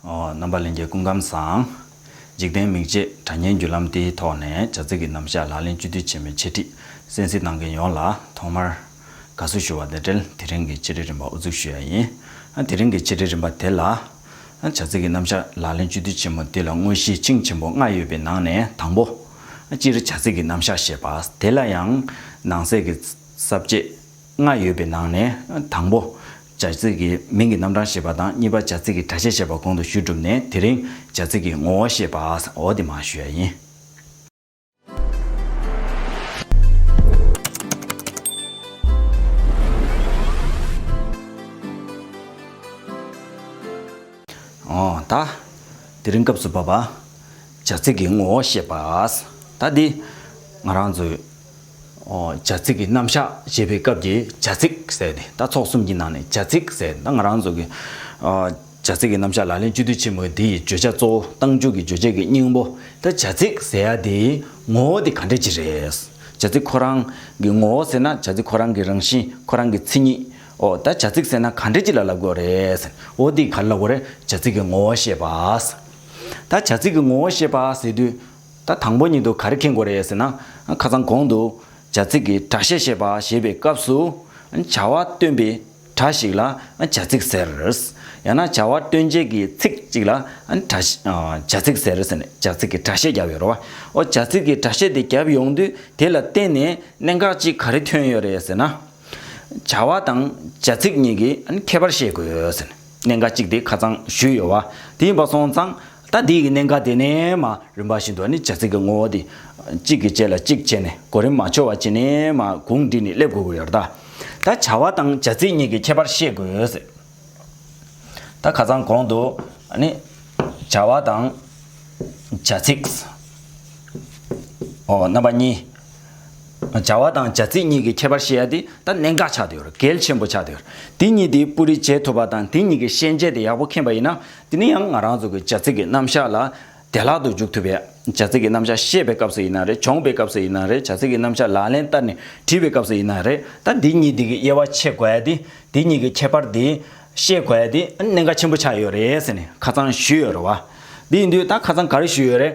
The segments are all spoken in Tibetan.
རྣམ་པ་ལན་བརྒྱའི་སྐུ་ཁམས་བཟང། འཇིག་རྟེན་མིག་འབྱེད་དྲ་བརྙན་བརྒྱུད་ལམ་དེའི་ཐོག་ནས་བྱ་ཚིག་གི་རྣམ་བཞག་ལག་ལེན་བཅོས་སྒྲིག་བྱེད་མིན་འཆད་ཁྲིད་གསན་གཟིགས་གནང་མཁན་ཡོངས་ལ་ཐོག་མར་དགའ་བསུ་ཞུ་བ་དང་འབྲེལ་དེ་རིང་གི་ཆེད་སྒྲིག་རིམ་པ་དབུ་འཛུགས་ཞུ་ཡ་ཡིན། དེ་རིང་གི་ཆེད་སྒྲིག་རིམ་པ་དེ་ལ། བྱ་ཚིག་གི་རྣམ་བཞག་ལག་ལེན་བཅོས་སྒྲིག་ཆེན་མོ་དེ་ལ་དངོས་གཞི་ཆིངས་ཆེན་པོ་ལྔ་ཡོད་པའི་ནང་ནས་དང་པོ། སྤྱིར་བྱ་ཚིག་གི་རྣམ་བཞག་ཞེས་པ་དེ་ལ་ཡང་ནང་གསེས་ཀྱི་གསབ་བྱེད། ལྔ་ཡོད་པའི་ནང་ནས་དང་པོ། བྱ་ཚིག་གི་མིང་གི་རྣམ་གྲངས་བཤད་པ་དང་གཉིས་པ་བྱ་ཚིག་གི་སྒྲ་ཆས་བཤད་པ་གོང་དུ་ཞུས་གྲུབ་ནས་དེ་རིང་བྱ་ཚིག་གི་ངོ་བོ་བཤད་པའོ་དེ་མང་ཞུ་ཡ་ཡིན། ད། དེ་རིང་སྐབས་སུ་བབ་པ། བྱ་ཚིག་གི་ངོ་བོ་བཤད་པ། ད་འདི། ང་རང་ཚོའི། བྱ་ཚིག་གི་རྣམ་གཞག་ཞེས་པའི་སྐབས་ཀྱི་བྱ་ཚིག་ཟེར་ཏེ་ད་ཚོགས་གསུམ་གྱི་ནང་ནས་བྱ་ཚིག་ཟེར་ད་ང་རང་ཚོ་གི་བྱ་ཚིག་གི་རྣམ་གཞག་ལག་ལེན་བཅུ་དུས་ཆེན་མོའི་འདི་ཡི་བརྗོད་བྱ་གཙོ་བོ་གཏང་རྒྱུ་གི་བརྗོད་བྱེད་ཀྱི་སྙིང་པོ་ད་བྱ་ཚིག་ཟེར་ཡ་དེའི་ངོ་བོ་དེ་ག་འདྲ་ཅི་རེད། བྱ་ཚིག་ཁོ་རང་གི་ངོ་བོ་ཟེར་ན་བྱ་ཚིག་ཁོ་རང་གི་རང་བཞིན་ཁོ་རང་གི་མཚན་ཉིད་འོ་ད་བྱ་ཚིག་ཟེར་ན་ག་འདྲ་ཅི་ལ་ལབ་དགོས་རེད། འོ་དེ་ག་ལ་ལབ་དགོས་རེད་བྱ་ཚིག་གི་ངོ་བོ་ཤེས་པ། ད་བྱ་ཚིག་གི་ངོ་བོ་ཤེས་པ་ཟེར་དུས། ད་དང་པོ་ཉིད་དུ་ག་རེ་མཁྱེན་དགོས་རེད་ཟེར་ན། ཁ་ཚང་གོང་དུ། བྱ་ཚིག་གི་སྒྲ་བཤད་བཤད་པ་ཞེས་པའི་སྐབས་སུ། བྱ་བ་སྟོན་པའི་སྒྲ་ཞིག་ལ་བྱ་ཚིག་ཟེར། ཡང་ན་བྱ་བ་སྟོན་བྱེད་ཀྱི་ཚིག་ཅིག་ལ་བྱ་ཚིག་ཟེར་ཟེར་ནས་བྱ་ཚིག་གི་སྒྲ་བཤད་བརྒྱབ་ཡོད་རེད། འོ་བྱ་ཚིག་གི་སྒྲ་བཤད་དེ་བརྒྱབ་ཡོང་དུས་དེ་ལ་བརྟེན་ནས་གནད་འགག་ཅིག་ག་རེ་ཐོན་ཡོད་རེད་ཟེར་ན། བྱ་བ་དང་བྱ་ཚིག་གཉིས་ཀྱི་ཁྱད་པར་ཤེས་དགོས་ཟེར། གནད་འགག་གཅིག་དེ་ཁ་ཚང་ཞུས་ཡོད་བ་དེ་ཡིན་པ་སོང་ཙང། ད་དེའི་གནད་འགག་དེ་ནས་མ་རུན་པ་བཞིན་དུ་ནི་བྱ་ཚིག་གི་ངོ་བོ་དེ། གཅིག་གི་རྗེས་ལ་གཅིག་བྱས་ནས་གོ་རིམ་མ་འཆོལ་བ་བྱས་ནས་མ་གུང་བསྒྲིགས་ནས་སླེབས་དགོས་ཀྱི་ཡོད། ད་བྱ་བ་དང་བྱ་ཚིག་གཉིས་ཀྱི་ཁྱད་པར་ཤེས་དགོས། ད་ཁ་ཚང་གོང་དུ་ནི། བྱ་བ་དང་བྱ་ཚིག། རྣམ་པ་གཉིས། བྱ་བ་དང་བྱ་ཚིག་གཉིས་ཀྱི་ཁྱད་པར་ཤེས་ཡ་དེ་ད་གནད་འགག་ཆགས་དུ་ཡོད་གལ་ཆེན་པོ་ཆགས་དུ་ཡོད། དེ་གཉིས་དེ་སྤུ་རིས་བྱེད་ཐུབ་པ་དང་དེ་གཉིས་ཀྱི་ཤན་འབྱེད་དེ་ཡག་པོ་མཁྱེན་པ་ཡིན་ན་དེ་ནི་ཡང་ང་རང་ཚོ་གི་བྱ་ཚིག་གི་རྣམ་གཞག་ལ་བདེ་བླག་ཏུ་འཇུག་ཐུབ་པས་བྱ་ཚིག་གི་རྣམ་གཞག་བཤད་པའི་སྐབས་སུ་ཡིན་ན་རེད་སྦྱོང་པའི་སྐབས་སུ་ཡིན་ན་རེད་བྱ་ཚིག་གི་རྣམ་གཞག་ལག་ལེན་བསྟར་ནས་བྲིས་པའི་སྐབས་སུ་ཡིན་ན་རེད་ད་འདི་གཉིས་དེ་གི་དབྱེ་བ་ཕྱེ་དགོས་ཏེ་དེ་གཉིས་ཀྱི་ཁྱད་པར་དེ་ཤེས་དགོས་ཏེ་གནད་འགག་ཆེན་པོ་ཆགས་ཡོད་རེད་ཟེར་ནས་ཁ་ཚང་ཞུས་ཡོད་རེད་བ། དེ་ཡིན་དུས་ད་ཁ་ཚང་ག་རེ་ཞུས་ཡོད་རེད།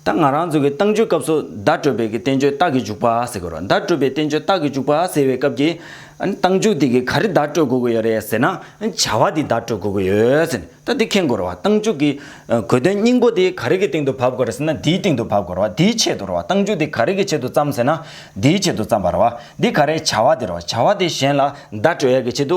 ད་ང་རང་ཚོ་གི་ཏང་བཅོས་སྐབས་སུ་བརྡ་སྤྲོད་པའི་གི་བསྟན་བཅོས་རྟགས་ཀྱི་འཇུག་པ་ཟེར་གི་རོ་བརྡ་སྤྲོད་པའི་བསྟན་བཅོས་རྟགས་ཀྱི་འཇུག་པ་ཟེར་བའི་སྐབས་ཀྱི། ཏང་འཇུག་དེ་གི་ག་རེ་བརྡ་སྤྲོད་དགོས་ཀྱི་ཡོད་རེད་ཟེར་ན། བྱ་བ་དེ་བརྡ་སྤྲོད་དགོས་ཀྱི་ཡོད་ཟེར་ནས་ད་དེ་མཁྱེན་དགོས་རོ་བ་ཏང་འཇུག་གི། གོ་དོན་སྙིང་པོ་དེ་ག་རེ་གི་སྟེང་དུ་བབས་དགོས་རེད་ཟེར་ན་དེའི་སྟེང་དུ་བབས་དགོས་རོ་བ་དེའི་ཆེད་དུ་རོ་བ་ཏང་འཇུག་དེ་ག་རེ་གི་ཆེད་དུ་བརྩམས་ཟེར་ན། དེའི་ཆེད་དུ་བརྩམས་པ་རོ་བ་དེ་ག་རེ་བྱ་བ་དེ་རོ་བ་བྱ་བ་དེ་གཞན་ལ་བརྡ་སྤྲོད་ཡག་གི་ཆེད་དུ་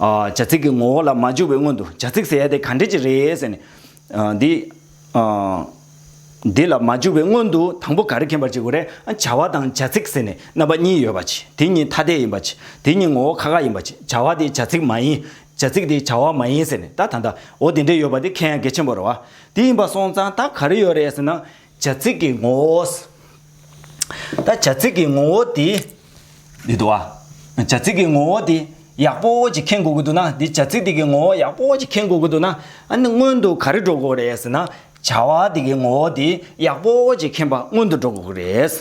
བྱ་ཚིག་གི་ངོ་བོ་ལ་མ་འཇུག་པའི་སྔོན་དུ་བྱ་ཚིག་ཟེར་ཡ་དེ་ག་འདྲས་ཀྱི་རེད་ཟེར་ནས། འདི། འདི་ལ་མ་འཇུག་པའི་སྔོན་དུ་དང་པོ་ག་རེ་མཁྱེན་པར་བྱེད་དགོས་རེད། བྱ་བ་དང་བྱ་ཚིག་ཟེར་ནས་རྣམ་པ་གཉིས་ཡོད་པ་ཆེ། དེ་གཉིས་ཐ་དད་ཡིན་པ་ཆེ། དེ་གཉིས་ངོ་བོ་ཁ་ཁ་ཡིན་པ་ཆེ། བྱ་བ་དེ་བྱ་ཚིག་མ་ཡིན། བྱ་ཚིག་དེ་བྱ་བ་མ་ཡིན་ཟེར་ནས་ད་ད་ད་འོ་དེ་འདྲས་ཡོད་པ་དེ་མཁྱེན་ཡ་གལ་ཆེན་པོ་རེད་བ། དེ་ཡིན་པ་སོང་ཙང་ད་ག་རེ་ཡོད་རེད་ཟེར་ན། བྱ་ཚིག་གི་ངོ་བོའོ། བྱ་ཚིག་གི་ངོ་བོ་དེ། འདི་འདུག་ཨ། བྱ་ཚིག་གི་ངོ་བོ་དེ་ཡག་པོ་ཅིག་མཁྱེན་དགོས་ཀྱི་འདུག་ན་འདི་བྱ་ཚིག་དེ་གི་ངོ་བོ་ཡག་པོ་ཅིག་མཁྱེན་དགོས་ཀྱི་འདུག་ན་ཨ་ནི་སྔོན་དུ་ག་རེ་འགྲོ་དགོས་རེད་ཟེར་ན། བྱ་བ་དེ་གི་ངོ་བོ་དེ་ཡག་པོ་ཅིག་མཁྱེན་པ་སྔོན་དུ་འགྲོ་དགོས་ཀྱི་རེད།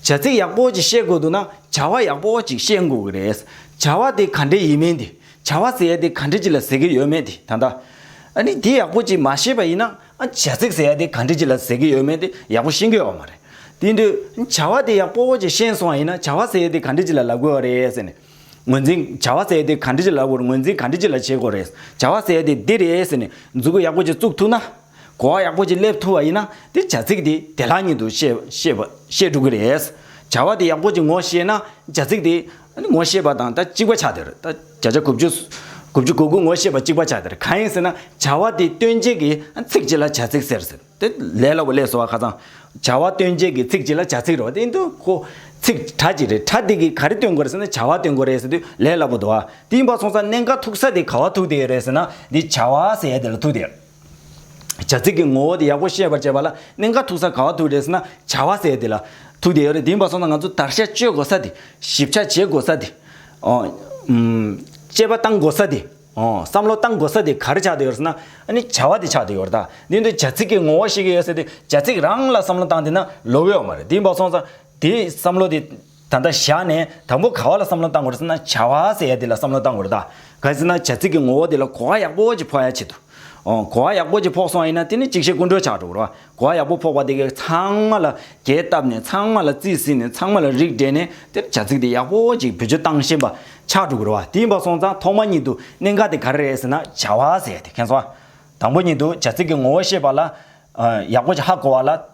བྱ་ཚིག་ཡག་པོ་ཅིག་བཤད་དགོས་འདུག་ན་བྱ་བ་ཡག་པོ་ཅིག་བཤད་དགོས་ཀྱི་རེད། བྱ་བ་དེ་ག་འདྲའི་ཡིན་མིན་དེ། བྱ་བ་ཟེར་ཡ་དེ་ག་འདྲི་ཅི་ལ་ཟེར་གྱི་ཡོད་མེད་དེ་ད་ལྟ། ཨ་ནི་དེ་ཡག་པོ་ཅིག་མ་ཤེས་པ་ཡིན་ན། བྱ་ཚིག་ཟེར་ཡ་དེ་ག་འདྲི་ཅི་ལ་ཟེར་གྱི་ཡོད་མེད་དེ་ཡག་པོ་ཤེས་གི་ཡོད་མ་རེད། དེ་འདོད། བྱ་བ་དེ་ཡག་པོ་ཅིག་ཤེས་སོང་བ་ཡིན་ན་བྱ་བ་ཟེར་ཡ་དེ་ག་འདྲི་ཅི་ལ་ལབ་དགོས་བ་རེད་ཟེར་ནས། ངོས་འཛིན། བྱ་བ་ཟེར་ཡ་དེ་ག་འདྲི་ཅི་ལ་ལབ་དགོས་རེད་ངོས་འཛིན་ག་འདྲི་ཅི་ལ་བྱེད་དགོས་རེད། བྱ་བ་ཟེར་ཡ་དེ་འདི་རེད་ཟེར་ནས་མཛུ་གུ་ཡག་པོ་ཅིག་བཙུགས་ཐུབ་ན། གོ་བ་ཡག་པོ་ཅིག་སླེབས་ཐུབ་པ་ཡིན་ན་དེ་བྱ་ཚིག་དེ་དེ་ལྷག་གཉིས་འདུག་བཤད་འགྲོ་གི་རེད། བྱ་བ་དེ་ཡག་པོ་ཅིག་ངོ་ཤེས་ན་བྱ་ཚིག་དེ་ངོ་ཤེས་པ་དང་ད་གཅིག་པ་ཆགས་དེར། ད་བྱ་བྱ་གོ་བཅུ་གོ་བཅུ་གོ་དགུ་ངོ་ཤེས་པ་གཅིག་པ་ཆགས་དེར་གང་ཡིན་ཟེར་ན་བྱ་བ་དེ་སྟོན་བྱེད་ཀྱི་ཚིག་གཅིག་ལ་བྱ་ཚིག་ཟེར་ཟེར་དེ་ལས་སླ་བོ་ལས་སོ་བ་ཁ་ཚང། བྱ་བ་སྟོན་བྱེད་ཀྱི་ཚིག་གཅིག་ལ་བྱ་ཚིག་རེད་བ་དེ་འདུག་གོ། ཚིག་གྲ་གཅིག་རེད་གྲ་དེ་གིས་ག་རེ་སྟོན་དགོས་རེད་ཟེར་ན་བྱ་བ་སྟོན་དགོས་རེད་ཟེར་དུས་ལས་སླ་བོ་འདུག་བ་དེ་ཡིན་པ་སོང་ས་གནས་འགའ་ཐུག་ས་དེ་ག་བ་ཐུག་དེ་རེད་ཟེར་ན་དེ་བྱ་བ་ཟེར་ཡ་དེ་ལ་ཐུག་དེ། བྱ་ཚིག་གི་ངོ་བོ་དེ་ཡག་པོ་ཤེས་པར་བྱེད་པ་ལ་གནད་འགག་ཐུག་ས་ག་བ་ཐུག་རེད་ཟེར་ན་བྱ་བ་ཟེར་དེ་ལ་ཐུག་དེ་ཡོད་རེད་དེ་མ་སོང་ན་ང་ཚོ་དར་ཤ་གཅོད་དགོས་ས་དེ་ཞིབ་ཆ་བྱེད་དགོས་ས་དེ། དཔྱད་པ་བཏང་དགོས་ས་དེ། བསམ་བློ་བཏང་དགོས་ས་དེ་ག་རེ་ཆགས་དེ་ཡོད་ཟེར་ན་ཨ་ནི་བྱ་བ་དེ་ཆགས་དེ་ཡོད་རེད་ད། དེ་ནི་བྱ་ཚིག་གི་ངོ་བོ་ཤེས་ཀྱི་ཡོད་ས་དེ་བྱ་ཚིག་རང་ལ་བསམ་བློ་བཏང་དེ་ན་ལོ་གཡོག་མ་རེད་དེ་མ་སོང་ས་དེ་བསམ་བློ་དེ། ད་ལྟ་བཞག་ནས་དང་པོ་ག་བ་ལ་བསམ་བློ་བཏང་དགོས་རེད་ཟེར་ན་བྱ་བ་ཟེར་ཡ་དེ་ལ་བསམ་བློ་བཏང་དགོས་རེད་ད། ག་ཟེར་ན་བྱ་ཚིག་གི་ངོ་བོ་དེ་ལ་གོ་བ་ཡག་པོ་ཅིག་ཕོག་ཡ་བྱེད་དུ་འོང། གོ་བ་ཡག་པོ་ཅིག་ཕོག་སོང་ཡིན་ན་དེ་ནི་གཅིག་བཤད་ཀུན་གྲོལ་ཆགས་འགྲོ་རོ། གོ་བ་ཡག་པོ་ཕོག་པ་དེ་གས་ཚང་མ་ལ་གས་བཏབ་ནས་ཚང་མ་ལ་རྩིས་བསྲིས་ནས་ཚང་མ་ལ་རིགས་སྒྲེས་ནས་དེར་བྱ་ཚིག་དེ་ཡག་པོ་ཅིག་བེད་སྤྱོད་བཏང་ཤེས་པ་ཆགས་འགྲོ་རོ། དེ་ཡིན་པ་སོང་ཙང་ཐོག་མ་ཉིད་དུ་གནད་འགག་དེ་ག་རེ་རེད་ཟེར་ན་བྱ་བ་ཟེར་ཡ་དེ་མཁྱེན་སོང། དང་པོ་ཉིད་དུ་བྱ་ཚིག་གི་ངོ་བོ་ཤེས་པ་ལ། ཡག་པོ་ཅིག་ཧ་གོ་བ་ལ་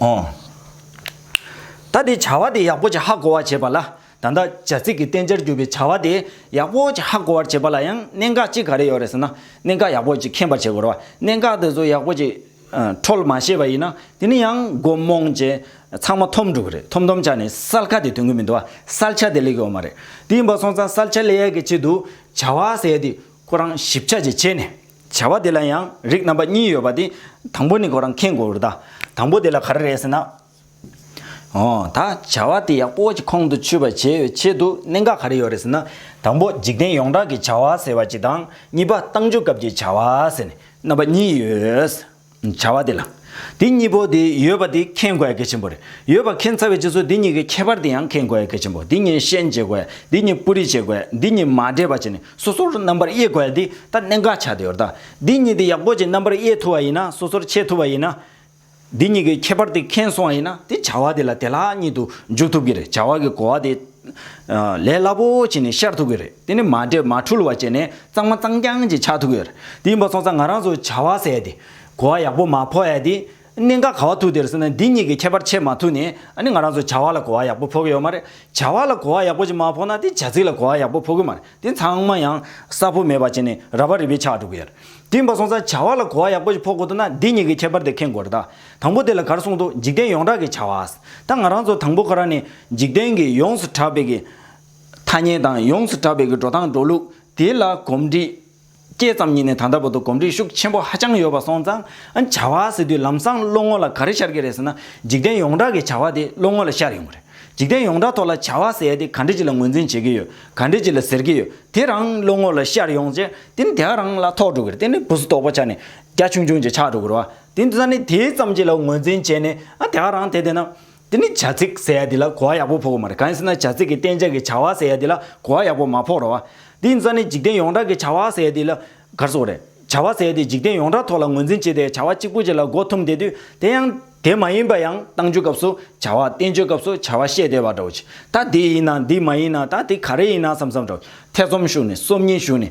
ཨོ། ད་དེ་བྱ་བ་དེ་ཡག་པོ་ཅི་ཧ་གོ་བར་བྱེད་པ་ལ་ད་ལྟ་བྱ་ཚིག་གི་བསྟན་བྱར་གྱུར་པའི་བྱ་བ་དེ་ཡག་པོ་ཅི་ཧ་གོ་བར་བྱེད་པ་ལ་ཡང་གནད་འགག་གཅིག་ག་རེ་ཡོད་རེད་ཟེར་ན་གནད་འགག་ཡག་པོ་ཅིག་མཁྱེན་པར་བྱེད་དགོས་རོ། གནད་འགག་དེ་ཚོ་ཡག་པོ་ཅིག་འཕྲོལ་མ་ཤེས་པ་ཡིན་ན་དེ་ནི་ཡང་མགོ་རྨོངས་ཀྱིས་ཚང་མ་འཐོམ་འགྲོ་གི་རེད་འཐོམ་འཐོམ་ཆགས་ནས་སལ་ཁ་དེ་དོན་གི་མི་འདུག་སལ་ཆ་དེ་ལས་གི་འོ་མ་རེད་དེ་ཡིན་པ་སོང་ཙང་སལ་ཆ་ལས་ཡག་གི་ཆེད་དུ་བྱ་བ་ཟེར་ཡ་དེ་ཁོ་རང་ཞིབ་ཆ་ཅིག་བྱས་ནས་བྱ་བ་དེ་ལ་ཡང་རིགས་རྣམ་པ་གཉིས་ཡོད་པ་དེ། དང་པོ་ནི་གོ་རང་མཁྱེན་དགོས་པར་གདའ། དང་པོ་དེ་ལ་ག་རེ་རེད་ཟེར་ན། འོ། ད་བྱ་བ་དེ་ཡག་པོ་གྱི་ཁོང་དུ་ཆུད་པར་བྱེད་པའི་ཆེད་དུ་གནད་འགག་ག་རེ་ཡོད་རེད་ཟེར་ན། དང་པོ་འཇིག་རྟེན་ཡོངས་གྲགས་ཀྱི་བྱ་བ་ཟེར་བ་གཅིག་དང་གཉིས་པ་བཏང་འཇུག་སྐབས་ཀྱི་བྱ་བ་ཟེར་ནས་རྣམ་པ་གཉིས་ཡོད། བྱ་བ་དེ་ལ། དེ་གཉིས་པོ་དེ་ཡོད་པ་དེ་མཁྱེན་དགོས་ཡ་གལ་ཆེན་པོ་རེད། ཡོད་པ་མཁྱེན་ཚར་བའི་རྗེས་སུ་དེ་གཉིས་ཀའི་ཁྱད་པར་དེ་ཡང་མཁྱེན་དགོས་ཡ་གལ་ཆེན་པོ། དེ་གཉིས་ཤན་འབྱེད་དགོས་ཡ། དེ་གཉིས་སྤུ་རིས་བྱེད་དགོས་ཡ། དེ་གཉིས་མ་འདྲེས་པ་བྱས་ནས་སོ་སོར་རྣམ་པར་དབྱེ་དགོས་ཡ་དེ་ད་གནད་འགག་ཆགས་བསྡད་ཡོད་རེད་ད། དེ་གཉིས་དེ་ཡག་པོ་བྱས་རྣམ་པར་དབྱེ་ཐུབ་པ་ཡིན་ན་སོ་སོར་ཕྱེ་ཐུབ་པ་ཡིན་ན། དེ་གཉིས་ཀའི་ཁྱད་པར་དེ་མཁྱེན་སོང་བ་ཡིན་ན་དེ་བྱ་བ་དེ་ལ་དེ་ལྷག་གཉིད་དུ་འཇུག་ཐུབ་ཀྱི་རེད་བྱ་བ་གི་གོ་བ་དེ། ལས་སླ་པོ་བྱས་ནས་ཤར་ཐུབ་ཀྱི་རེད། དེ་ནི་མ་འདྲེས་མ་འཁྲུལ་བ་བྱས་ནས་གཙང་མ་གཙང་རྐྱང་ཅིག་ཆགས་ཐུབ་ཀྱི་རེད། དེ་ཡིན་པ་སོང་ཙང་ང་རང་ཚོས་བྱ་བ་ཟས་ཏེ། གོ་བ་ཡག་པོ་མ་ཕོག་ཡ་དེ། གནད་འགག་ག་བ་ཐུག་དེར་སོང་ན་འདི་གཉིས་ཀྱི་ཁྱད་པར་ཕྱེད་མ་ཐུག་ནས་ནི་ང་རང་ཚོས་བྱ་བ་ལ་གོ་བ་ཡག་པོ་ཕོག་གི་ཡོད་མ་རེད། བྱ་བ་ལ་གོ་བ་ཡག་པོ་ཅིག་མ་ཕོག་ན་དེ་བྱ་ཚིག་ལ་གོ་བ་ཡག་པོ་ཕོག་གི་མ་རེད་དེ་ཚང་མ་ཡང་གསར་བོ་མེད་པ་བྱས་ནས་ར་བ་རི་བས་ཆགས་འགྲོ་གི་ཡོད་རེད། དེ་ཡིན་པ་སོང་ཙང་བྱ་བ་ལ་གོ་བ་ཡག་པོ་ཅིག་ཕོག་དགོས་དོན་ན་འདི་གཉིས་ཀྱི་ཁྱད་པར་དེ་མཁྱེན་དགོས་རེད་ད། དང་པོ་དེ་ལ་གར་གསུངས་ཏོ་འཇིག་རྟེན་ཡོངས་གྲགས་ཀྱི་བྱ་བ། ད་ང་རང་ཚོ་དང་པོ་ཁོ་རང་ནི་འཇིག་རྟེན་གྱི་ཡོངས་སུ་གྲགས་པའི་གི་ཐ་སྙད་དང་ཡོངས་སུ་གྲགས་པའི་གི་འགྲོ་སྟངས་འགྲོ་ལུགས་དེ་ལ་གོམས་འདྲིས་སྐྱེས་ཙམ་ཉིད་ནས་ད་ལྟ་བར་དུ་གོམས་འདྲིས་ཤུགས་ཆེན་པོ་ཧ་ཅང་ཡོད་པ་སོང་ཙང་བྱ་བ་ཟེར་དུས་ལམ་སང་བློ་ངོ་ལ་ག་རེ་ཤར་གྱི་རེད་ཟེར་ན་འཇིག་རྟེན་ཡོངས་གྲགས་ཀྱི་བྱ་བ་དེ་བློ་ངོ་ལ་ཤར་ཡོང་གི་རེད་འཇིག་རྟེན་ཡོངས་གྲགས་ཐོག་ལ་བྱ་བ་ཟེར་ཡ་དེ་ག་འདྲི་ཅི་ལ་ངོས་འཛིན་བྱེད་ཀྱི་ཡོད་ག་འདྲི་ཅི་ལ་ཟེར་གྱི་ཡོད་དེ་རང་བློ་ངོ་ལ་ཤར་ཡོང་རྗེས་དེ་ནི་དེ་ག་རང་ལ་ཐོགས་འགྲོ་གི་རེད་དེ་ནི་བུ་སུ་དོག་པོ་ཆགས་ནས་རྒྱ་ཆུང་ཆུང་ཅིག་ཆགས་འགྲོ་གི་རེད་བ། དེ་ད་ནི་དེའི་ཙམ་གྱིས་ལ་ངོས་འཛིན་བྱས་ནས་ཨ་དེ་ཨ་རང་དེ་དེ་ན། དེ་ནི་བྱ་ཚིག་ཟེར་ཡ་འདི་ལ་གོ་བ་ཡག་པོ་ཕོག་གི་མ་རེད་གང་ཡིན་ཟེར་ན་བྱ་ཚིག་གི་བསྟན་བྱ་གི་བྱ་བ་ཟེར་ཡ་འདི་ལ་གོ་བ་ཡག་པོ་མ་ཕོག་ར་བ། དེ་ད་ནི་འཇིག་རྟེན་ཡོངས་གྲགས་ཀྱི་བྱ་བ་ཟེར་ཡ་འདི་ལ་གར་སོང་རེད། བྱ་བ་ཟེར་ཡ་འདི་འཇིག་རྟེན་ཡོངས་གྲགས་ཐོག་ལ་ངོས་འཛིན་བྱས་ཏེ་བྱ་བ་གཅིག་པོ་གཅིག་ལ་འགོ་འཐོམ་བསྡད་དུས་དེ་ཡང་དེ་མ་ཡིན་པ་ཡང་གཏང་རྒྱུའི་སྐབས་སུ་བྱ་བ་བསྟན་བྱའི་སྐབས་སུ་བྱ་བ་བཤད་བསྡད་པ་འདྲ་བོ་ཅི་ད་དེ་ཡིན་ན་འདི་མ་ཡིན་ན་ད་དེ་ག་རེ་ཡིན་ན་བསམ་བསམ་འདྲ་བོ་ཅི་ཐེ་ཚོམ་ཞུགས་ནས་སོམ་ཉི་ཞུགས་ནས་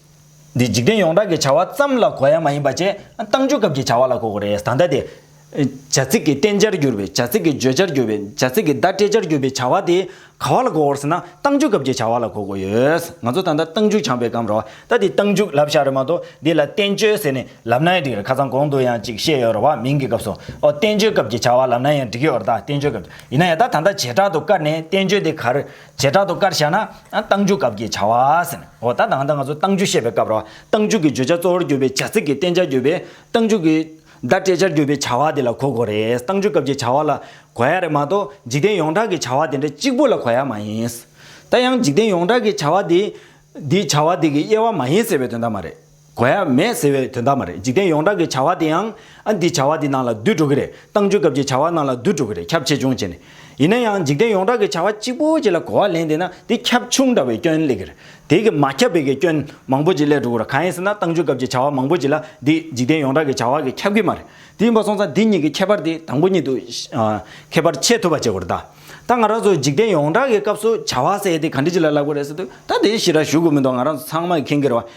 འདི་འཇིག་རྟེན་ཡོངས་གྲགས་ཀྱི་བྱ་བ་ཙམ་ལ་གོ་ཡ་མ་ཡིན་པ་ཅན་བཏང་འཇུག་སྐབས་ཀྱི་བྱ་བ་ལ་གོ་གོ་རེད་ད་ལྟ་དེ། བྱ་ཚིག་གི་བསྟན་བྱར་གྱུར་པའི་བྱ་ཚིག་གི་བརྗོད་བྱར་གྱུར་པའི་བྱ་ཚིག་གི་བརྡ་སྤྲད་བྱར་གྱུར་པའི་བྱ་བ་དེ་ག་བ་ལ་གོ་གོ་ཟེར་ན་བཏང་འཇུག་སྐབས་ཀྱི་བྱ་བ་ལ་གོ་གོ་ཡོད། ང་ཚོ་ད་ལྟ་བཏང་འཇུག་སྦྱངས་པའི་སྐབས་རོ་ད་དེ་བཏང་འཇུག་ལབ་བཞག་རེད་མ་གཏོགས་འདི་ལ་བསྟན་བཅོས་ཟེར་ནས་ལབ་ན་ཡང་འགྲིག་རེད་ཁ་ཚང་གོང་དུ་ཡང་ཅིག་བཤད་ཡོད་རེད་བ་མིང་གི་སྐབས་སུ་ཨོ་བསྟན་བཅོས་སྐབས་ཀྱི་བྱ་བ་ལབ་ན་ཡང་འགྲིག་གི་ཨོ་རེད་ད་བསྟན་བཅོས་སྐབས་ཀྱི་ཡིན་ན་ཡང་ད་ད་ལྟ་བྱེ་བྲག་ཏུ་བཀར་ནས་བསྟན་བཅོས་དེ་གར་བྱེ་བྲག་ཏུ་བཀར་བྱས་ན། རྟགས་འཇུག་སྐབས་ཀྱི་བྱ་བ། འོ་ད་ལྟ་ང་ཚོ་རྟགས་འཇུག་བཤད་པའི་སྐབས་རོ། རྟགས་འཇུག་གི་བརྗོད་བྱ་གཙོ་བོར་གྱུར་པའི་བྱ་ཚིག་གི་བསྟན་བྱར་གྱུར་པའི་རྟགས་འཇུག་གི། བརྡ་སྤྲད་བྱར་གྱུར་པའི་བྱ་བ་དེ་ལ་གོ་དགོས་རེད། རྟགས་འཇུག་སྐབས་ཀྱི་བྱ་བ་ལ་གོ་ཡ་རེད་མ་གཏོགས་འཇིག་རྟེན་ཡོངས་གྲགས་ཀྱི་བྱ་བ་དེ་འདྲ་གཅིག་པུ་ལ་གོ་ཡ་མ་ཡིན། ད་ཡང་འཇིག་རྟེན་ཡོངས་གྲགས་ཀྱི་བྱ་བ་དེ། འདི་བྱ་བ་དེ་གི་དབྱེ་བ་མ་ཡིན་ཟེར་བའི་དོན་དག་མ་རེད། གོ་ཡ་མེད་ཟེར་བའི་དོན་དག་མ་རེད་འཇིག་རྟེན་ཡོངས་གྲགས་ཀྱི་བྱ་བ་དེ་ཡང་ཨ་འདིས་བྱ་བ་འདི་ནང་ལ་བསྡུས་འགྲོ་གི་རེད་ཏང་ཆོས་སྐབས་ཀྱི་བྱ་བ་ནང་ལ་བསྡུས་འགྲོ་གི་རེད་ཁྱབ་ཆེ་ཆུང་བྱས་ནས། ཡིན་ན་ཡང་འཇིག་རྟེན་ཡོངས་གྲགས་ཀྱི་བྱ་བ་གཅིག་པོ་གཅིག་ལ་གོ་བ་ལེན་བསྡད་ན་དེ་ཁྱབ་ཆུང་འདྲ་བའི་སྐྱོན་ལེགས་རེད་དེ་གི་མ་ཁྱབ་པའི་གི་སྐྱོན་མང་པོ་ཅིག་ལས་འགྲོ་གི་རེད་གང་ཡིན་ཟེར་ན་ཏང་ཆོས་སྐབས་ཀྱི་བྱ་བ་མང་པོ་ཅིག་ལ་འདི་འཇིག་རྟེན་ཡོངས་གྲགས་ཀྱི་བྱ་བ་གི་ཁྱབ་གི་མ་རེད་དེ་ཡིན་པ་སོང་ཙང་འདི་གཉིས་ཀྱི་ཁྱད་པར་དེ་དང་པོ་གཉིས་དུ་ཁྱད་པར་ཕྱེད་ཐུབ་པ་བྱེད་དགོས་རེད་ད། ད་ང་རང་ཚོ་འཇིག་རྟེན་ཡོངས་གྲགས་ཀྱི་སྐབས་སུ་བྱ་བ་ཟེར་དེ་ག་འདྲི་ཅིག་ལ་ལབ་གི་རེད་ཟེར་དུས་ད་དེ་ཞི་ར་ཞུ་དགོས་མི་འདུག་ང་རང་ཚོ་ཚང་མ་གི་ཁེངས་གི་རེད་བ་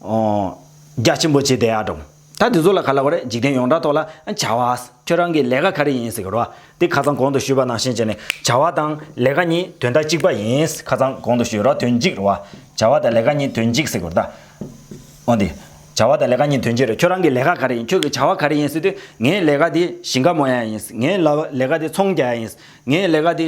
རྒྱ་ཆེན་པོ་བྱས་ཏེ་ཨ་འབྲོམ། ད་དེ་ཚོ་ལ་ག་ལ་བ་རེད་འཇིག་རྟེན་ཡོངས་གྲགས་ཐོག་ལ་བྱ་བ། ཁྱོད་རང་གི་ལས་ཀ་ག་རེ་ཡིན་ཟེར་གི་རོ། དེ་ཁ་ཚང་གོང་དུ་ཞུས་པ་ནང་བཞིན་བྱས་ནས་བྱ་བ་དང་ལས་ཀ་གཉིས་དོན་དག་གཅིག་པ་ཡིན། ཁ་ཚང་གོང་དུ་ཞུས་རོགས་དོན་གཅིག་རེད་བ། བྱ་བ་དང་ལས་ཀ་གཉིས་དོན་གཅིག་ཟེར་གི་རེད། འོན་ཏེ། བྱ་བ་དང་ལས་ཀ་གཉིས་དོན་གཅིག་རེད་ཁྱོད་རང་གི་ལས་ཀ་ག་རེ་ཡིན་ཁྱོད་ཀྱི་བྱ་བ་ག་རེ་ཡིན་ཟེར་དུས་ངའི་ལས་ཀ་དེ་ཞིང་ཁ་མོ་ཡ་ཡིན། ངའི་ལས་ཀ་དེ་ཚོང་རྒྱག་ཡ་ཡིན། ངའི་ལས་ཀ་དེ།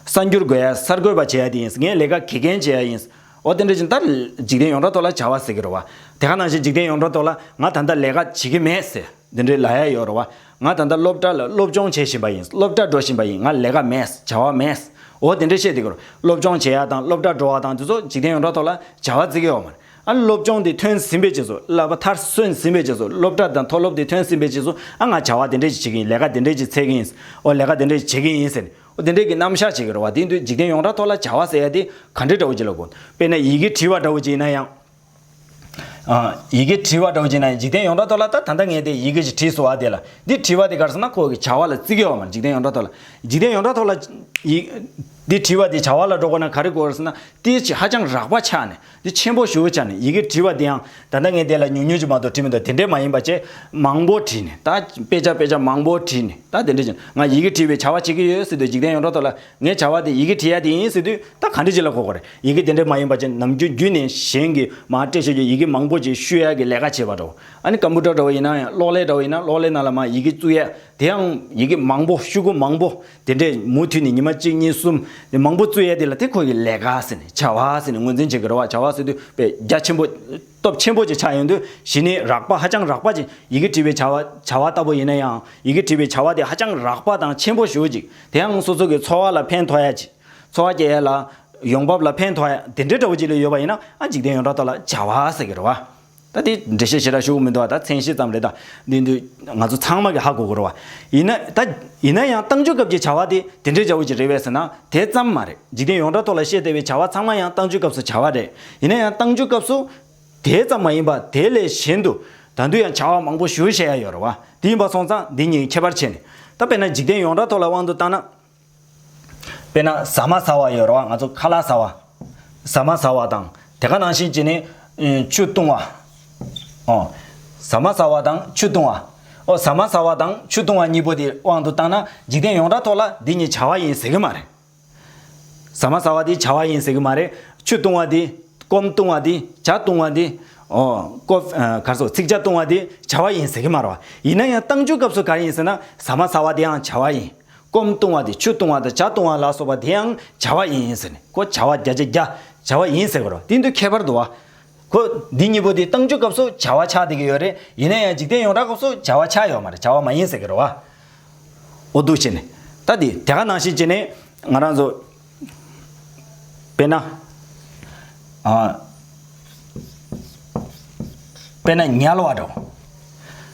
གསར་འགྱུར་འགོད་ཡ་གསར་འགོད་པ་བྱེད་ཡ་དེ་ཡིན། ངའི་ལས་ཀ་དགེ་རྒན་བྱེད་ཡ་ཡིན། ཨོ་རྟེན་འབྲེལ་ཅན་ལྟར་འཇིག་རྟེན་ཡོངས་གྲགས་ཐོག་ལ་བྱ་བ་ཟེར་གྱི་རོ། དེ་ག་ནང་བཞིན་འཇིག་རྟེན་ཡོངས་གྲགས་ཐོག་ལ་ང་ད་ལྟ་ལས་ཀ་བྱེད་ཀྱི་མེད་ཟེར་འདི་འདྲའི་ལ་ཡ་ཡོད་རོ། ང་ད་ལྟ་སློབ་གྲྭ་ལ་སློབ་སྦྱོང་བྱེད་བཞིན་པ་ཡིན་སློབ་གྲྭ་འགྲོ་བཞིན་པ་ཡིན་ང་ལས་ཀ་མེད་བྱ་བ་མེད། ཨོ་དེ་འདྲས་བཤད་འདི་གི་རོ། སློབ་སྦྱོང་བྱེད་ཡ་དང་སློབ་གྲྭ་འགྲོ་བ་དང་དེ་ཚོ་འཇིག་རྟེན་ཡོངས་གྲགས་ཐོག་ལ་བྱ་བ་ཟེར་གྱི་ཡོད་མ་རེད། ཨ་སློབ་སྦྱོང་དེ་ཐོན་ཟིན་པའི་རྗེས་སུ་ལ་བ་ཐར་སོན་ཟིན་པའི་རྗེས་སུ་སློབ་གྲྭ་དང་མཐོ་སློབ་དེ་ཐོན་ཟིན་པའི་རྗེས་སུ་ཨ་ང་བྱ་བ་དེ་འདྲས་ཅིག་བྱེད་ཀྱི་ཡིན་ལས་ཀ་དེ་འདྲས་ཅིག་ཚལ་གྱི་ཡིན། ཨོ་ལས་ཀ་དེ་འདྲས་ཅིག་བྱེད་ཀྱི་ཡིན་ཟེར། དེ་འདྲའི་གི་རྣམ་གཞག་ཅིག་རེད་བ་དེ་འདུག་འཇིག་རྟེན་ཡོངས་གྲགས་ཐོག་ལ་བྱ་བ་ཟེར་ཡ་དེ་ག་འདྲའི་འདྲ་བོ་ཅིག་ལ་དགོས། དཔེར་ན་ཡི་གེ་བྲིས་བ་འདྲ་བོ་ཅིག་ཡིན་ན་ཡང། ཡི་གེ་བྲིས་བ་འདྲ་བོ་ཅིག་ཡིན་ན་ཡང་འཇིག་རྟེན་ཡོངས་གྲགས་ཐོག་ལ་ད་ད་ལྟ་ངས་དེ་ཡི་གེ་ཞིག་བྲིས་སོང་བ་དེ་ལ་འདི་བྲིས་བ་དེ་གར་སོང་ན་ཁོ་གི་བྱ་བ་ལ་བརྩི་གི་ཨོ་མ་འཇིག་རྟེན་ཡོངས་གྲགས་ཐོག་ལ། འཇིག་རྟེན་ཡོངས་གྲགས་ཐོག་ལ། འདི་བྲིས་བ་དེ་བྱ་བ་ལ་འགྲོ་དགོས་ན་ག་རེ་དགོས་ཟེར་ན། དེའི་ཆེད་ཧ་ཅང་རགས་པ་ཆགས་ནས་འདི་ཆེན་པོ་ཞུ་བྱ་ནས་ཡི་གེ་བྲིས་པ་འདིའང་ད་ལྟ་ངས་དེ་ལ་ཉུང་ཉུང་ཅིག་མ་གཏོགས་བྲིས་མི་འདུག་དེ་འདྲའི་མ་ཡིན་པ་ཆེས་མང་པོ་བྲིས་ནས་ད་དཔེ་ཆ་དཔེ་ཆ་མང་པོ་བྲིས་ནས་ད་དེ་འདྲ་བྱས་ནས་ང་ཡི་གེ་བྲིས་པའི་བྱ་བ་བྱེད་ཀྱི་ཡོད་ཟེར་དུས་འཇིག་རྟེན་ཡོངས་གྲགས་ཐོག་ལ་ངའི་བྱ་བ་དེ་ཡི་གེ་བྲིས་ཡ་དེ་ཡིན་ཟེར་དུས་ད་ག་འདྲི་བྱེད་ལ་གོ་གི་རེད་ཡི་གེ་དེ་འདྲའི་མ་ཡིན་པ་ཆེས་ནམ་རྒྱུན་བརྒྱུད་ནས་གཞན་གྱིས་མ་སྤྲད་ཆོག་རྒྱུ་ཡི་གེ་མང་པོ་ཅིག་བཤུས་ཡ་གི་ལས་ཀ་བྱེད་པ་འདྲ་བོ་ཨ་ནི་ཀམ་པུ་ཏར་འདྲ་བོ་ཡིན་ནའང་གློག་ཀླད་འདྲ་བོ་ཡིན་ན་གློག་ཀླད་ནང་ལ་མ་ཡི་གེ་བཙུགས་ཡ་དེའང་ཡི་གེ་མང་པོ་བཤུས་ཁུངས་མང་པོ་དེ་འདྲས་མུ་མཐུད་ནས་ཉི་མ་གཅིག་གཉིས་གསུམ། དེ་མང་པོ་བཙུད་ཡས་དེ་ལ་དེ་ཁོ་ཡི་ལས་ཀ་ཟེར་ནས་བྱ་བ་ཟེར་ནས་ངོས་འཛིན་བྱེད་ཀྱི་རེད་བ་བྱ་བ་ཟེར་དུས་པས་རྒྱ་ཆེན་པོ། སྟོབས་ཆེན་པོ་ཅིག་ཆགས་ཡོང་དུས་གཞི་ནས་རགས་པ་ཧ་ཅང་རགས་པ་ཅིག་ཡི་གེ་བྲིས་པའི་བྱ་བ་བྱ་བ་ལྟ་བུ་ཡིན་ན་ཡང་ཡི་གེ་བྲིས་པའི་བྱ་བ་དེ་ཧ་ཅང་རགས་པ་དང་ཆེན་པོ་ཞུ་ཅིག་དེ་ཡང་སོ་སོ་གི་འཚོ་བ་ལ་ཕན་ཐོགས་ཡས་ཅིག་འཚོ་བ་སྐྱེལ་ཡས་ལ། ཡོང་འབབ་ལ་ཕན་ཐོགས་ཡས་དེ་འདྲས་འདྲ་བོ་ཅིག་ལས་ཡོད་པ་ཡིན་ན་ཨ་འཇིག་རྟེན་ཡོངས་གྲགས་ཐོག་ལ་བྱ་བ་ཟེར་གྱི་རེད་བ། ད་དེ་འགྲེལ་བཤད་བྱེད་ར་ཞུ་གི་མི་འདུག་ཨ་ད་མཚན་ཤེས་ཙམ་རེད་ད། འདི་འདི་ང་ཚོ་ཚང་མ་གི་ཧ་གོ་དགོས་ར་བ། ཡིན་ན་ད་ཡིན་ན་ཡང་ཏང་ཅུས་སྐབས་ཀྱི་བྱ་བ་དེ་དེ་འདྲའི་འཇའ་འོད་ཀྱི་རེད་བས་ཟེར་ན་དེ་ཙམ་མ་རེད་འཇིག་རྟེན་ཡོངས་གྲགས་ཐོག་ལ་བཤད་བདེ་བའི་བྱ་བ་ཚང་མ་ཡང་ཏང་ཅུས་སྐབས་སུ་བྱ་བ་རེད་ཡིན་ན་ཡང་ཏང་ཅུས་སྐབས་སུ། དེ་ཙམ་མ་ཡིན་པ་དེ་ལས་གཞན་དུ་ད་དུས་ཡང་བྱ་བ་མང་པོ་ཞུ་བྱེད་ཡ་ཡོད་ར་བ་དེ་ཡིན་པ་སོང་ཙང་འདི་གཉིས་ཁྱད་པར་ཆེ་ནས་ད་དཔེར་ན་འཇིག་རྟེན་ཡོངས་གྲགས་ཐོག་ལ་དབང་དུ་བཏང་ན། དཔེར་ན་ཟ་མ་ཟ་བ་ཡོད་རེད་བ་ང་ཚོ་ཁ་ལག་ཟ་བ། ཟ་མ་ཟ་བ་དང་དེ་ག་ནང་བཞིན་གྱིས་ནི། ཆུ་བཏུང་བ། ཨོ། ཟ་མ་ཟ་བ་དང་ཆུ་བཏུང་བ། ཨོ་ཟ་མ་ཟ་བ་དང་ཆུ་བཏུང་བ་གཉིས་པོ་དེ་དབང་དུ་བཏང་ན་འཇིག་རྟེན་ཡོངས་གྲགས་ཐོག་ལ་འདི་གཉིས་བྱ་བ་ཡིན་ཟེར་གྱི་མ་རེད། ཟ་མ་ཟ་བ་དེ་བྱ་བ་ཡིན་ཟེར་གྱི་མ་རེད། ཆུ་བཏུང་བ་དེ། སྐོམ་བཏུང་བ་དེ། བྱ་བཏུང་བ་དེ། ཨོ། ཀོ། སོ། ཚིགས་བྱ་བཏུང་བ་དེ་བྱ་བ་ཡིན་ཟེར་གྱི་མ་རེད་བ། ཡིན་ན་ཡང་གཏང་རྒྱུའི་སྐབས་སུ་ག་རེ་ཡིན་ཟེར་ན་ཟ་མ་ཟ་བ་དེའང་བྱ་བ་ཡིན། སྐོམ་བཏུང་བ་དེ་ཆུ་བཏུང་བ་དང་བྱ་བཏུང་བ་ལ་སོགས་པ་དེའང་བྱ་བ་ཡིན་ཟེར་ནས་ཀོ་བྱ་བ་བརྒྱ་ཆ་བརྒྱ་བྱ་བ་ཡིན་ཟེར་གི་རོ་དེ་འདུལ་ཁྱད་པར་དུ་བ། གོ། འདི་གཉིས་པོ་དེ་བཏང་ཆུ་སྐབས་སུ་བྱ་བ་ཆགས་ཏེ་གི་ཡོད་རེད་ཡིན་ན་ཡང་འཇིག་རྟེན་ཡོངས་གྲགས་སྐབས་སུ་བྱ་བ་ཆགས་ཡོད་མ་རེད་བྱ་བ་མ་ཡིན་ཟེར་གི་རོ་བ། འོ་འདུག་བྱས་ནས། ད་དེ་དེ་ག་ནང་བཞིན་བྱས་ནས་ང་རང་ཚོ། དཔེར་ན། དཔེར་ན་ཉལ་བ་འདྲ་བོ།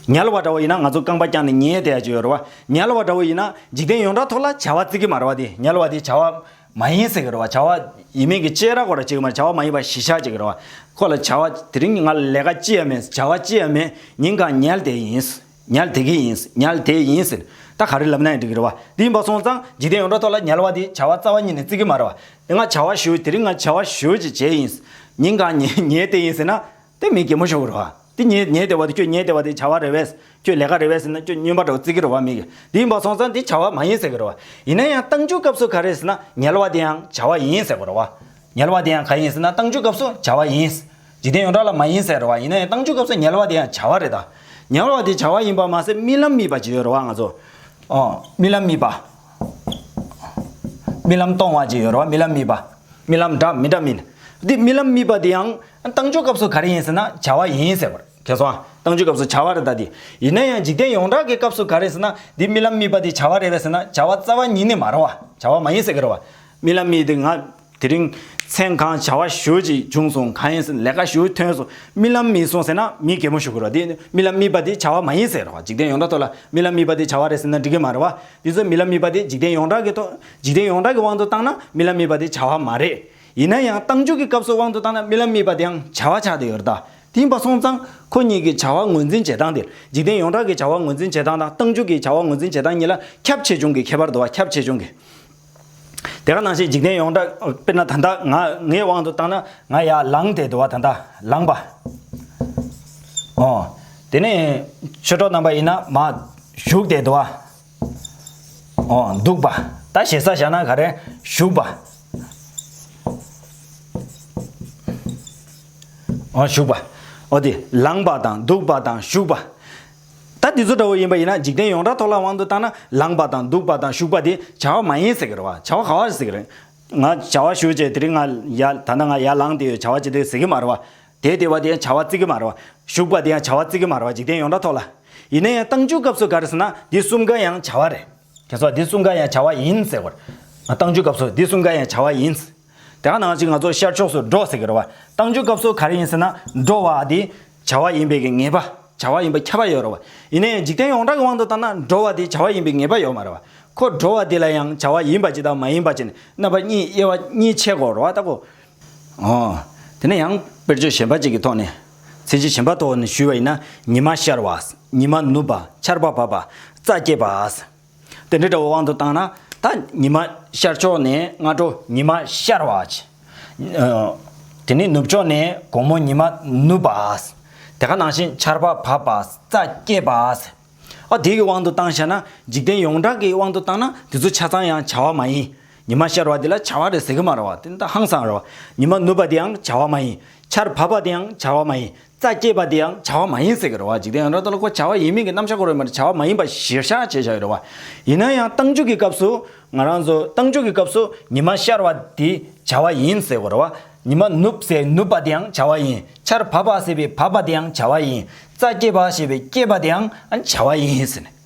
ཉལ་བ་འདྲ་བོ་ཡིན་ན་ང་ཚོ་རྐང་པ་བརྐྱངས་ནས་ཉལ་བསྡད་ཀྱི་ཡོད་རེད་བ། ཉལ་བ་འདྲ་བོ་ཡིན་ན་འཇིག་རྟེན་ཡོངས་གྲགས་ཐོག་ལ་བྱ་བ་བརྩི་གི་མ་རེད་བ་དེ་ཉལ་བ་དེ་བྱ་བ་མ་ཡིན་ཟེར་གྱི་རེད་བ། བྱ་བ་ཡིན་མིན་གྱི་དཔྱད་ར་གོ་ར་བྱེད་ཀྱི་མ་རེད་བྱ་བ་མ་ཡིན་པ་གཞི་བཞག་བྱེད་ཀྱི་རེད་བ། ཁོ་ལ་བྱ་བ་དེ་རིང་ང་ལས་ཀ་ཅི་ཡང་མེད་བྱ་བ་ཅི་ཡང་མེད་ཉིན་གང་ཉལ་བསྡད་ཡིན། ཉལ་དེ་གི་ཡིན། ཉལ་དེ་ཡིན་ཟེར། ད་ག་རེ་ལབ་ན་ཡང་འགྲིག་གི་རེད་བ། དེ་འབའ་སོང་ཙང་འཇིག་རྟེན་ཡོངས་གྲགས་ཐོག་ལ་ཉལ་བ་དེ་བྱ་བ་རྩ་བ་ཉིད་ནས་བརྩི་གི་མ་རེད་བ། དེ་སྔ་བྱ་བ་ཞུས་དེ་རིང་ང་བྱ་བ་ཞུས་ཅིག་བྱས་ཡིན། ཉིན་གང་ཉལ་དེ་ཡིན་ཟེར་ན། དེ་མི་གད་མོ་ཤོར་གི་རེད་བ། དེ་ཉལ་ཉལ་དེ་བ་དེ་ཁྱོད་ཉལ་དེ་བ་དེ་བྱ་བ་རེད་བས། ཁྱོད་ལས་ཀ་རེད་བས་ཟེར་ན་ཁྱོད་སྨྱོན་པ་འདྲ་བོ་བརྩི་གི་རེད་བ་མི་གི། དེ་འབའ་སོང་ཙང་དེ་བྱ་བ་མ་ཡིན་ཟེར་གི་རེད་བ། ཡིན་ན་ཡང་གཏང་རྒྱུའི་སྐབས་སུ་ག་རེད་ཟེར་ན་ཉལ་བ་དེའང་བྱ་བ་ཡིན་ཟེར་གི་རེད་བ། ཉལ་བ་དེའང་ག་ཡིན་ཟེར་ན་གཏང་རྒྱུའི་སྐབས་སུ་བྱ་བ་ཡིན། འཇིག་རྟེན་ཡོངས་གྲགས་ལ་མ་ཡིན་ཟེར་བ་ཡིན་ན་ཡང་བཏང་འཇུག་སྐབས་སུ་ཉལ་བ་དེ་ཡང་བྱ་བ་རེད་ད། ཉལ་བ་དེ་བྱ་བ་ཡིན་པར་མ་ཟད་རྨི་ལམ་རྨིས་པ་ཅིག་ཡོད་རེད་བ་ང་ཚོ། ཨོ། རྨི་ལམ་རྨིས་པ། རྨི་ལམ་སྟོང་བ་ཅིག་ཡོད་རེད་བ་རྨི་ལམ་རྨིས་པ། རྨི་ལམ་འདྲ་མི་འདྲ་རྨིས། དེ་རྨི་ལམ་རྨིས་པ་དེ་ཡང་བཏང་འཇུག་སྐབས་སུ་ག་རེ་ཡིན་ཟེར་ན་བྱ་བ་ཡིན་ཟེར་བ་རེད། ཁྱེད་གསུངས་ཨ། བཏང་འཇུག་སྐབས་སུ་བྱ་བ་རེད་ད་དེ། ཡིན་ན་ཡང་འཇིག་རྟེན་ཡོངས་གྲགས་ཀྱི་སྐབས་སུ་ག་རེ་ཟེར་ན་དེ་རྨི་ལམ་རྨིས་པ་དེ་བྱ་བ་རེད་བས་ཟེར་ན་བྱ་བ་རྩ་བ་ཉིད་ནས་མ་རེད་བ། བྱ་བ་མ་ཡིན་ཟེར་གི་རེད་བ། རྨི་ལམ་རྨིས་དེ་ང། དེ་རིང་མཚན་གང་བྱ་བ་ཞུ་ཅིག་བྱུང་སོང་གང་ཡིན་ཟེར་ལས་ཀ་ཞུ་ཐོན་སོང་རྨི་ལམ་རྨིས་སོང་ཟེར་ན་མི་གད་མོ་ཞུ་དགོས་རོ་དེ་རྨི་ལམ་རྨིས་པ་དེ་བྱ་བ་མ་ཡིན་ཟེར་རོ་འཇིག་རྟེན་ཡོངས་གྲགས་ཐོག་ལ་རྨི་ལམ་རྨིས་པ་དེ་བྱ་བ་རེད་ཟེར་ན་འགྲིག་གི་མ་རེད་བ་དེ་ཚོ་རྨི་ལམ་རྨིས་པ་དེ་འཇིག་རྟེན་ཡོངས་གྲགས་ཀྱི་ཐོག་འཇིག་རྟེན་ཡོངས་གྲགས་ཀྱི་དབང་དུ་བཏང་ན་རྨི་ལམ་རྨིས་པ་དེ་བྱ་བ་མ་རེད་ཡིན་ན་ཡང་གཏམ་རྒྱུད་ཀྱི་སྐབས་སུ་དབང་དུ་བཏང་ན་རྨི་ལམ་རྨིས་པ་དེའང་བྱ་བ་ཆགས་ཏེ་ཡོད་རེད་ད་དེང་པ་སོང་ཙང་ཁོ་གཉིས་ཀྱི་བྱ་བ་ངོས་འཛིན་བྱེད་སྟངས་དེ་འཇིག་རྟེན་ཡོངས་གྲགས་ཀྱི་བྱ་བ་ངོས་འཛིན་བྱེད་སྟངས་དང་གཏམ་རྒྱུད་ཀྱི་བྱ་བ་ངོས་འཛིན་བྱེད་སྟངས་གཉིས་ལ་ཁྱབ་ཆེ་ཆུང་གི་ཁྱད་པར་འདུག་བ་ཁྱབ་ཆེ་ཆུང་གི། དེ་ག་ནང་བཞིན་འཇིག་རྟེན་ཡོངས་གྲགས་དཔེར་ན་ད་ལྟ་ང་ངའི་དབང་དུ་བཏང་ན་ང་ཡར་ལངས་ཏེ་འདུག་བ་ད་ལྟ་ལངས་པ། ཨོ། དེ་ནས་ཆོས་གྲོགས་རྣམ་པ་ཡིན་ན་མ། བཞུགས་ཏེ་འདུག་བ། ཨོ་འདུག་པ། ད་ཞེ་ས་བཞག་ན་ག་རེ། བཞུགས་པ། ཨོ་བཞུགས་པ། ཨོ་དེ་ལངས་པ་དང་འདུག་པ་དང་བཞུགས་པ། ད་འདི་ཚོ་དགྲ་བོ་ཡིན་པ་ཡིན་ན་འཇིག་རྟེན་ཡོངས་གྲགས་ཐོག་ལ་དབང་དུ་བཏང་ན་ལངས་པ་དང་འདུག་པ་དང་བཞུགས་པ་དེ་བྱ་བ་མ་ཡིན་ཟེར་གི་རེད་བ། བྱ་བ་ག་བ་རེད་ཟེར་གི་རེད། ང་བྱ་བ་ཞུ་བྱས་དེ་རིང་ང་ཡ་ད་ལྟ་ང་ཡར་ལངས་དེ་ཡོད་བྱ་བ་བྱེད་དེ་ཡོད་ཟེར་གི་མ་རེད་བ། དེ་དེ་བ་དེ་ཡང་བྱ་བ་བརྩི་གི་མ་རེད་བ། བཞུགས་པ་དེ་ཡང་བྱ་བ་བརྩི་གི་མ་རེད་བ་འཇིག་རྟེན་ཡོངས་གྲགས་ཐོག་ལ། ཡིན་ན་ཡང་བཏང་འཇུག་སྐབས་སུ་ག་རེད་ཟེར་ན་འདི་གསུམ་ཀ་ཡང་བྱ་བ་རེད། དེ་ཚོ་འདི་གསུམ་ཀ་ཡང་བྱ་བ་ཡིན་ཟེར་བར། བཏང་འཇུག་སྐབས་སུ་འདི་གསུམ་ཀ་ཡང་བྱ་བ་ཡིན། དེ་ག་ནང་བཞིན་ང་ཚོ་ཤར་ཕྱོགས་སུ་འགྲོ་ཟེར་གི་རེད་བ། བཏང་རྒྱུའི་སྐབས་སུ་ག་རེ་ཡིན་ཟེར་ན་འགྲོ་བ་དེ་བྱ་བ་ཡིན་པའི་གི་ངེས་པ་བྱ་བ་ཡིན་པ་ཁྱབ་པ་ཡོད་རེད་བ། ཡིན་ནའི་འཇིག་རྟེན་ཡོངས་གྲགས་ཀྱི་དབང་དུ་བཏང་ན་འགྲོ་བ་དེ་བྱ་བ་ཡིན་པའི་ངེས་པ་ཡོད་མ་རེད་བ། ཁོ་འགྲོ་བ་དེ་ལ་ཡང་བྱ་བ་ཡིན་པ་ཅིག་དང་མ་ཡིན་པ་ཅིག་ནི་རྣམ་པ་གཉིས་དབྱེ་བ་གཉིས་ཕྱེད་གོ་རེད་བ་ལྟ་གོ། འོ། དེ་ནས་ཡང་དཔེར་བརྗོད་གཞན་པ་ཅིག་གི་ཐོག་ནས། ཚིག་གཞི་གཞན་པ་ཐོག་ནས་ཞུས་བ་ཡིན་ན་ཉི་མ་ཤར་བ། ཉི་མ་ནུབ་པ། ཆར་པ་བབས་པ། རྩྭ་སྐྱེས་པ། དེ་འདྲའི་དགྲ་བོ་དབང་དུ་བཏང་ན། ད་ཉི་མ་ཤར་ཕྱོགས་ནས་སྔ་དྲོ་ཉི་མ་ཤར་བ། དེ་ནས་ནུབ་ཕྱོགས་ནས་དགོང་མོ་ཉི་མ་ནུབ་པ། དེ་ག་ནང་བཞིན་ཆར་པ་བབས་པ་རྩྭ་སྐྱེས་པ། ཨོ་དེའི་དབང་དུ་བཏང་ཤེ་ན། འཇིག་རྟེན་ཡོངས་གྲགས་ཀྱི་དབང་དུ་བཏང་ན་དེ་ཚོ་ཆ་ཚང་ཡང་བྱ་བ་མ་ཡིན། ཉི་མ་ཤར་བ་དེ་ལ་བྱ་བ་རེད་ཟེར་གྱི་མ་རེད་བ། དེ་ཧང་སང་རེད་བ། ཉི་མ་ནུབ་པ་དེའང་བྱ་བ་མ་ཡིན། ཆར་བབས་པ་དེའང་བྱ་བ་མ་ཡིན། རྩ་སྐྱེས་པ་དེ་ཡང་བྱ་བ་མ་ཡིན་ཟེར་གྱི་རེད་བ་འཇིག་རྟེན་ཡང་ར་ལྟ་ལ་ཁོ་བྱ་བ་ཡིན་མིན་གྱི་རྣམ་གཞག་གོ་རེ་མ་རེ་བྱ་བ་མ་ཡིན་པ་གཞིར་བཞག་བྱེད་བཞག་གི་རེད་བ། ཡིན་ན་ཡང་ཏང་འཇུག་གི་སྐབས་སུ་ང་རང་ཚོས་ཏང་འཇུག་གི་སྐབས་སུ་ཉི་མ་ཤར་བ་དེ་བྱ་བ་ཡིན་ཟེར་གོ་རེ་བ། ཉི་མ་ནུབ་ཟེར་ནུབ་པ་དེ་ཡང་བྱ་བ་ཡིན། ཆར་བབས་པ་ཟེར་བའི་བབས་པ་དེ་ཡང་བྱ་བ་ཡིན། རྩ་སྐྱེས་པ་ཞེས་པའི་སྐྱེས་པ་དེ་ཡང་བྱ་བ་ཡིན་ཟེར་ནས།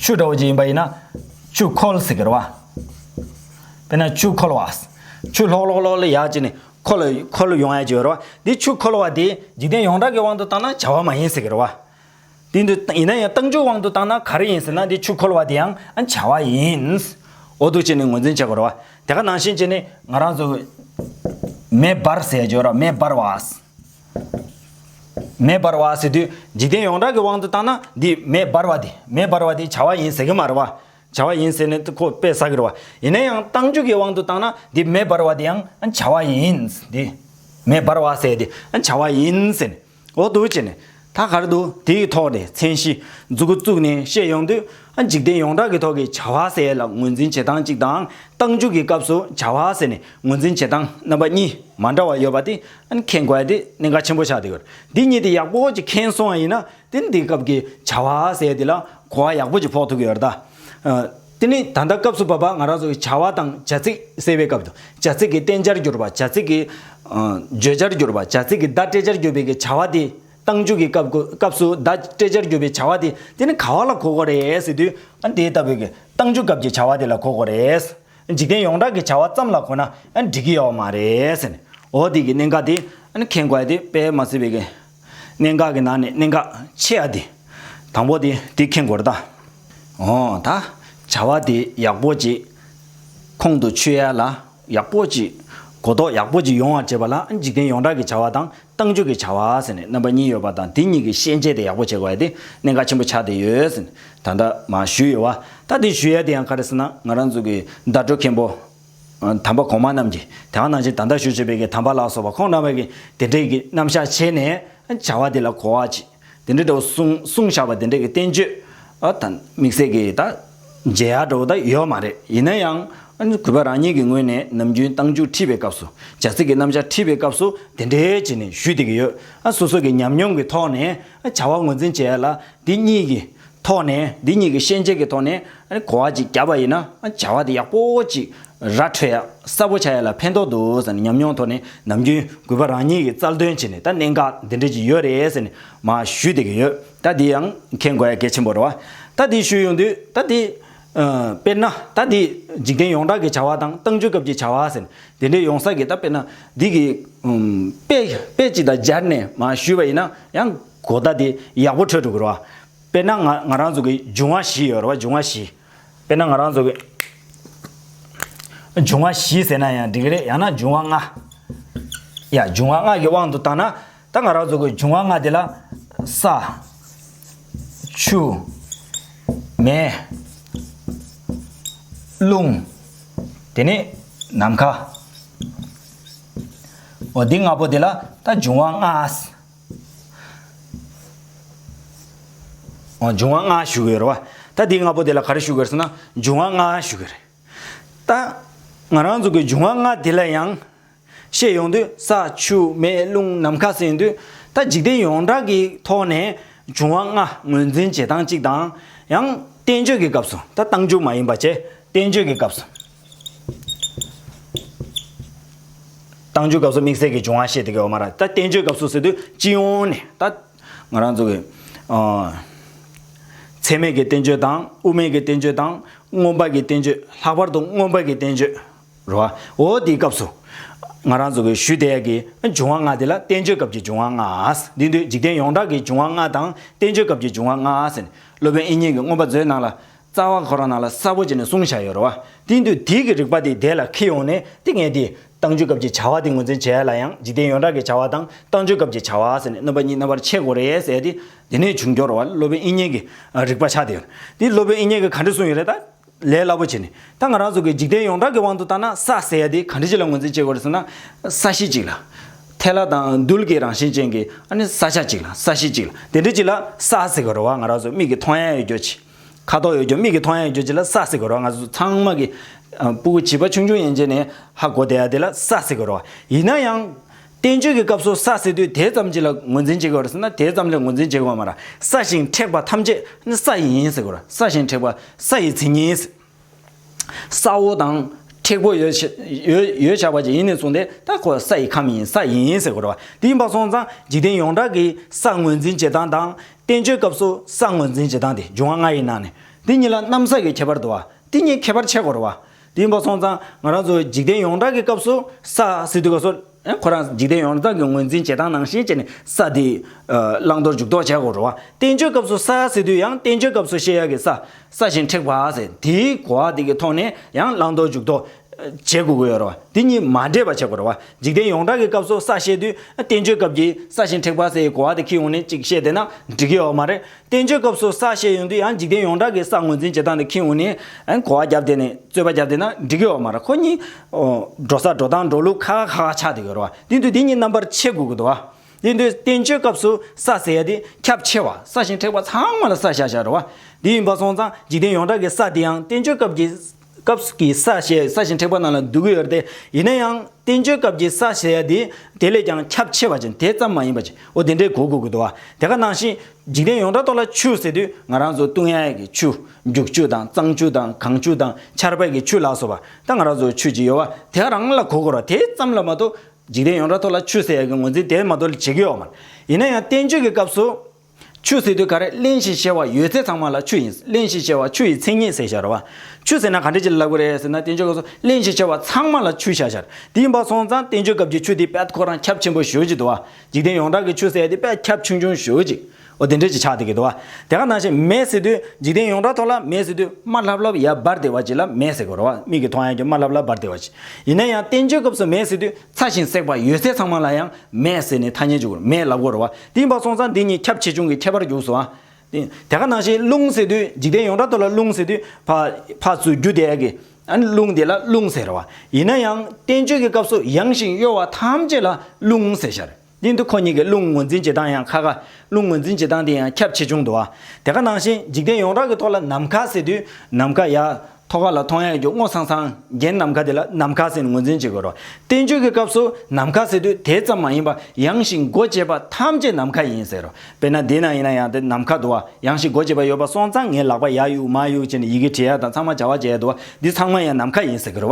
ཆུ་འདྲ་བོ་ཅིག་ཡིན་པ་ཡིན་ན་ཆུ་ཁོལ་ཟེར་གི་རེད་བ། དཔེར་ན་ཆུ་ཁོལ་བ། ཆུ་ལྷོག་ལྷོག་ལྷོག་ལྷོག་ཡག་ཅིག་ནི་ཁོལ་ཁོལ་ཡོང་ཡག་ཅིག་ཡོད་རེད་བ། འདི་ཆུ་ཁོལ་བ་དེ་འཇིག་རྟེན་ཡོངས་གྲགས་ཀྱི་དབང་དུ་བཏང་ན་བྱ་བ་མ་ཡིན་ཟེར་གི་རེད་བ། དེ་འདུག་ཡིན་ན་ཡང་ཏང་ཅུའི་དབང་དུ་བཏང་ན་ག་རེ་ཡིན་ཟེར་ན་འདི་ཆུ་ཁོལ་བ་དེ་ཡང་བྱ་བ་ཡིན། འོ་ཐུག་ཅིག་ནི་ངོས་འཛིན་བྱེད་དགོས་རེད་བ། དེ་ག་ནང་བཞིན་ཅིག་ནི་ང་རང་ཚོ་མེ་འབར་ཟེར་ཡག་ཅིག་ཡོད་རེད་བ་མེ་འབར་བ། མེ་འབར་བ་ཟེར་དུས་འཇིག་རྟེན་ཡོངས་གྲགས་ཀྱི་དབང་དུ་བཏང་ན་འདི་མེ་འབར་བ་དེ་མེ་འབར་བ་དེ་བྱ་བ་ཡིན་ཟེར་གྱི་མ་རེད་བ། བྱ་བ་ཡིན་ཟེར་ནས་ཁོ་དཔེ་བསགས་ཀྱི་རེད་བ། ཡིན་ན་ཡང་གཏང་རྒྱུ་གྱི་དབང་དུ་བཏང་ན་འདི་མེ་འབར་བ་དེ་ཡང་བྱ་བ་ཡིན། འདི་མེ་འབར་བ་ཟེར་དེ་བྱ་བ་ཡིན་ཟེར་ནས་འོ་དུ་བྱས་ནས་ད་གར་དུ་དེའི་ཐོག་ནས་མཚན་གཞི་འཛུགས་སྐུ་བཙུགས་ནས་བཤད་ཡོང་དུས་འཇིག་རྟེན་ཡོངས་གྲགས་ཀྱི་ཐོག་གི་བྱ་བ་ཟེར་ལ་ངོས་འཛིན་བྱེད་སྟངས་གཅིག་དང་གཏང་རྒྱུ་གྱི་སྐབས་སུ་བྱ་བ་ཟེར་ནས་ངོས་འཛིན་བྱེད་སྟངས་རྣམ་པ་གཉིས་མ་འདྲ་བ་ཡོད་པ་དེ་མཁན་བཀའ་དེ་གནད་འགག་ཆེན་པོ་ཆགས་འདུག་འདི་གཉིས་དེ་ཡག་པོ་ཅིག་མཁྱེན་སོང་བ་ཡིན་ན་དེ་ནི་དེའི་སྐབས་ཀྱི་བྱ་བ་ཟེར་དེ་ལ་གོ་བ་ཡག་པོ་ཅིག་ཕོག་ཐུག་གི་ཡོད་རེད་དེ་ནི་ད་ལྟ་སྐབས་སུ་བབ་པ་ང་རང་ཚོ་གི་བྱ་བ་དང་བྱ་ཚིག་གསལ་བའི་སྐབས་དུ་བྱ་ཚིག་གི་བསྟན་བྱར་གྱུར་པ་བྱ་ཚིག་གི་བརྗོད་བྱར་གྱུར་པ་བྱ་ཚིག་གི་བརྡ་སྤྲད་བྱར་གྱུར་པའི་གི་བྱ་བ་དེ་བཏང་འཇུག་གི་སྐབས་སུ་བརྡ་སྤྲད་བྱར་གྱུར་པའི་བྱ་བ་དེ་དེ་ནི་ག་བ་ལ་གོ་གོ་རེད་ཟེར་དུས་ཨ་དེ་ལྟ་བུའི་གི་བཏང་འཇུག་སྐབས་ཀྱི་བྱ་བ་དེ་ལ་གོ་གོ་རེད། འཇིག་རྟེན་ཡོངས་གྲགས་ཀྱི་བྱ་བ་ཙམ་ལ་གོ་ན་འགྲིག་གི་ཡོད་མ་རེད། འོ་དེ་གི་གནད་འགག་དེ་མཁྱེན་དགོས་དེ་དཔེ་མ་ཟེར་བའི་གནད་འགག་གི་ནང་ནས་གནད་འགག་ཆེ་ཡ་དེ་དང་པོ་དེ་དེ་མཁྱེན་དགོས་རེད་ད། འོ་ད་བྱ་བ་དེ་ཡག་པོ་ཅིག་ཁོང་དུ་ཆུད་ཡ་ལ་ཡག་པོ་ཅིག་གོ་རྟོགས་ཡག་པོ་ཅིག་ཡོང་བར་བྱེད་པ་ལ་འཇིག་རྟེན་ཡོངས་གྲགས་ཀྱི་བྱ་བ་དང་བཏང་འཇུག་གི་བྱ་བ་ཟེར་ནས་རྣམ་པ་གཉིས་ཡོད་པ་དང་དེ་གཉིས་ཀྱི་ཤན་འབྱེད་དེ་ཡག་པོ་བྱེད་དགོས་ཡ་དེ་གནད་འགག་ཆེན་པོ་ཆགས་བསྡད་ཡོད་ཟེར་ནས་ད་ལྟ་མ་ཞུས་ཡོད་བ། ད་དེ་ཞུས་ཡ་དེ་ཡང་ག་རེ་ཟེར་ན་ང་རང་ཚོ་གི་ཟླ་སྒྲོལ་མཁན་པོ། དམ་པ་གོང་མ་རྣམས་ཀྱིས་དེ་འང་ནང་བཞིན་ད་ལྟ་ཞུ་བྱེད་པའི་གི་དམ་པ་ལགས་སོ་བ་ཁོང་རྣམ་པ་གིས་དེ་འདྲའི་གི་རྣམ་བཞག་བྱས་ནས་བྱ་བ་དེ་ལ་གོ་བ་བྱེད། དེ་འདྲའི་འདྲ་བོ་གསུངས་བཞག་པ་དེ་འདྲའི་བསྟན་བཅོས་དང་དམིགས་བསལ་གྱི་དང་མཇལ་ཡག་འདྲ་བོ་དག་ཡོད་མ་རེད་ཡིན་ན་ཡང་གུས་པ་རང་ཉིད་ཀྱི་ངོས་ནས་ནམ་རྒྱུན་གཏམ་རྒྱུད་ཁྲིད་པའི་སྐབས་སུ་བྱ་ཚིག་གི་རྣམ་བཞག་ཁྲིད་པའི་སྐབས་སུ་དེ་འདྲའི་བྱས་ནས་ཞུས་བསྡད་ཀྱི་ཡོད་སོ་སོ་གྱི་ཉམས་མྱོང་གི་ཐོག་ནས་བྱ་བ་ངོས་འཛིན་བྱས་ལ་འདི་གཉིས་ཀྱི་ཐོག་ནས་འདི་གཉིས་ཀྱི་ཤེས་བྱེད་ཀྱི་ཐོག་ནས་གོ་བ་ཅིག་བརྒྱབ་པ་ཡིན་ན་བྱ་བ་དེ་ཡག་པོ་ཅིག་ར་འཕྲོད་ཡག་གསལ་པོ་བྱ་ཡ་ལ་ཕན་ཐོག་འདུག་ཟེར་ནས་ཉམས་མྱོང་ཐོག་ནས་ནམ་རྒྱུན་གུས་པ་རང་ཉིད་ཀྱི་རྩལ་འདོན་བྱེད་ནས་ད་གནད་འགག་འདི་འདྲ་ཞིག་ཡོད་རེད་ཟེར་ནས་མ་ཞུས་བསྡད་ཀྱི་ཡོད་ད་འདི་ཡང་མཁྱེན་དགོས་ཡ་གལ་ཆེན་པོ་རེད་བ། ད་འདི་ཞུས་ཡོང་དུས་ད་འདི། དཔེར་ན་ད་འདི་འཇིག་རྟེན་ཡོངས་གྲགས་ཀྱི་བྱ་བ་དང་ཏང་ཙུའི་སྐབས་ཀྱི་བྱ་བ་ཟེར་ནས་དེ་འདྲའི་ཡོང་ས་ཀྱི་ད་དཔེར་ན་འདི་གི། དཔེ་དཔེ་ཅིག་དང་སྦྱར་ནས་མ་ཞུས་པ་ཡིན་ན་ཡང་གོ་ད་འདི་ཡག་པོ་འཕྲོད་འགྲོ་གི་རེད་བ། དཔེར་ན་ང་ང་རང་ཚོ་གི་འབྱུང་བ་བཞི་ཡོད་རེད་བ་འབྱུང་བ་བཞི། དཔེར་ན་ང་རང་ཚོ། འབྱུང་བ་བཞི་ཟེར་ན་ཡང་འགྲིག་གི་རེད་ཡང་ན་འབྱུང་བ་ལྔ། ཡ་འབྱུང་བ་ལྔ་གི་དབང་དུ་བཏང་ན། ད་ང་རང་ཚོ་གི་འབྱུང་བ་ལྔ་དེ་ལ། ས། ཆུ། མེ། རླུང། དེ་ནས་ནམ་མཁའ། འོ་འདི་ལྔ་པོ་དེ་ལ་ད་འབྱུང་བ་ལྔ། འབྱུང་བ་ལྔ་ཞུ་གི་ཡོད་རེད་བ། ད་དེ་ལྔ་པོ་དེ་ལ་ག་རེ་ཞུ་གི་ཡོད་རེད་ཟེར་ན་འབྱུང་བ་ལྔ་ཞུ་གི་རེད། ད་ང་རང་ཚོ་གི་འབྱུང་བ་ལྔ་དེ་ལ་ཡང་བཤད་ཡོང་དུས་ས་ཆུ་མེ་རླུང་ནམ་མཁའ་ཟེར་ཡོང་དུས་ད་འཇིག་རྟེན་ཡོངས་གྲགས་ཀྱི་ཐོག་ནས་འབྱུང་བ་ལྔ་ངོས་འཛིན་བྱེད་སྟངས་གཅིག་དང་ཡང་བསྟན་བཅོས་ཀྱི་སྐབས་སུ་ད་བཏང་འཇུག་མ་ཡིན་པ་བཅས་བསྟན་བཅོས་ཀྱི་སྐབས་སུ། བཏང་འཇུག་སྐབས་སུ་དམིགས་བསལ་གྱི་འབྱུང་བ་ཤེས་དེ་གའི་འོག་མ་ར་ད་བསྟན་བཅོས་སྐབས་སུ་ཟེར་དུས་སྤྱི་ཡོངས་ནས་ད། ང་རང་ཚོ་གི། ཚད་མེད་ཀྱི་བསྟན་བཅོས་དང་དབུ་མེད་ཀྱི་བསྟན་བཅོས་དང་མངོན་པ་གྱི་བསྟན་བཅོས་ལྷག་པར་དུ་མངོན་པ་གྱི་བསྟན་བཅོས་རོ། འོ་དེའི་སྐབས་སུ། ང་རང་ཚོ་གི་ཞུ་བདེ་ཡག་གི་འབྱུང་བ་ལྔ་དེ་ལ་བསྟན་བཅོས་སྐབས་ཀྱི་འབྱུང་བ་ལྔ་འདི་དུས་འཇིག་རྟེན་ཡོངས་གྲགས་ཀྱི་འབྱུང་བ་ལྔ་དང་བསྟན་བཅོས་སྐབས་ཀྱི་འབྱུང་བ་ལྔ་ཟེར་ནས་སློབ་དཔོན་ཨིན་ཉིང་གི་མངོན་པ་མཛོད་ནང་ལ་རྩ་བ་ཁོ་རང་ནང་ལ་གསལ་པོ་བྱས་ནས་གསུང་བྱ་ཡོད་རེད་བ། དེ་འདུག་དེའི་གི་རིག་པ་དེ་དེ་ལ་ཁེལ་ཡོང་ནས་དེ་ངས་དེ། ཏང་ཆོས་སྐབས་ཀྱི་བྱ་བ་དེ་ངོས་འཛིན་བྱས་ལ་ཡང་འཇིག་རྟེན་ཡོངས་གྲགས་ཀྱི་བྱ་བ་དང་ཏང་ཆོས་སྐབས་ཀྱི་བྱ་བ་ཟེར་ནས་གནོད་པ་གཉིས་རྣམ་པར་ཕྱེ་དགོས་རེད་ཟེར་ཏེ། དེ་ནས་བྱུང་སྐྱོར་བ་སློབ་དཔོན་དབྱིན་གཉེན་གྱི་རིག་པ་ཆགས་ཏེ་ཡོད། དེ་སློབ་དཔོན་དབྱིན་གཉེན་གྱི་ག་འདྲི་གསུང་ཡོད་རེད་ད། ལས་སླ་པོ་བྱས་ནས། ད་ང་རང་ཚོ་གི་འཇིག་རྟེན་ཡོངས་གྲགས་ཀྱི་དབང་དུ་བཏང་ན་ས་ཟེར་དེ་ག་འདྲི་ཞིག་ལ་ངོས་འཛིན་བྱེད་དགོས་རེད་ཟེར་ན། ས་གཞི་ཅིག་ལ། ཐལ་ལ་དང་རྡུལ་གྱི་རང་བཞིན་ཅན་གྱི་ཨ་ནི་ས་ཆ་ཅིག་ལ་ས་གཞི་ཅིག་ལ་དེ་འདྲི་ཅིག་ལ་ས་ཟེར་གི་རེད་བ་ང་རང་ཚོ་མིག་གི་མཐོང་ཡ་ཡོད་རྒྱུ་ཅི། ཁ་དོག་ཡོད་རྒྱུ་མིག་གིས་མཐོང་ཡ་ཡོད་རྒྱུ་བྱས་ལ་ས་ཟེར་དགོས་རོགས་ང་ཚོ་ཚང་མ་གི། སྤུ་གུ་བྱིས་པ་ཆུང་ཆུང་ཡན་ཆད་ནས་ཧ་གོ་བསྡད་ཡ་དེ་ལ་ས་ཟེར་དགོས་རོགས་ཡིན་ན་ཡང། བསྟན་བཅོས་ཀྱི་སྐབས་སུ་ས་ཟེར་དུས་དེ་ཙམ་གྱིས་ལ་ངོས་འཛིན་བྱེད་དགོས་རེད་ཟེར་ན་དེ་ཙམ་ལས་ངོས་འཛིན་བྱེད་དགོས་མ་ར་ས་ཞིང་མཁྲེགས་པ་ཐམས་ཅད་ནི་ས་ཡིན་ཟེར་དགོས་ར་ས་ཞིང་མཁྲེགས་པ་ས་ཡི་མཚན་ཉིད། ས་འོག་དང། མཁྲེགས་པོ་ཡོད། ཡོད་བྱ་བ་ཅིག་ཡིན་ནས་བཟུང་སྟེ་ད་ཁོ་ས་ཡི་ཁམས་ཡིན་ས་ཡིན་ཟེར་དགོས་རོ། དེ་ཡིན་པ་སོང་ཙང་འཇིག་རྟེན་ཡོངས་གྲགས་ཀྱི་ས་ངོས་འཛིན་བྱེད་སྟངས་དང། བསྟན་བཅོས་སྐབས་སུ་ས་ངོས་འཛིན་བྱེད་སྟངས་ཏེ་འབྱུང་བ་ལྔ་ཡི་ནང་ནས་འདི་གཉིས་ལ་གནམ་ས་ཀྱི་ཁྱད་པར་དུ་བ་དེ་གཉིས་ཁྱད་པར་ཕྱེད་དགོས་རོ། དེ་ཡིན་པ་སོང་ཙང་ང་རང་ཚོའི་འཇིག་རྟེན་ཡོངས་གྲགས་ཀྱི་སྐབས་སུ་ས་སི་ཏུ་ཀ་སོ། ཁོ་རང་འཇིག་རྟེན་ཡོངས་རྫོགས་ཀྱི་ངོས་འཛིན་བྱེད་སྟངས་ནང་ཞེས་བྱས་ནས་ས་དེའི། བླང་དོར་འཇུག་ལྡོག་བྱེད་སྒོར་རོལ་བ། བསྟན་བཅོས་སྐབས་སུ་ས་ཟེར་དུས་ཡང་བསྟན་བཅོས་སྐབས་སུ་བཤད་ཡག་གི་ས། ས་བཞིན་མཁྲེགས་པ་ཟེར་དེའི་གོ་བ་དེ་གི་ཐོག་ནས་ཡང་བླང་དོར་འཇུག་ལྡོག། བྱེད་དགོས་ཀྱི་ཡོད་རེད་བ། དེ་གཉིས་མ་འདྲེས་པ་བྱེད་དགོས་རེད་བ། འཇིག་རྟེན་ཡོངས་གྲགས་ཀྱི་སྐབས་སུ་ས་བཤད་དུས་བསྟན་བཅོས་སྐབས་ཀྱི་ས་བཞིན་མཁྲེགས་པ་ཟེར་གོ་བ་དེ་ཁྱི་ཡོངས་ནས་གཅིག་བཤད་བསྡད་ན་འགྲིག་གི་ཡོད་མ་རེད། བསྟན་བཅོས་སྐབས་སུ་ས་ཞེས་ཡོང་དུས་ཡང་འཇིག་རྟེན་ཡོངས་གྲགས་ཀྱི་ས་ངོས་འཛིན་བྱེད་སྟངས་དེ་ཁྱེད་འུ་ནས་གོ་བ་བརྒྱབ་དེ་ནས་རྩོད་པ་བརྒྱབ་དེ་ན་འགྲིག་གི་ཡོད་མ་རེད་ཁོ་གཉིས། འགྲོ་ས་འགྲོ་སྟངས་འགྲོ་ལུགས་ཁ་ཁ་ཁ་ཆགས་དེ་ཡོད་རེད་བ་དེ་འདུག་དེ་གཉིས་རྣམ་པར་ཕྱེ་དགོས་ཀྱི་འདུག་བ་དེ་འདུག་བསྟན་བཅོས་སྐབས་སུ་ས་ཟེར་ཡ་དེ་ཁྱབ་ཆེ་བ་ས་ཞིང་མཁྲེགས་པ་ཚང་མ་ལ་ས་ཞེས་བྱ་རེད་བ་དེ་ཡིན་པ་སོང་ཙང་འཇིག་རྟེན་ཡོངས་གྲགས་ཀྱི་ས་དེ་ཡང་བསྟན་བཅོས་སྐབས་ཀྱི་སྐབས་ཀྱི་ས་ཞེས་ས་ཞིང་མཁྲེགས་པ་རྣམས་ལ་འདུ་གི་ཡོད་རེད་དེ། ཡིན་ན་ཡང་བསྟན་བཅོས་སྐབས་ཀྱི་ས་ཞེས་ཡ་དེ་དེ་ལས་ཀྱང་ཁྱབ་ཆེ་བ་ཅན་དེ་ཙམ་མ་ཡིན་པ་ཅི་འོ་དེ་འདྲའི་གོ་དགོས་ཀྱི་འདུག་བ་དེ་ག་ནང་བཞིན་འཇིག་རྟེན་ཡོངས་གྲགས་ཐོག་ལ་ཆུ་ཟེར་དུས་ང་རང་ཚོ་ཏུང་ཡ་ཡ་གི་ཆུ། རྒྱུག་ཆུ་དང་གཙང་ཆུ་དང་གངས་ཆུ་དང་ཆར་བལ་གྱི་ཆུ་ལགས་སོ་བ་ད་ང་རང་ཚོ་ཆུ་ཅིག་ཡོད་བ་དེ་ག་རང་ལ་གོ་དགོས་ར་དེ་ཙམ་ལ་མ་གཏོགས་འཇིག་རྟེན་ཡོངས་གྲགས་ཐོག་ལ་ཆུ་ཟེར་ཡ་གི་ངོས་འཛིན་དེ་མ་གཏོགས་ལ་བྱེད་ཀྱི་ཡོད་མ་རེད་ཡིན་ན་ཡང་བསྟན་བཅོས་ཀྱི་སྐབས་སུ། ཆུ་ཟེར་དུས་ག་རེ་གླེང་ཞེས་བཤད་བ་ཡོད་ཚད་ཚང་མ་ལ་ཆུ་ཡིན་གླེང་ཞེས་བཤད་བ་ཆུ་ཡི་མཚན་ཉིད་ཟེར་ཤར་བ། ཆུ་ཟེར་ན་ག་འདྲ་ཅིག་ལབ་གི་རེད་ཟེར་ན་བསྟན་བཅོས་སྐབས་སུ་གླེང་ཞེས་བཤད་བ་ཚང་མ་ལ་ཆུ་ཤར་ཤར་དེ་ཡིན་པ་སོང་ཙང་བསྟན་བཅོས་སྐབས་ཀྱི་ཆུ་དེ་དཔལ་ཁོ་རང་ཁྱབ་ཆེན་པོ་ཞོལ་གྱི་དུ་བ་འཇིག་རྟེན་ཡོངས་གྲགས་ཀྱི་ཆུ་ཟེར་དེ་དཔལ་ཁྱབ་ཆུང་ཆུང་ཞོལ་གྱི་འོ་དེ་འདྲ་ཅིག་ཆགས་འདུག་གི་དུ་བ་དེ་ག་ནང་བཞིན་མེ་ཟེར་དུས་འཇིག་རྟེན་ཡོངས་གྲགས་ཐོག་ལ་མེ་ཟེར་དུས་དམར་ལྷབ་ལྷབ་ཡལ་འབར་བདེ་བ་ཅིག་ལ་མེ་ཟེར་གི་རོ་བ་མིག་གིས་མཐོང་ཡང་གྱི་དམར་ལྷབ་ལྷབ་འབར་བདེ་བ་ཅིག་ཡིན་ན་ཡང་བསྟན་བཅོས་སྐབས་སུ་མེ་ཟེར་དུས་ཚ་ཞིང་སྲེག་པ་ཡོད་ཚད་ཚང་མ་ལ་ཡང་མེ་ཟེར་ནི་ཐ་སྙད་འཇུག་གོ་མེ་ལབ་གོ་རོ་བ་གཏིང་དཔག་སོང་ཙང་འདི་གཉིས་ཁྱབ་ཆེ་ཆུང་གི་ཁྱད་པར་རྒྱུགས་སོ། དེ་ག་ནང་བཞིན་རླུང་ཟེར་དུས་འཇིག་རྟེན་ཡོངས་གྲགས་དུ་ལ་རླུང་ཟེར་དུས་ཕ་ཚུལ་རྒྱུ་དེ་ཡག་གི། རླུང་དེ་ལ་རླུང་ཟེར་བ། ཡིན་ན་ཡང་བསྟན་བཅོས་ཀྱི་སྐབས་སུ་ཡངས་ཤིང་གཡོ་བ་ཐམས་ཅད་ལ་རླུང་ཟེར་ཤར། དེ་འདུག་ཁོ་གཉིས་ཀྱི་རླུང་ངོས་འཛིན་བྱེད་སྟངས་ཡང་ཁ་ཁ། རླུང་ངོས་འཛིན་བྱེད་སྟངས་དེ་ཡང་ཁྱབ་ཆེ་ཆུང་དུ་བ། དེ་ག་ནང་བཞིན་འཇིག་རྟེན་ཡོངས་གྲགས་ཀྱི་ཐོག་ལ་ནམ་མཁའ་ཟེར་དུས་ནམ་མཁའ་ཡག། ཐོ་ག་ལ་མཐོང་ཡས་ཀྱི་སྔོ་ཚང་ཚང་རྒྱན་ནམ་མཁའ་དེ་ལ་ནམ་མཁའ་ཟེར་ནས་ངོས་འཛིན་བྱེད་དགོས་རོགས། བསྟན་བཅོས་ཀྱི་སྐབས་སུ་ནམ་མཁའ་ཟེར་དུས་དེ་ཙམ་མ་ཡིན་པར་ཡངས་ཤིང་སྒོ་འབྱེད་པ་ཐམས་ཅད་ནམ་མཁའ་ཡིན་ཟེར་རོ། དཔེར་ན་འདི་ན་ཡིན་ན་ཡང་དེ་ནམ་མཁའ་འདུག་ཨ། ཡངས་ཤིང་སྒོ་འབྱེད་པ་ཡོད་པ་སོང་ཙང་ངའི་ལག་པ་ཡག་གཡུག་མ་གཡུག་བྱས་ནས་ཡི་གེ་བྲིས་ཡ་དང་ཚང་མ་བྱ་བ་བྱས་ཡ་འདུག་ཨ། འདི་ཚང་མ་ཡང་ནམ་མཁའ་ཡིན་ཟེར་གི་རོ།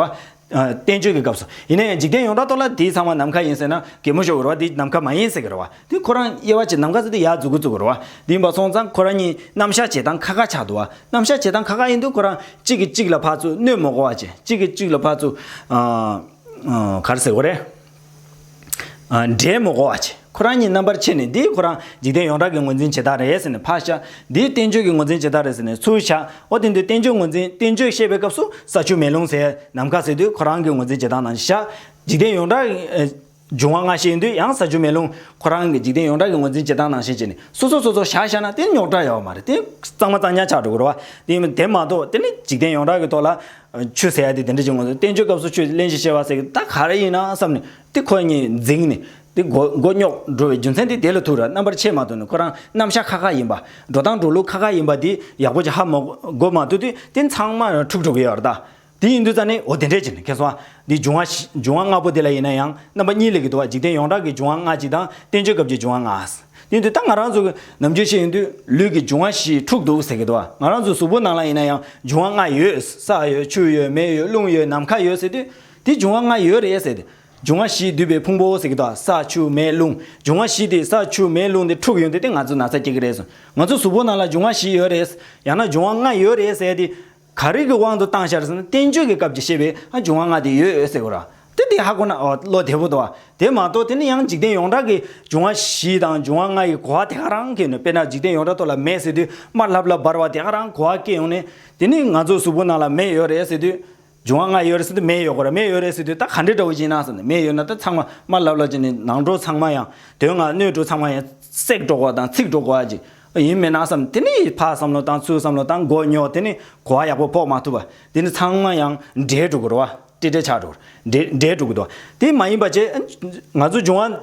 བསྟན་བཅོས་ཀྱི་སྐབས་སུ། ཡིན་ན་ཡང་འཇིག་རྟེན་ཡོངས་གྲགས་ཐོག་ལ་དེའི་ཚང་མ་ནམ་མཁའ་ཡིན་ཟེར་ན། གད་མོ་ཤོར་བའི་རེ་བ་དེ་ནམ་མཁའ་མ་ཡིན་ཟེར་གྱི་རེ་བ། དེ་ཁོ་རང་དབྱེ་བ་བྱེད་ནམ་མཁའ་ཟེར་དུས་ཡར་འཛུགས་གུ་ཚུགས་ཀྱི་རེ་བ། དེ་ཡིན་པ་སོང་ཙང་ཁོ་རང་གཉིས་ནམ་བཞག་བྱེད་སྟངས་ཁ་ཁ་ཆགས་འདུག་བ། ནམ་བཞག་བྱེད་སྟངས་ཁ་ཁ་ཡིན་དུས་ཁོ་རང་གཅིག་གིས་གཅིག་ལ་ཕར་ཚུར་གནོད་མོ་གོ་བ་བྱེད་གཅིག་གིས་གཅིག་ལ་ཕར་ཚུར། གར་ཟེར་གོ་རེ། འདྲེ་མོ་ཨོ་ཆེ། ཁོ་རང་ཉིད་རྣམ་པར་ཕྱེ་ནས་འདི་ཁོ་རང་འཇིག་རྟེན་ཡོངས་གྲགས་ཀྱི་ངོས་འཛིན་བྱེད་སྟངས་རེད་ཟེར་ནས་ཕར་བཞག་འདི་བསྟན་བཅོས་ཀྱི་ངོས་འཛིན་བྱེད་སྟངས་རེད་ཟེར་ནས་ཚུར་བཞག་ཨོ་དེ་འདི་བསྟན་བཅོས་ངོས་འཛིན་བསྟན་བཅོས་བཤད་པའི་སྐབས་སུ་ས་ཆུ་མེ་རླུང་ཟེར་ནམ་མཁའ་ཟེར་དུས་ཁོ་རང་གི་ངོས་འཛིན་བྱེད་སྟངས་ནང་བཞག་འཇིག་རྟེན་ཡོངས་གྲགས། འབྱུང་བ་སྔ་ཕྱི་ཡིན་དུས་ཡང་ས་ཆུ་མེ་རླུང་ཁོ་རང་གི་འཇིག་རྟེན་ཡོངས་གྲགས་ཀྱི་ངོས་འཛིན་བྱེད་སྟངས་ནང་བཞིན་བྱས་ནས་སོ་སོ་སོ་སོར་བཞག་བཞག་ན་དེ་ནི་རྙོག་དྲ་ཡོད་པ་མ་རེད་དེ་གཙང་མ་གཙང་ཉག་ཆགས་འགྲོ་དགོས་རེད་བ། དེ་མ་གཏོགས་དེ་ནི་འཇིག་རྟེན་ཡོངས་གྲགས་ཀྱི་ཐོག་ལ་ཆོས་ཟེར་ཡ་དེ་དེ་འདྲ་ཅིག་ངོ། བསྟན་བཅོས་སྐབས་སུ་ཆོས་གླེང་བཞིན་ཤེས་པ་ཟེར་གི་ད་ག་རེ་ཡིན་ན་བསམ་ནས་དེ་ཁོ་གཉིས་འཛིངས་ནས་དེ་མགོ་རྙོག་འགྲོ་བའི་རྒྱུ་མཚན་དེ་དེ་ལ་ཐུག་ར་རྣམ་པར་ཕྱེ་མ་ཐུག་ནས་ཁོ་རང་རྣམ་བཞག་ཁ་ཁ་ཡིན་པ། འགྲོ་སྟངས་འགྲོ་ལུགས་ཁ་ཁ་ཡིན་པ་དེ་ཡག་པོ་ཅིག་ཧ་མ་གོ་མ་ཐུག་དུས་དེ་ཚང་མ་འཁྲུག་འཁྲུག་གི་ཡོད་ར་ད། དེ་ཡིན་དུས་ཙ་ནས་འོ་དེ་འདྲས་ཅིག་ཁེ་སོང་ཨ། དེ་འབྱུང་བ་འབྱུང་བ་ལྔ་པོ་དེ་ལ་ཡིན་ན་ཡང་རྣམ་པ་གཉིས་ལས་གི་འདུག་བ་འཇིག་རྟེན་ཡོངས་གྲགས་ཀྱི་འབྱུང་བ་ལྔ་གཅིག་དང་བསྟན་བཅོས་སྐབས་ཀྱི་འབྱུང་བ་ལྔ། ནི་འདི་ལྟར་ང་རང་ཚོ་ནམ་རྒྱུན་ཤེས་ཡོན་དུས་ལུས་ཀྱི་འབྱུང་བ་བཞི་དྲུག་འདུག་ཟེར་གྱི་འདུག་ང་རང་ཚོའི་གཟུགས་པོ་ནང་ལ་ཡིན་ན་ཡང་འབྱུང་བ་ལྔ་ཡོད། ས་ཡོད་ཆུ་ཡོད་མེ་ཡོད་རླུང་ཡོད་ནམ་མཁའ་ཡོད་ཟེར་དུས་དེ་འབྱུང་བ་ལྔ་ཡོད་རེད་ཟེར་ཏེ། འབྱུང་བ་བཞིས་བསྡུས་པའི་ཕུང་པོའོ་ཟེར་གྱི་འདུག་ས་ཆུ་མེ་རླུང་འབྱུང་བ་བཞི་དེ་ས་ཆུ་མེ་རླུང་དེ་འཁྲུག་ཡོང་དུས་དེ་ང་ཚོའི་ན་ཚ་སྐྱེ་གི་རེད་ཟེར། ང་ཚོའི་གཟུགས་པོ་ནང་ལ་འབྱུང་བ་བཞི་ཡོད་རེད། ཡང་ན་འབྱུང་བ་ལྔ་ཡོད་རེད་ཟེར་དུས། ག་རིགས་ཀྱི་དབང་དུ་བཏང་ཤར་ཟིན་ན་བསྟན་བཅོས་ཀྱི་སྐབས་ཀྱི་བཤད་པའི་འབྱུང་བ་ལྔ་དེ་ཡོད་ཟེར་དགོས་ར་དེ་དེ་ཧ་གོ་ན་བློ་བདེ་བོ་འདུག་ཨ་དེ་མ་གཏོགས་དེ་ནི་ཡང་འཇིག་རྟེན་ཡོངས་གྲགས་ཀྱི་འབྱུང་བ་བཞི་དང་འབྱུང་བ་ལྔ་ཡི་གོ་བ་དེ་ག་རང་གིས་ནུས་དཔེར་ན་འཇིག་རྟེན་ཡོངས་གྲགས་ཐོག་ལ་མེ་ཟེར་དུས་དམར་ལྷབ་ལྷབ་འབར་བ་དེ་ག་རང་གོ་བ་སྐྱེ་ཡོང་ནས་དེ་ནི་ང་ཚོའི་གཟུགས་པོ་ནང་ལ་མེ་ཡོད་རེད་ཟེར་དུས་འབྱུང་བ་ལྔ་ཡོད་རེད་ཟེར་དུས་མེ་ཡོད་དགོས་ར་མེ་ཡོད་རེད་ཟེར་དུས་ད་ག་འདྲའི་དྲ་བོ་ཞིག་ཡིན་ན་ཟེར་ནས་མེ་ཡོད་ན་ད་ཚང་མ་དམར་ལྷབ་ལྷབ་ཀྱི་ནི་ནང་གྲོ་ཚང་མ་ཡང་དོན་ལྔ་སྣོད་གྲོ་ཚང་མ་ཡང་སྲེག་འགྲོ་གོ་བ་དང་འཚིག་འགྲོ་གོ་བ་ཅིག་ཡིན་མི་སྣང་བསམ་དེ་ནི་ཡིད་འཕགས་བསམ་བློ་དང་ཚུལ་བསམ་བློ་དང་མགོ་རྙོག་དེ་ནི་གོ་བ་ཡག་པོ་ཕོག་མ་ཐུབ་པ་དེ་ནི་ཚང་མ་ཡང་འདྲེས་འགྲོ་གི་རོ་བ་ཏི་ཏྲེ་ཆགས་འགྲོ་གི་རེད་འདྲེས་འགྲོ་གི་འདུག་དེ་མ་ཡིན་པ་ཅི་ང་ཚོ་འབྱུང་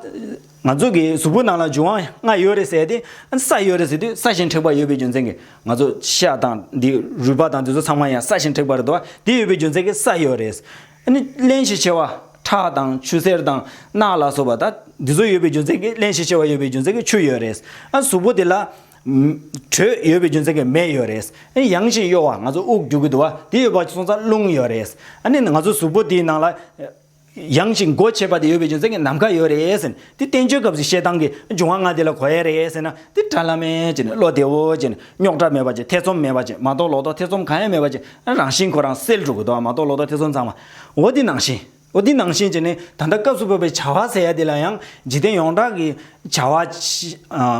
བ་ང་ཚོ་གི་གཟུགས་པོ་ནང་ལ་འབྱུང་བ་ལྔ་ཡོད་རེད་ཟེར་ཏེ་ས་ཡོད་རེད་ཟེར་དུས་ས་ཞིང་འཁྲེགས་པ་ཡོད་པའི་རྒྱུ་མཚན་གྱིས་ང་ཚོ་ཤ་དང་འདི་རུས་པ་དང་འདི་ཚོ་ཚང་མ་ཡང་ས་ཞིང་འཁྲེགས་པ་རེད་དོ་དེ་ཡོད་པའི་རྒྱུ་མཚན་གྱིས་ས་ཡོད་རེད། རླན་ཞེས་བྱ་བ་ཁྲག་དང་ཆུ་སེར་དང་རྣག་ལ་སོགས་པ་དང་འདི་ཚོ་ཡོད་པའི་རྒྱུ་མཚན་གྱིས་རླན་ཞེས་བྱ་བ་ཡོད་པའི་རྒྱུ་མཚན་གྱིས་ཆུ་ཡོད་རེད། གཟུགས་པོ་དེ་ལ། དྲོད་ཡོད་པའི་རྒྱུ་མཚན་གྱིས་མེ་ཡོད་རེད། ཡང་ཞིག་གཡོ་བ་ང་ཚོ་དབུགས་རྒྱུག་གི་འདུག་བ་དེ་ཡོད་པ་སོང་ཙང་རླུང་ཡོད་རེད། ང་ཚོ་གཟུགས་པོ་དེའི་ནང་ལ། ཡང་ཞིག་མགོ་ཆེ་བ་དེ་ཡོད་པའི་རྒྱུ་མཚན་གྱིས་ནམ་མཁའ་ཡོད་རེད། དེ་བསྟན་བཅོས་སྐབས་སུ་བཤད་སྟངས་ཀྱི་འབྱུང་བ་ལྔ་དེ་ལ་གོ་ཡས་རེད་ཟེར་ན་དེ་དགྲ་བླ་མའི་ཅེས་ནས་བློ་བདེ་བོ་ཅེས་ནས་རྙོག་དྲ་མེད་པ་ཅེས་ཐེ་ཚོམ་མེད་པ་ཅེས་མ་རྟོགས་ལོག་རྟོག་ཐེ་ཚོམ་གང་ཡང་མེད་པ་ཅེས་རང་བཞིན་ཁོ་རང་སེལ་འགྲོ་དགོས་དོགས་མ་རྟོགས་ལོག་རྟོག་ཐེ་ཚོམ་ཚང་མ་འོ་དེ་ནང་བཞིན་འོ་དེ་ནང་བཞིན་ཅེས་ནས་ད་ལྟ་སྐབས་སུ་བབས་པའི་བྱ་བ་ཟེར་ཡ་དེ་ལ་ཡང་འཇིག་རྟེན་ཡོངས་གྲགས་ཀྱི་བྱ་བ་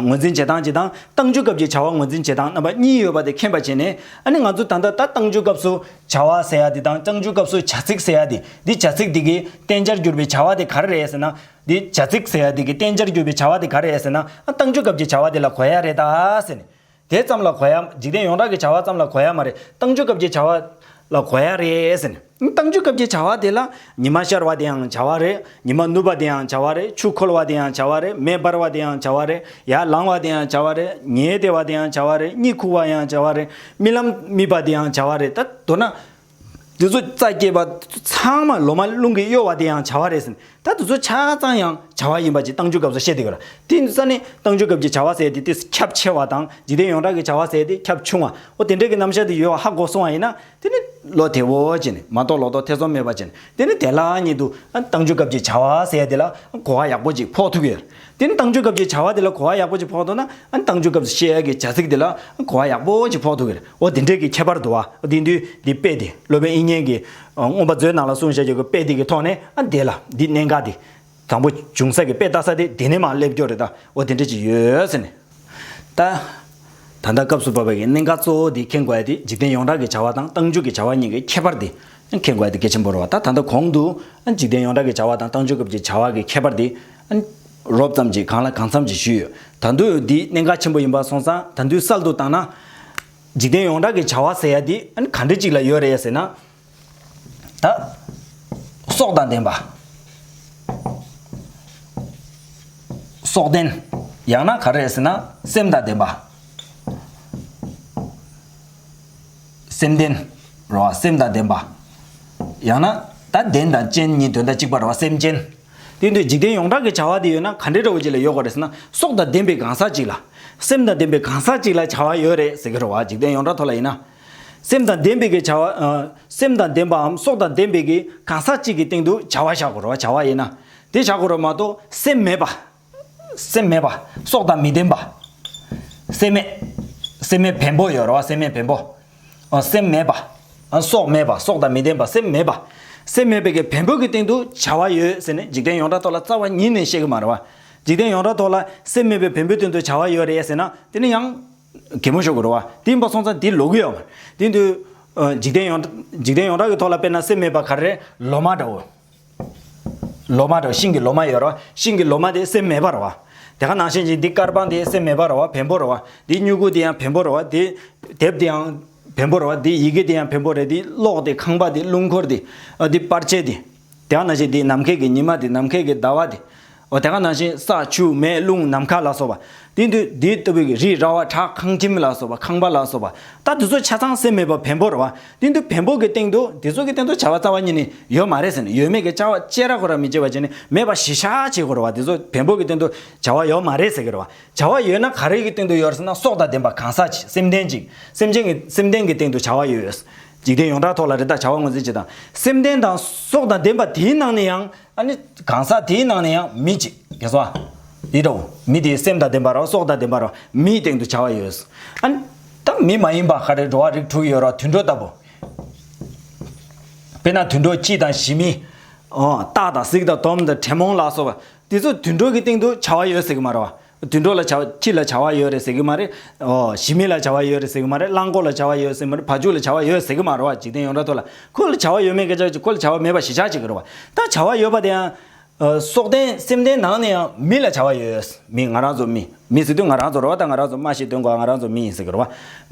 ངོས་འཛིན་བྱེད་སྟངས་བྱེད་སྟངས་བཏང་བཅོས་སྐབས་ཀྱི་བྱ་བ་ངོས་འཛིན་བྱེད་སྟངས་རྣམ་པ་གཉིས་ཡོད་པ་དེ་མཁྱེན་པ་བྱས་ནས་ཨ་ནི་ང་ཚོ་ད་ལྟ་ད་བཏང་བཅོས་སྐབས་སུ་བྱ་བ་ཟེར་ཡ་དེ་དང་བཏང་བཅོས་སྐབས་སུ་བྱ་ཚིག་ཟེར་ཡ་དེ་འདི་བྱ་ཚིག་དེ་གའི་བསྟན་བྱར་གྱུར་པའི་བྱ་བ་དེ་ག་རེ་རེད་ཟེར་ན་འདི་བྱ་ཚིག་ཟེར་ཡ་དེ་གི་བསྟན་བྱར་གྱུར་པའི་བྱ་བ་དེ་ག་རེད་ཟེར་ན། བཏང་འཇུག་སྐབས་ཀྱི་བྱ་བ་དེ་ལ་གོ་ཡ་རེད་ད། ཟེར་ནས། དེ་ཙམ་ལ་གོ་ཡ། འཇིག་རྟེན་ཡོངས་གྲགས་ཀྱི་བྱ་བ་ཙམ་ལ་གོ་ཡ་མ་རེད། བཏང་འཇུག་སྐབས་ཀྱི་བྱ་བ། ལ་གོ་ཡ་རེད་ཟེར་ནས། བཏང་འཇུག་སྐབས་ཀྱི་བྱ་བ་དེ་ལ། ཉི་མ་ཤར་བ་དེའང་བྱ་བ་རེད། ཉི་མ་ནུབ་པ་དེའང་བྱ་བ་རེད། ཆུ་འཁོལ་བ་དེའང་བྱ་བ་རེད། མེ་འབར་བ་དེའང་བྱ་བ་རེད། ཡར་ལངས་བ་དེའང་བྱ་བ་རེད། ཉལ་བདེ་བ་དེའང་བྱ་བ་རེད། གཉིད་ཁུག་བ་ཡང་བྱ་བ་རེད། རྨི་ལམ་རྨིས་པ་དེའང་བྱ་བ་རེད། ད། མདོར་ན། འདི་ཚོ་རྩ་སྐྱེས་པ་ཚང་མ་ལོ་མ་རླུང་གིས་གཡོ་བ་དེ་ཡང་བྱ་བ་རེད་ཟེར། ད་འདི་ཚོ་ཆ་ཚང་ཡང་བྱ་བ་ཡིན་པ་ཅིག་བཏང་འཇུག་སྐབས་སུ་བཤད་དེ་གོ། དེ་ས་ནི་བཏང་འཇུག་སྐབས་ཀྱི་བྱ་བ་ཟེར་ཏེ་དེས་ཁྱབ་ཆེ་བ་དང་འཇིག་རྟེན་ཡོངས་གྲགས་ཀྱི་བྱ་བ་ཟེར་ཏེ་ཁྱབ་ཆུང་བ། འོ་དེ་འདྲའི་གི་རྣམ་གཞག་དེ་ཡོད་བ་ཧ་གོ་སོང་བ་ཡིན་ན། དེ་ནི་ལོ་དེ་བོ་ཅན། མ་གཏོགས་ལོ་ཏོག་ཐེ་ཚོམ་མེད་པ་ཅན། དེ་ནི་དེ་ལ་ཉིད་དུ་བཏང་འཇུག་སྐབས་ཀྱི་བྱ་བ་ཟེར་དེ་ལ་གོ་བ་ཡག་པོ་ཅིག་ཕོག་ཐུབ་ཀྱི་ཡོད། དེ་ནི་བཏང་འཇུག་སྐབས་ཀྱི་བྱ་བ་དེ་ལ་གོ་བ་ཡག་པོ་ཅིག་ཕོག་ཐུབ་ན། བཏང་འཇུག་སྐབས་སུ་བཤད་ཀྱི་བྱ་ཚིག་དེ་ལ་གོ་བ་ཡག་པོ་ཅིག་ཕོག་ཐུབ་ཀྱི་རེད། ཨོ་དེ་འབྲེལ་གྱི་ཁྱད་པར་དུ་བ་དེ་འདུས་འདི་དཔེ་དེ་སློབ་དཔོན་དབྱིག་གཉེན་གྱིས། མངོན་པ་མཛོད་ནང་ལ་གསུངས་བྱ་རྒྱུ་གྱི་དཔེ་དེ་གི་ཐོག་ནས་ཨ་འདས་ལ་འདི་གནད་འགག་སྟེ། དང་པོ་འབྱུང་ས་གི་དཔེ་བལྟ་ས་དེ་དེ་ནས་མ་སླེབས་སྐྱོར་རེ་ད་ཨོ་དེ་འབྲེལ་གྱི་ཡོད་ཟེར་ནས། ད། ད་ལྟ་སྐབས་སུ་བབས་པའི་གི་གནད་འགག་གཙོ་བོ་དེ་མཁྱེན་དགོས་ཡ་དེ་འཇིག་རྟེན་ཡོངས་གྲགས་ཀྱི་བྱ་བ་དང་རྟགས་འཇུག་གི་བྱ་བ་གཉིས་ཀྱི་ཁྱད་པར་དེ་མཁྱེན་དགོས་ཡ་དེ་གལ་ཆེན་པོ་རེད་བ་ད་ད་ལྟ་གོང་དུ། འཇིག་རྟེན་ཡོངས་གྲགས་ཀྱི་བྱ་བ་དང་རྟགས་འཇུག་སྐབས་ཀྱི་བྱ་བ་གི་ཁྱད་པར་དེ་རོབ་ཙམ་གྱིས་གང་ལ་གང་འཚམ་ཞིག་ཞུས་ཡོད། ད་དུས་འདི་གནད་འགག་ཆེན་པོ་ཡིན་པ་སོང་ཙང་ད་དུས་གསལ་དུ་བཏང་ན། འཇིག་རྟེན་ཡོངས་གྲགས་ཀྱི་བྱ་བ་ཟེར་ཡ་འདི་གང་འདྲི་ཅིག་ལ་ཡོད་རེད་ཟེར་ན། ད། སྲོག་དང་ལྡན་པ། སྲོག་ལྡན། ཡང་ན་ག་རེད་ཟེར་ན་སེམས་དང་ལྡན་པ། སེམས་ལྡན། རེད་བ་སེམས་དང་ལྡན་པ། ཡང་ན་ད་བདེན་དང་ཅན་གཉིས་དོན་དང་གཅིག་པ་རེད་བ་སེམས་ཅན། དེ་འདྲའི་འཇིག་རྟེན་ཡོངས་གྲགས་ཀྱི་བྱ་བ་དེ་ཡོད་ན་ག་འདྲའི་རེ་བ་ཅིག་ལ་ཡོད་དགོས་རེད་ཟེར་ན་སྲོག་དང་ལྡན་པའི་གང་ཟག་ཅིག་ལ། སེམས་དང་ལྡན་པའི་གང་ཟག་ཅིག་ལ་བྱ་བ་ཡོད་རེད་ཟེར་གྱི་རེ་བ་འཇིག་རྟེན་ཡོངས་གྲགས་ཐོག་ལ་ཡིན་ན། སེམས་དང་ལྡན་པའི་གི་བྱ་བ། སེམས་དང་ལྡན་པའམ་སྲོག་དང་ལྡན་པའི་གི་གང་ཟག་ཅིག་གི་སྟེང་དུ་བྱ་བ་བྱ་དགོས་རེ་བ་བྱ་བ་ཡིན་ན། དེ་བྱ་དགོས་རེ་བ་མ་གཏོགས་སེམས་མེད་པ། སེམས་མེད་པ། སྲོག་དང་མི་ལྡན་པ། སེམས་མེད། སེམས་མེད་བེམ་པོ་ཡོད་རེད་བ་སེམས་མེད་བེམ་པོ། སེམས་མེད་པ། སྲོག་མེད་པ་སྲོག་དང་མི་ལྡན་པ་སེམས་མེད་པ། སེམས་མེད་པའི་བེམ་པོ་གི་སྟེང་དུ་བྱ་བ་ཡོད་ཟེར་ནས་འཇིག་རྟེན་ཡོངས་གྲགས་ཐོག་ལ་རྩ་བ་ཉིད་ནས་བཤད་གི་མ་རེད་བ། འཇིག་རྟེན་ཡོངས་གྲགས་ཐོག་ལ་སེམས་མེད་པའི་བེམ་པོའི་སྟེང་དུ་བྱ་བ་ཡོད་རེད་ཟེར་ན་དེ་ནི་ཡང། གད་མོ་ཤོར་གི་རེད་བ། དེ་ཡིན་པ་སོང་ཙང་དེ་ལོག་གི་ཡོད་མ་རེད། དེ་འདུག། འཇིག་རྟེན་ཡོངས་གྲགས་ཀྱི་ཐོག་ལ་དཔེར་ན་སེམས་མེད་པ་ག་རེ་རེད་ལོ་མ་འདྲ་བོ། ལོ་མ་རོ་ཤིང་གི་ལོ་མ་ཡོད་རོ། ཤིང་གི་ལོ་མ་དེ་སེམས་མེད་པར་རོ། དེ་ག་ནང་བཞིན་ཅིང་འདི་དཀར་པང་དེ་སེམས་མེད་པར་རོ་བེམ་པོ་རོ། འདི་སྨྱུ་གུ་དེ་ཡང་བེམ་པོ་རོ། འདི་དེབ་དེ་ཡང་བེམ་པོ་རོ། འདི་ཡི་གེ་དེ་ཡང་བེམ་པོ་རེ། འདི་གློག་དེ་ཁང་པ་དེ་རླུང་འཁོར་དེ། འདི་པར་ཆས་དེ། དེ་ག་ནང་བཞིན་འདི་ནམ་མཁའི་གི་ཉི་མ་དེ་ནམ་མཁའི་གི་ཟླ་བ་དེ། འོ་དེ་ག་ནང་བཞིན་ས་ཆུ་མེ་རླུང་ནམ་མཁའ་ལ་སོགས་པ། དེ་དུས་དེ་ལྟ་བུའི་རི་ར་བ་བྲག་ཁང་ཁྱིམ་ལ་སོགས་པ་ཁང་པ་ལ་སོགས་པ་ལྟ་དེ་ཚོ་ཆ་ཚང་སེམས་མེད་པར་བེམ་པོར་རོ། དེ་དུས་བེམ་པོ་གི་སྟེང་དུ་དེ་ཚོ་གི་སྟེང་དུ་བྱ་བ་རྩ་བ་ཉིད་ནི་ཡོད་མ་རེད་ཟེར་ནས་ཡོད་མེད་ཀྱི་བྱ་བ་བཅད་ར་གོ་ར་མི་བྱེད་པ་བྱས་ནས་མེད་པ་ཞི་ཤ་བྱེད་དགོས་རོ་བ་དེ་ཚོ་བེམ་པོ་གི་སྟེང་དུ་བྱ་བ་ཡོད་མ་རེད་ཟེར་གི་རོ་བ། བྱ་བ་ཡོད་ན་ག་རེ་གི་སྟེང་དུ་ཡོད་ཟེར་ན་སྲོག་དང་ལྡན་པ་གང་ཟག་ཅིག་སེམས་ལྡན་ཅིག་སེམས་ཅན་གྱི་སེམས་ལྡན་གྱི་སྟེང་དུ་བྱ་བ་ཡོད། འཇིག་རྟེན་ཡོངས་གྲགས་ཐོག་ལ་རི་དྭགས་བྱ་བ་ངོས་འཛིན་བྱེད་དང་སེམས་ལྡན་དང་སྲོག་དང་ལྡན་པ་དེའི་ནང་ནས་ཡང། ཨ་ནི། གང་ཟག་དེའི་ནང་ནས་ཡང་མི་གཅིག་དགེ་སོ། ཡིད་དོ། མི་དེའི་སེམས་དང་ལྡན་པར་རོ་སྲོག་དང་ལྡན་པར་རོ་མིའི་སྟེང་དུ་བྱ་བ་ཡོད། ཨ་ནི། ད་མི་མ་ཡིན་པ་ག་རེ་འགྲོ་བ་རིགས་དྲུག་ཡོད་རོ་དུད་འགྲོ་ལྟ་བུ། དཔེར་ན་དུད་འགྲོ་སྐྱིད་དང་ཞི་མི། སྟག་དང་གཟིག་དང་དོམ་དང་དྲེད་མོང་ལ་སོགས་པ། དེ་ཚོ་དུད་འགྲོ་གི་སྟེང་དུ་བྱ་བ་ཡོད་ཟེར་གི་མ་རོ། དུད་འགྲོ་ལ་བྱ་བ་ཁྱི་ལ་བྱ་བ་ཡོད་རེད་ཟེར་གི་མ་རེད། ཞི་མི་ལ་བྱ་བ་ཡོད་རེད་ཟེར་གི་མ་རེད། རླངས་འཁོར་ལ་བྱ་བ་ཡོད་ཟེར་གི་མ་རེད་བ་ཕྱུགས་ལ་བྱ་བ་ཡོད་ཟེར་གི་མ་རེད་བ་འཇིག་རྟེན་ཡོངས་གྲགས་ཐོག་ལ་ཁོ་ལ་བྱ་བ་ཡོད་མེད་སྐད་ཆ་ཅིག་ཁོ་ལ་བྱ་བ་མེད་པ་ཞེ་ཆགས་ཅིག་རེད་བ། ད་བྱ་བ་ཡོད་པ་དེ་ཡང། སྲོག་ལྡན་སེམས་ལྡན་ནང་ནས་ཡང་མི་ལ་བྱ་བ་ཡོད། མི་ང་རང་ཚོ་མི། མི་ཟེར་དུས་ང་རང་ཚོ་རེད་བ་ད་ང་རང་ཚོ་སྨྲ་ཤེས་སྟོན་དགོས་ང་རང་ཚོ་མི་ཡིན་ཟེར་གི་རེད་བ།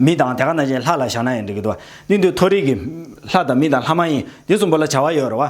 མི་དང་དེ་ག་ནང་བཞིན་ལྷ་ལ་བཞག་ན་ཡང་འགྲིག་གི་འདུག་བ། དེ་འདུག་མཐོ་རིས་ཀྱི། ལྷ་དང་མི་དང་ལྷ་མ་ཡིན་དེ་གསུམ་པོ་ལ་བྱ་བ་ཡོད་རེད་བ།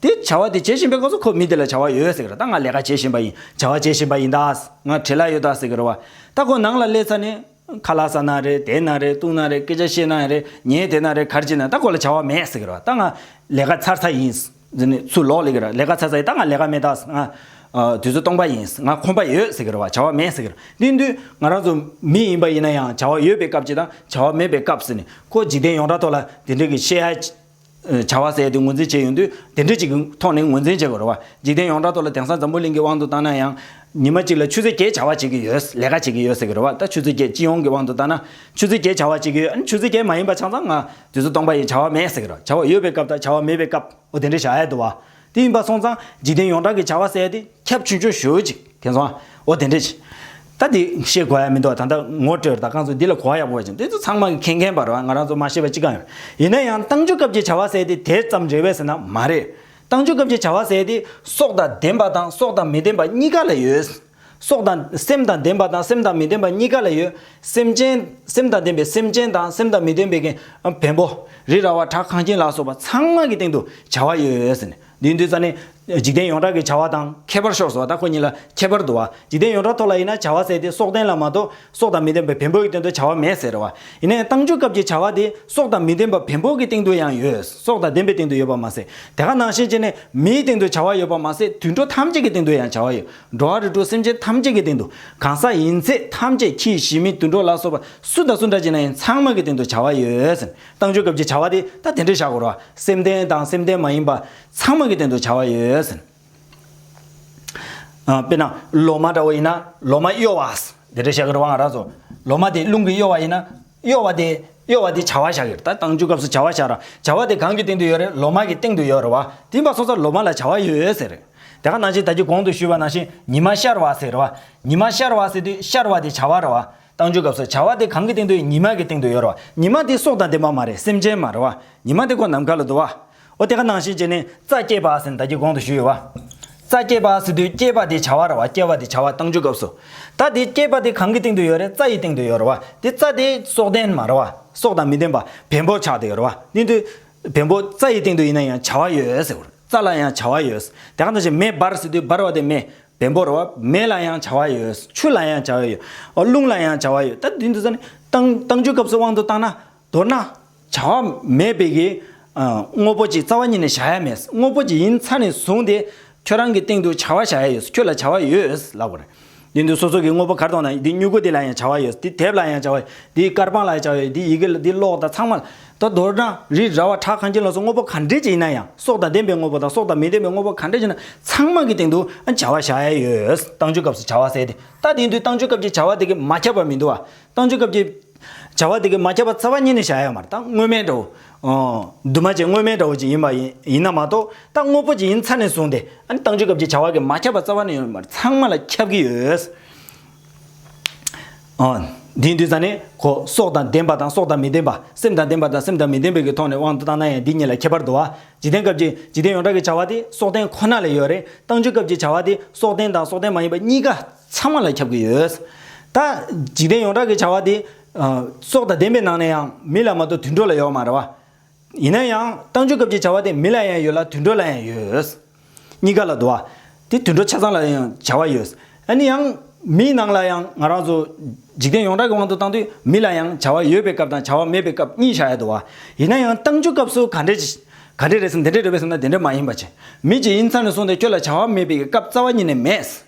དེ་བྱ་བ་དེ་བྱེད་བཞིན་པའི་སྐབས་སུ་ཁོ་མི་དེ་ལ་བྱ་བ་ཡོད་ཟེར་གི་རེད་ད་ང་ལས་ཀ་བྱེད་བཞིན་པ་ཡིན་བྱ་བ་བྱེད་བཞིན་པ་ཡིན་ད་ང་བྲེལ་ལ་ཡོད་ད་ཟེར་གི་རེད་བ་ད་ཁོ་ནང་ལ་སླེབས་ཚར་ནས། ཁ་ལག་ཟ་ན་རེད་དེད་ན་རེད་བཏུང་ན་རེད་སྐད་ཆ་བཤད་ན་རེད་ཉལ་དེད་ན་རེད་གར་བྱེད་ན་ད་ཁོ་ལ་བྱ་བ་མེད་ཟེར་གི་རེད་བ་ད་ང་ལས་ཀ་ཚར་ཚར་ཡིན། ཚུར་ལོག་ལེ་གི་རེད་ལས་ཀ་ཚར་ཚར་ཡིན་ད་ང་ལས་ཀ་མེད་ད་ང་དུས་ཚོད་སྟོང་པ་ཡིན་ང་ཁོམ་པ་ཡོད་ཟེར་གི་རེད་བ་བྱ་བ་མེད་ཟེར་གི་རེད་དེ་དུས་ང་རང་ཚོ་མི་ཡིན་པ་ཡིན་ན་ཡང་བྱ་བ་ཡོད་པའི་སྐབས་ཀྱི་དང་བྱ་བ་མེད་པའི་སྐབས་ཟེར་ནས་ཁོ་འཇིག་རྟེན་ཡོངས་གྲགས་ཐོག་ལ་དེ་འདྲ་གི་བཤད་ཡ་བྱ་བ་ཟད་དེ་ངོས་འཛིན་བྱས་ཡོང་དུས་དེ་འདྲ་ཅིག་གི་ཐོག་ནས་ངོས་འཛིན་བྱེད་དགོས་རེད་བ། འཇིག་རྟེན་ཡོངས་གྲགས་ཐོག་ལ་དེང་སང་འཛམ་བུ་གླིང་གི་དབང་དུ་བཏང་ན་ཡང། ཉི་མ་གཅིག་ལ་ཆུ་ཚོད་བརྒྱད་བྱ་བ་བྱེད་ཀྱི་ཡོད། ལས་ཀ་བྱེད་ཀྱི་ཡོད་ཟེར་གི་རེད་བ། ད་ཆུ་ཚོད་བརྒྱད་སྤྱི་ཡོངས་ཀྱི་དབང་དུ་བཏང་ན། ཆུ་ཚོད་བརྒྱད་བྱ་བ་བྱེད་ཀྱི་ཡོད། ཆུ་ཚོད་བརྒྱད་མ་ཡིན་པ་ཆང་ཚང་ང། དུས་ཚོད་སྟོང་པ་ཡིན་བྱ་བ་མེད་ཟེར་གི་རེད་བ། བྱ་བ་ཡོད་པའི་སྐབས་དང་བྱ་བ་མེད་པའི་སྐབས། འོ་དེ་འདྲ་བྱ་ཡས་འདུག་བ། དེ་ཡིན་པ་སོང་ཙང་འཇིག་རྟེན་ཡོངས་གྲགས་ཀྱི་བྱ་བ་ཟད་དེ་ཁྱབ་ཆུང་ཆུང་ཞུ་ཅིག་དེ་ཚོ་ཨ་འོ་དེ་འདྲས་ཅིག་ད་དེ་ཤེས་གོ་ཡ་མི་འདུག་ད་ལྟ་ངོ་སྤྲོད་ད་གང་ཚོ་འདི་ལ་གོ་བ་ཡག་པོ་བ་ཅིག་འདི་ཚོ་ཚང་མ་མཁྱེན་མཁན་པར་ང་རང་ཚོ་མ་ཤེས་པ་ཅི་གང་ཡོད་ཡིན་ན་ཡང་ཏང་ཆོས་སྐབས་ཀྱི་བྱ་བ་ཟད་དེ་དེ་ཙམ་རེད་བས་ཟེར་ན་མ་རེད་ཏང་ཆོས་སྐབས་ཀྱི་བྱ་བ་ཟད་དེ་སྲོག་དང་ལྡན་པ་དང་སྲོག་དང་མི་ལྡན་པ་གཉིས་ཀ་ལ་ཡོད། སྲོག་དང། སེམས་དང་ལྡན་པ་དང་སེམས་དང་མི་ལྡན་པ་གཉིས་ཀ་ལ་ཡོད། སེམས་ཅན། སེམས་དང་ལྡན་པའི་སེམས་ཅན་དང་སེམས་དང་མི་ལྡན་པའི། བེམ་པོ། རི་ར་བ་བྲག་གངས་ཁྱིམ་ལ་སོགས་པ་ཚང་མ་གི་སྟེང་དུ་བྱ་བ་ཡོད། ཟེར་ནས། འདིའི་འདུས་རྩ་ནི། འཇིག་རྟེན་ཡོངས་གྲགས་ཀྱི་བྱ་བ་དང་ཁྱད་པར་ཤོར་སོགས་དང་ཁོ་གཉིས་ལ་ཁྱད་པར་དུ་བ། འཇིག་རྟེན་ཡོངས་གྲགས་ཐོག་ལ་ཡིན་ན་བྱ་བ་བསལ་ཏེ་སྲོག་ལྡན་ལ་མ་གཏོགས་སྲོག་དང་མི་ལྡན་པའི་བེམ་པོའི་སྟེང་དུ་བྱ་བ་མེད་ཟེར་བ། ཡིན་ནའི་བཏང་འཇུག་སྐབས་ཀྱི་བྱ་བ་དེ་སྲོག་དང་མི་ལྡན་པ་བེམ་པོ་གི་སྟེང་དུ་ཡང་ཡོད། སྲོག་དང་ལྡན་པའི་སྟེང་དུ་ཡོད་པར་མ་ཟད། དེ་ག་ནང་བཞིན་བྱས་ནས་མིའི་སྟེང་དུ་བྱ་བ་ཡོད་པར་མ་ཟད་དུད་འགྲོ་ཐམས་ཅད་ཀྱི་སྟེང་དུ་ཡང་བྱ་བ་ཡོད། འགྲོ་བ་རིགས་དྲུག་སེམས་ཅན་ཐམས་ཅད་ཀྱི་སྟེང་དུ་གང་ཟག་ཡིན་ཚད་ཐམས་ཅད་ཁྱི་ཡི་ཤི་མིན་དུད་འགྲོ་ལ་སོགས་པ་སུ་དང་སུ་འདྲ་ཅིག་ན་ཡིན་ཚང་མ་གི་སྟེང་དུ་བྱ་བ་ཡོད། བཏང་ཆོས་སྐབས་ཀྱི་བྱ་བ་དེ་ད་དེ་འདྲས་བཞག་གོ་རོགས་ཨ། སེམས་ལྡན་དང་སེམས་ལྡན་མ་ཡིན་པ་ཚང་མ་གི་སྟེང་དུ་བྱ་བ་ཡོད། དཔེར་ན་ལོ་མ་འདྲ་བོ་ཡིན་ན་ལོ་མ་གཡོ་བ། དེ་འདྲས་བཤད་གི་རོགས་ཨ་ང་རག་ཚོ། ལོ་མ་དེ་རླུང་གིས་གཡོ་བ་ཡིན་ན་གཡོ་བ་དེ། གཡོ་བ་དེ་བྱ་བ་བཞག་ཡོད་རེད་ད་བཏང་རྒྱུའི་སྐབས་སུ་བྱ་བ་བཞག་ར་བྱ་བ་དེ་གང་གི་སྟེང་དུ་ཡོད་རེད་ལོ་མ་གི་སྟེང་དུ་ཡོད་རེད་བ་དེ་མ་སོང་ཚ་ལོ་མ་ལ་བྱ་བ་ཡོད་ཟེར་རེད་དེ་ག་ནང་བཞིན་ད་ཀྱི་གོང་དུ་ཞུས་པ་ནང་བཞིན་ཉི་མ་ཤར་བ་ཟེར་རེད་བ་ཉི་མ་ཤར་བ་ཟེར་དུས་ཤར་བ་དེ་བྱ་བ་རེད་བ་བཏང་རྒྱུའི་སྐབས་སུ་བྱ་བ་དེ་གང་གི་སྟེང་དུ་ཡོད་ཉི་མ་གི་སྟེང་དུ་ཡོད་རེད་བ་ཉི་མ་དེ་སྲོག་དང་ལྡན་པ་མ་རེད་སེམས་ཅན་མ་རེད་བ་ཉི་མ་དེ་ཁོ་ནམ་མཁའ་ལ་འདུག་བ། ཨོ་དེ་ག་ནང་བཞིན་བྱས་ནས་རྩ་སྐྱེས་པ་ཟིན་བདག་གི་གོང་དུ་ཞུས་ཡོད་བ། རྩ་སྐྱེས་པ་ཟིན་དུས་སྐྱེས་པ་དེ་བྱ་བ་ར་བ་སྐྱེ་བ་དེ་བྱ་བ་བཏང་རྒྱུ་སྐབས་སུ། ད་དེ་སྐྱེས་པ་དེ་གང་གི་སྟེང་དུ་ཡོད་རེད་རྩ་ཡི་སྟེང་དུ་ཡོད་རེད་བ། དེ་རྩ་དེ་སྲོག་ལྡན་མ་རེད་བ། སྲོག་དང་མི་ལྡན་པ་བེམ་པོ་ཆགས་འདི་ཡོད་རེད་བ། དེ་དུས། བེམ་པོ་རྩ་ཡི་སྟེང་དུ་ཡིན་ན་ཡང་བྱ་བ་ཡོད་ཟེར། རྩ་ལ་ཡང་བྱ་བ་ཡོད། དེ་ག་ནང་བཞིན་མེ་འབར་ཟིན་དུས་འབར་བ་དེ་མེ། བེམ་པོ་རེད་བ། མེ་ལ་ཡང་བྱ་བ་ཡོད། ཆུ་ལ་ཡང་བྱ་བ་ཡོད། རླུང་ལ་ཡང་བྱ་བ་ཡོད། ད་དེ་དུས་ཟ་ནི། བཏང་རྒྱུ་སྐབས་སུ་དབང་དུ་བཏང་ན། མདོར་ན། བྱ་བ་མེད་པའི་གི། དངོས་པོ་གཅིག་རྩ་བ་ཉིད་ནས་བཞག་ཡ་མེད། དངོས་པོ་གཅིག་ཡིན་ཚ་ནས་བཟུང་སྟེ། ཁྱོད་རང་གི་སྟེང་དུ་བྱ་བ་བཞག་ཡ་ཡོད། ཁྱོད་ལ་བྱ་བ་ཡོད། ལབ་པར། དེ་འདུག་སོ་སོ་གི་དངོས་པོ་གར་གཏོང་དང་འདི་སྨྱུ་གུ་དེ་ལ་ཡང་བྱ་བ་ཡོད། འདི་དེབ་ལ་ཡང་བྱ་བ་ཡོད། འདི་དཀར་པང་ལ་ཡང་བྱ་བ་ཡོད། འདི་ཡི་གེ་ལ་འདི་གློག་དང་ཚང་མ་ལ། ད་མདོར་ན། རི་ར་བ་བྲག་གངས་ཅན་ལ་སོགས་དངོས་པོ་ག་འདྲས་ཅིག་ཡིན་ན་ཡང། སྲོག་དང་ལྡན་པའི་དངོས་པོ་དང་སྲོག་དང་མི་ལྡན་པའི་དངོས་པོ་ག་འདྲས་ཅིག་ཡིན་ན་ཚང་མ་གི་སྟེང་དུ་བྱ་བ་བཞག་ཡ་ཡོད། བཏང་ཆུའི་སྐབས་སུ་བྱ་བ་ཟད་དེ། ད་དེའི་དུས་བཏང་ཆུའི་སྐབས་ཀྱི་བྱ་བ་དེ་གི་མ་ཁྱབ་པར་མི་འདུག་བ། བཏང་ཆུ་སྐབས་ཀྱི། བྱ་བ་དེ་གས་མ་ཁྱབ་པ་རྩ་བ་ཉིད་ནས་བྱ་ཡ་མ་རྟགས་དངོས་མེད་འདྲ་བོ། འདུས་མ་བྱས་དངོས་མེད་འདྲ་བོ་ཅིག་ཡིན་པ་ཡིན་ན་མ་གཏོགས་རྟགས་དངོས་པོ་ཅིག་ཡིན་ཚར་ནས་བཟུང་སྟེ་ཨཱ་ནི་བཏང་ཆུ་སྐབས་ཀྱི་བྱ་བ་གས་མ་ཁྱབ་པ་རྩ་བ་ནས་ཡོད་མར་ཚང་མ་ལ་ཁྱབ་ཀྱི་ཡོད། དེའི་འདུས་ཚ་ནི་གོ། སྲོག་དང་ལྡན་པ་དང་སྲོག་དང་མི་ལྡན་པ། སེམས་དང་ལྡན་པ་དང་སེམས་དང་མི་ལྡན་པའི་ཀྱི་ཐོག་ནས་དབང་དུ་བཏང་ན་ཡང་འདི་གཉིས་ལ་ཁྱད་པར་དུ་བ། འཇིག་རྟེན་སྐབས་ཀྱི་འཇིག་རྟེན་ཡོངས་གྲགས་ཀྱི་བྱ་བ་དེ་སྲོག་ལྡན་ཁོ་ན་ལ་ཡོད་རེད། བཏང་ཆུ་སྐབས་ཀྱི་བྱ་བ་དེ་སྲོག་ལྡན་དང་སྲོག་ལྡན་མ་ཡིན་པ་གཉིས་ཀ། ཚང་མ་ལ་ཁྱབ་ཀྱི་ཡོད། ད། འཇིག་རྟེན་ཡོངས་གྲགས་ཀྱི་བྱ་བ་དེ། སྲོག་དང་ལྡན་པའི་ནང་ནས་ཡང་མི་ལ་མ་གཏོགས་དུད་འགྲོ་ལ་ཡོད་མ་རེད་བ། ཡིན་ན་ཡང་བཏང་འབྱོར་སྐབས་ཀྱི་བྱ་བ་དེ་མི་ལ་ཡང་ཡོད་ལ་དུད་འགྲོ་ལ་ཡང་ཡོད། གཉིས་ཀ་ལ་དུ་བ། དེ་དུད་འགྲོ་ཆ་ཚང་ལ་ཡང་བྱ་བ་ཡོད། ཨ་ནི་ཡང། མིའི་ནང་ལ་ཡང་ང་རང་ཚོ། འཇིག་རྟེན་ཡོངས་གྲགས་ཀྱི་དབང་དུ་བཏང་དུས་མི་ལ་ཡང་བྱ་བ་ཡོད་པའི་སྐབས་དང་བྱ་བ་མེད་པའི་སྐབས་གཉིས་བྱ་ཡ་དུ་བ། ཡིན་ན་ཡང་བཏང་འབྱོར་སྐབས་སུ་ག་འདྲའི། ག་འདྲའི་རེད་སམ་དེ་འདྲའི་རེད་བས་སམ་ན་དེ་འདྲའི་མ་ཡིན་པ་བྱེད། མི་ཇི་ཡིན་ཚང་ནས་སོང་སྟེ་ཁྱོད་ལ་བྱ་བ་མེད་པའི་སྐབས་རྩ་བ་ཉིད་ནས་མེད།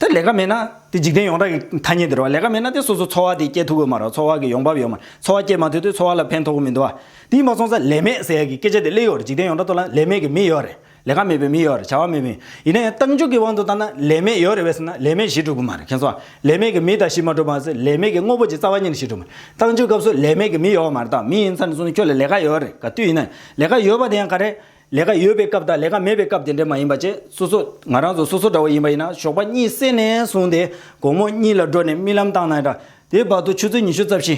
དེ་ལས་ཀ་མེད་ན། དེ་འཇིག་རྟེན་ཡོངས་གྲགས་ཀྱི་ཐ་སྙད་དེ་རེད་བ། ལས་ཀ་མེད་ན་དེ་སོ་སོ་འཚོ་བ་དེ་སྐྱེལ་ཐུབ་ཀྱི་མ་རེད་འཚོ་བ་གི་ཡོང་འབབ་ཡོད་མ་རེད་འཚོ་བ་སྐྱེལ་མ་ཐུབ་དུས་འཚོ་བ་ལ་ཕན་ཐོགས་གི་མི་འདུག་བ། དེའི་མ་ཚོང་ས་ལས་མེད་ཟེར་ཡ་གི་སྐད་ཆ་དེ་གླེ་ཡོད་རེད་འཇིག་རྟེན་ཡོངས་གྲགས་ཐོག་ལ་ལས་མེད་ཀྱི་མི་ཡོད་རེད་ལས་ཀ་མེད་པའི་མི་ཡོད་རེད་བྱ་བ་མེད་མི་ཡིན་ན་ཡང་ཏང་འཇུག་གི་དབང་དུ་བཏང་ན་ལས་མེད་ཡོད་རེད་བས་ཟེར་ན་ལས་མེད་གཞི་གྲུབ་ཀྱི་མ་རེད་མཁྱེན་སོང་བ། ལས་མེད་ཀྱི་མི་དང་གཞི་མ་གྲུབ་པའང་ཟེར་ལས་མེད་ཀྱི་དངོས་པོ་གྱི་རྩ་བ་ཉིད་གཞི་གྲུབ་མ་རེད་ཏང་འཇུག་སྐབས་སུ་ལས་མེད་ཀྱི་མི་ཡོད་བ་མ་རེད་ཏང་མི་ཡིན་ཚར་ནས་བཟུང་ཁྱོད་ལ་ལས་ཀ་ཡོད་རེད་ག་དུས་ཡིན་ན་ལས་ཀ་ཡོད་པ་དེ་ཡང་ག་རེད། ལས་ཀ་ཡོད་པའི་སྐབས་དང་ལས་ཀ་མེད་པའི་སྐབས་དེ་འདྲ་མ་ཡིན་པ་བཅས་སོ་སོ་ང་རང་ཚོ་སོ་སོ་འདྲ་བོ་ཡིན་པ་ཡིན་ན་ཞོགས་པ་གཉིད་སད་ནས་བཟུང་སྟེ་དགོང་མོ་གཉིད་ལ་འགྲོ་ནས་རྨི་ལམ་བཏང་ན་འདྲ་དེའི་བར་དུ་ཆུ་ཚོད་ཉི་ཤུ་རྩ་བཞི།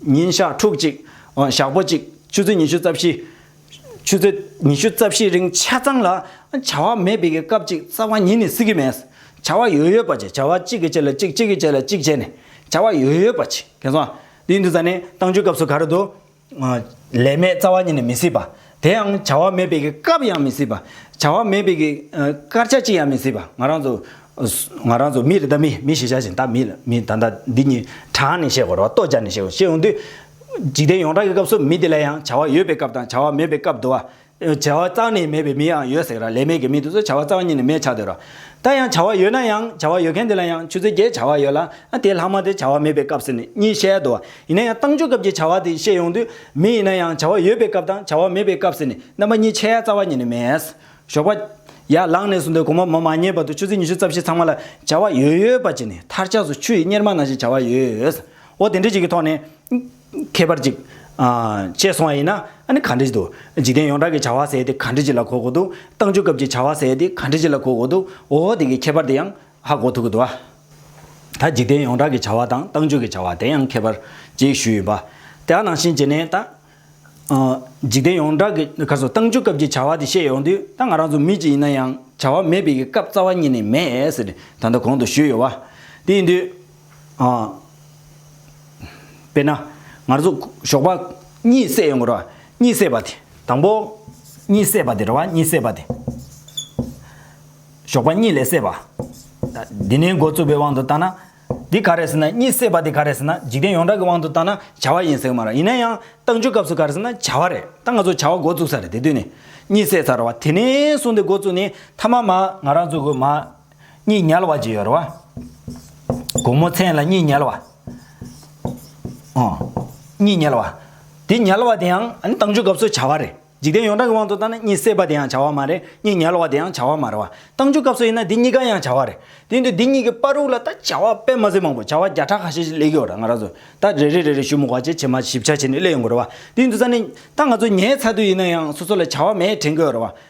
ཉིན་ཞག་ཕྲུག་གཅིག། ཞག་པོ་གཅིག་ཆུ་ཚོད་ཉི་ཤུ་རྩ་བཞི། ཆུ་ཚོད་ཉི་ཤུ་རྩ་བཞི་རིང་ཆ་ཚང་ལ་བྱ་བ་མེད་པའི་སྐབས་ཅིག་རྩ་བ་ཉིད་ནས་སྲིད་ཀྱི་མེད། བྱ་བ་ཡོད་ཡོད་པ་བྱས་བྱ་བ་གཅིག་གི་རྗེས་ལ་གཅིག་གཅིག་གི་རྗེས་ལ་གཅིག་བྱས་ནས་བྱ་བ་ཡོད་ཡོད་པ་བྱས་གལ་སོང། དེའི་དུས་ད་ནི་བཏང་ཆུའི་སྐབས་སུ་ག་རེ་འདུག་ལས་མེད་རྩ་བ་ཉིད་ནས་མི་སྲིད་པ། དེ་ཡང་བྱ་བ་མེད་པའི་སྐབས་ཡང་མི་སྲིད་པ། བྱ་བ་མེད་པའི་སྐར་ཆ་གཅིག་ཡང་མི་སྲིད་པ། ང་རང་ཚོ་མི་རེད་ད་མི་མི་ཞེས་བྱ་བཞིན་ད་མི་ལ་མི་ད་ལྟ་འདི་གཉིས་གྲངས་ནས་བཤད་དགོས་རོགས་ལྟོ་སྦྱར་ནས་བཤད་དགོས་ཤེས་འོང་དུས། འཇིག་རྟེན་ཡོངས་གྲགས་ཀྱི་སྐབས་སུ་མི་དེ་ལ་ཡང་བྱ་བ་ཡོད་པའི་སྐབས་དང་བྱ་བ་མེད་པའི་སྐབས་འདུ་བ། བྱ་བ་གཙང་ནི་མེད་པའི་མི་ཡང་ཡོད་ཟེར། ལས་མེད་ཀྱི་མི་དེ་ཚོ་བྱ་བ་གཙང་གཉིས་ནི་མེད་ཆགས་འདོད། ད་ཡང་བྱ་བ་ཡོད་ན་ཡང་བྱ་བ་ཡོད་མཁན་དེ་ལ་ཡང་ཆུ་ཚོད་བརྒྱད་བྱ་བ་ཡོད་ལ་དེའི་ལྷག་མ་དེ་བྱ་བ་མེད་པའི་སྐབས་ཟེར་ནས་གཉིས་བཤད་དོ། ཡིན་ན་ཡང་བཏང་ཆུ་སྐབས་ཀྱི་བྱ་བ་དེ་བཤད་ཡོང་དུས་མི་ཡིན་ན་ཡང་བྱ་བ་ཡོད་པའི་སྐབས་དང་བྱ་བ་མེད་པའི་སྐབས་ཟེར་ནས་རྣམ་པ་གཉིས་ཆད་ཡ་རྩ་བ་ཉིད་ནས་མེད། ཞོགས་པ། ཡར་ལངས་ནས་སུ་འདོད་གོང་མ་མོ་མ་ཉལ་བར་དུ་ཆུ་ཚོད་ཉི་ཤུ་རྩ་བཞི་ཚང་མ་ལ་བྱ་བ་ཡོད་ཡོད་པ་བྱས་ནས་མཐར་ཆགས་སུ་ཆུ་ཡི་གཉེར་མ་ན་ཞིག་བྱ་བ་ཡོད། འོ་དེ་འདྲའི་ཞིག་གི་ཐོག་ནས། ཁྱད་པར་ཅིག། ཅེས་སོང་བ་ཡིན་ན། གང་འདྲི་ཅི་དུ། འཇིག་རྟེན་ཡོངས་གྲགས་ཀྱི་བྱ་བ་ཟེར་ཏེ་གང་འདྲི་ཅི་ལ་གོ་དགོས་འདུག་བཏང་འབྱོར་སྐབས་ཀྱི་བྱ་བ་ཟེར་ཏེ་གང་འདྲི་ཅི་ལ་གོ་དགོས་འདུག་འོ་ཧོ་དེ་གའི་ཁྱད་པར་དེ་ཡང་ཧ་གོ་ཐུབ་ཀྱི་འདུག་ད་འཇིག་རྟེན་ཡོངས་གྲགས་ཀྱི་བྱ་བ་དང་བཏང་འབྱོར་གྱི་བྱ་བ་དེ་ཡང་ཁྱད་པར་ཅིག་ཞུས་ཡོད་པ། དེ་ཡང་ནང་བཞིན་བྱས་ནས་ད། འཇིག་རྟེན་ཡོངས་གྲགས་ཀྱི་ག་སོ་བཏང་འབྱོར་སྐབས་ཀྱི་བྱ་བ་དེ་བཤད་ཡོང་དུས་ད་ང་རང་ཚོ་མི་གཅིག་ཡིན་ན་ཡང་བྱ་བ་མེད་པའི་གི་སྐབས་རྩ་བ་ཉིད་ནས་མེད་ཟེར་ཏེ་ད་ལྟ་གོང་དུ་ཞུས་ཡོད་བ། དེ་ཡིན་དུས། དཔེར་ན། ངར་ཚོ་ཞོགས་པ་གཉིད་སད་ཡོང་གི་རོ། གཉིད་སད་པ་དེ་དང་པོ། གཉིད་སད་པ་དེ་རོ། གཉིད་སད་པ་དེ། ཞོགས་པ་གཉིད་ལས་སད་པ། འདི་ནས་འགོ་རྩུབ་པའི་དབང་དུ་བཏང་ན། འདི་ག་རེ་ཟེར་ན་གཉིད་སད་པ་དེ་ག་རེ་ཟེར་ན་འཇིག་རྟེན་ཡོངས་གྲགས་ཀྱི་དབང་དུ་བཏང་ན་བྱ་བ་ཡིན་ཟེར་གི་མ་རེད། ཡིན་ན་ཡང་བཏང་ཆུའི་སྐབས་སུ་ག་རེ་ཟེར་ན་བྱ་བ་རེད། ད་ང་ཚོ་བྱ་བ་འགོ་བཙུགས་ས་རེད་དེ་དུས་ནས་གཉིད་སད་ཚར་བ་དེ་ནས་བཟུང་སྟེ་འགོ་བཙུགས་ནས་མཐའ་མ་མ་ང་རང་ཚོ་གི་མ་གཉིས་ཉལ་བ་བརྗེ་ཡོར་བ། དགོང་མོ་མཚན་ལ་གཉིས་ཉལ་བ། གཉིས་ཉལ་བ། དེ་ཉལ་བ་དེའང་ཨ་ནི་བཏང་ཆུའི་སྐབས་སུ་བྱ་བ་རེད། འཇིག་རྟེན་ཡོངས་གྲགས་ཀྱི་དབང་དུ་བཏང་ན་གཉིས་བསྲེས་པ་དེའང་བྱ་བ་མ་རེད། གཉིས་ཉལ་བ་དེའང་བྱ་བ་མ་རེད། བཏང་ཆུའི་སྐབས་སུ་ཡིན་ན་དེ་གཉིས་ཀ་ཡང་བྱ་བ་རེད། དེ་ཡིན་དུས་འདི་གཉིས་ཀྱི་དཔར་རུག་ལ་ད་བྱ་བ་དཔེ་མ་ཟིན་མང་པོ་བྱ་བ་བརྒྱ་ཕྲག་ཁ་ཤས་ཤིག་ལེགས་ཡོད་རེད་ང་རང་ཚོས་ད་རེ་རེ་རེ་རེ་ཞུ་མུག་བ་ཆེ་ཆེ་མ་ཞིབ་ཆ་བྱས་ནས་གླེང་ཡོང་དགོས་རེད་བ། དེ་ཡིན་དུས་ས་ནི་ད་ང་ཚོ་ཉལ་ཚར་དུས་ཡིན་ན་ཡང་སོ་སོ་ལ་བྱ་བ་མེད་དྲན་གྱི་ཡོད་རེད་བ།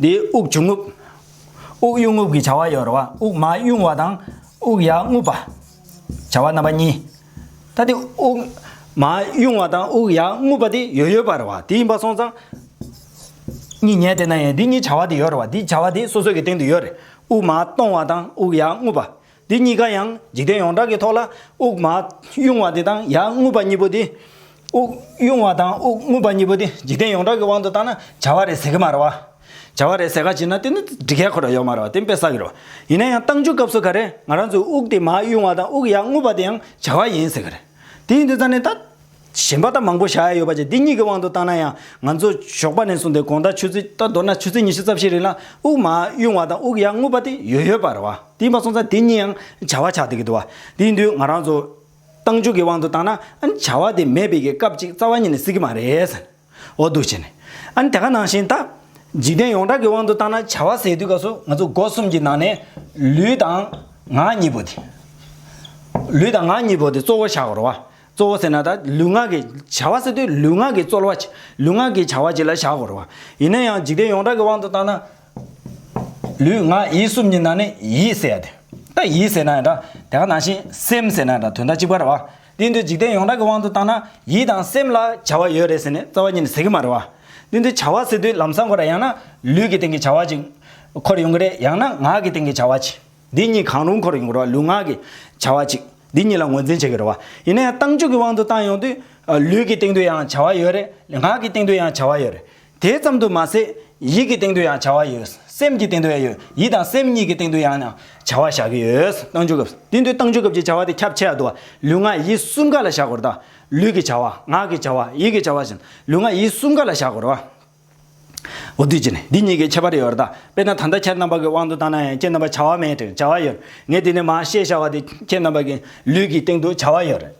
འདིའི་དབུགས་ཆུ་རྔུབ། དབུགས་དབྱུང་རྔུབ་ཀྱི་བྱ་བ་ཡོད་རེད་བ། དབུགས་མ་དབྱུང་བ་དང། དབུགས་ཡར་རྔུབ་པ། བྱ་བ་རྣམ་པ་གཉིས། ད་དེ་དབུགས་མ་དབྱུང་བ་དང་དབུགས་ཡར་རྔུབ་པ་དེ་ཡོད་ཡོད་པ་རེད་བ། དེ་ཡིན་པ་སོང་ཙང། གཉིས་ཉལ་དེ་ན་ཡང་དེ་གཉིས་བྱ་བ་དེ་ཡོད་རེད་བ། དེ་བྱ་བ་དེ་སོ་སོ་ཀྱི་སྟེང་དུ་ཡོད་རེད། དབུགས་མ་གཏོང་བ་དང་དབུགས་ཡར་རྔུབ་པ། འདི་གཉིས་ཀ་ཡང་འཇིག་རྟེན་ཡོངས་གྲགས་ཀྱི་ཐོག་ལ་དབུགས་མ་དབྱུང་བ་དེ་དང་ཡང་རྔུབ་པ་གཉིས་པོ་དེ། དབུགས་དབྱུང་བ་དང་དབུགས་རྔུབ་པ་གཉིས་པོ་དེ་འཇིག་རྟེན་ཡོངས་གྲགས་ཀྱི་དབང་དུ་བཏང་ན་བྱ་བ་རེས་ཟད་ཀྱི་མ་རེད། བྱ་བ་རེས་ཟད་ཁ་ཅིག་ན་དེ་ནི་སྒྲིག་གལ་ཁོ་ན་ཡོད་མ་རེད་དེ་དཔེ་བསགས་ཀྱི་རེད། ཡིན་ན་ཡང་བཏང་འཇུག་སྐབས་སུ་ག་རེ་ང་རང་ཚོས་དབུགས་དེ་མ་དབྱུང་བ་དང་དབུགས་ཡང་རྔུབ་པ་དེ་ཡང་བྱ་བ་ཡིན་ཟེར་གྱི་རེད། དེ་ཡིན་དུས་ད་ནི་ད། གཞན་པ་དང་མང་པོ་བཞག་ཡ་ཡོད་པ་བཅས་འདི་གཉིས་ཀྱི་དབང་དུ་བཏང་ན་ཡང་ང་ཚོ་ཞོགས་པ་ནས་བཟུང་སྟེ་དགོང་དག་ཆུ་ཚོད་ལྟར་མདོར་ན་ཆུ་ཚོད་ཉི་ཤུ་རྩ་བཞི་རིང་ལ་དབུགས་མ་དབྱུང་བ་དང་དབུགས་ཡར་རྔུབ་པ་དེ་ཡོད་ཡོད་པ་རེད་བ་དེ་ཡིན་པ་སོང་ཙང་དེ་གཉིས་ཡང་བྱ་བ་ཆགས་འདི་གི་འདུག་བ་དེ་ཡིན་དུས་ང་རང་ཚོ་ཏང་ཅུས་ཀྱི་དབང་དུ་བཏང་ན་ཨ་ནི་བྱ་བ་དེ་མེད་པས་ཀྱི་སྐབས་ཅིག་རྩ་བ་ཉིད་ནས་སྲིད་ཀྱི་མ་རེད། འོ་འདུག་བྱས་ནས། ཨ་ནི་དེ་ག་ནང་བཞིན་ད། འཇིག་རྟེན་ཡོངས་གྲགས་ཀྱི་དབང་དུ་བཏང་ན་བྱ་བ་ཟེར་དུས་ཀ་སོ་ང་ཚོ་སྒོ་གསུམ་གྱི་ནང་ནས། ལུས་དང། ངག་གཉིས་པོ་དེ། ལུས་དང་ངག་གཉིས་པོ་དེ་གཙོ་བོ་བཞག་རོགས། གཙོ་བོ་ཟེར་ན་ད་ལུས་ངག་གི་བྱ་བ་ཟེར་དུས་ལུས་ངག་གི་རྩོལ་བ། ལུས་ངག་གི་བྱ་བ་བཅས་ལ་བཞག་དགོས་རོགས། ཡིན་ན་ཡང་འཇིག་རྟེན་ཡོངས་གྲགས་ཀྱི་དབང་དུ་བཏང་ན། ལུས་ངག་ཡིད་གསུམ་གྱི་ནང་ནས་ཡིད་ཟེར་ཡ་དེ། ད་ཡིད་ཟེར་ན་ཡང་འདྲ་དེ་ག་ནང་བཞིན་སེམས་ཟེར་ན་ཡང་འདྲ་དོན་དག་གཅིག་པ་རེད་བ། དེ་འདྲའི་འཇིག་རྟེན་ཡོངས་གྲགས་ཀྱི་དབང་དུ་བཏང་ན་ཡིད་དང་སེམས་ལ་བྱ་བ་ཡོད་རེད་ཟེར་ནས་རྩ་བ་ཉིད་ནས་ཟེར་གྱི་མ་རེད་བ། དེ་འདྲའི་བྱ་བ་ཟེར་དུས་ལམ་སང་གོ་ར་ཡང་ན་ལུས་ཀྱི་སྟེང་གི་བྱ་བ་ཅིག་འཁོར་ཡོང་གི་རེད་ཡང་ན་ངག་གི་སྟེང་གི་བྱ་བ་ཅིག་འདི་གཉིས་གང་རུང་འཁོར་ཡོང་གི་རེད་བ་ལུས་ངག་གི་བྱ་བ་ཅིག་འདི་གཉིས་ལ་ངོས་འཛིན་བྱེད་ཀྱི་རེད་བ། ཡིན་ན་ཡང་བཏང་འཇུག་གི་དབང་དུ་བཏང་ཡོང་དུས་ལུས་ཀྱི་སྟེང་དུ་ཡང་བྱ་བ་ཡོད་རེད་ངག་གི་སྟེང་དུ་ཡང་བྱ་བ་ཡོད་རེད། དེ་ཙམ་དུ་མ་ཟད་ཡིད་ཀྱི་སྟེང་དུ་ཡང་བྱ་བ་ཡོད། སེམས་ཀྱི་སྟེང་དུ་ཡང་ཡོད། ཡིད་དང་སེམས་གཉིས་ཀྱི་སྟེང་དུ་ཡང་བྱ་བ་བཞག་གི་ཡོད། བཏང་འཇུག་སྐབས། དེ་དུས་བཏང་འཇུག་སྐབས་ཀྱི་བྱ་བ་དེ་ཁྱབ་ཆེ་ཡང་དུ་བ། ལུས་ངག་ཡིད་གསུམ་ག་ལ་བཞག་གོ། ལུས་ཀྱི་བྱ་བ། ངག་གི་བྱ་བ། ཡིད་ཀྱི་བྱ་བ་བཞིན། ལུས་ངག་ཡིད་གསུམ་ག་ལ་བཞག་གོ། འོ་དུས་ཀྱི་ནི་འདི་གཉིས་ཀྱི་ཁྱད་པར་ཡོད། དཔེར་ན་ད་ལྟ་ཁྱེད་རྣམ་པ་གྱི་དབང་དུ་བཏང་ན་ཡང་ཁྱེད་རྣམ་པར་བྱ་བ་མེད་དེ་བྱ་བ་ཡོད། ངས་དེ་ནས་མ་ཤེས་བྱ་བ་དེ་ཁྱེད་རྣམ་པ་གྱི་ལུས་ཀྱི་སྟེང་དུ་བྱ་བ་ཡོད།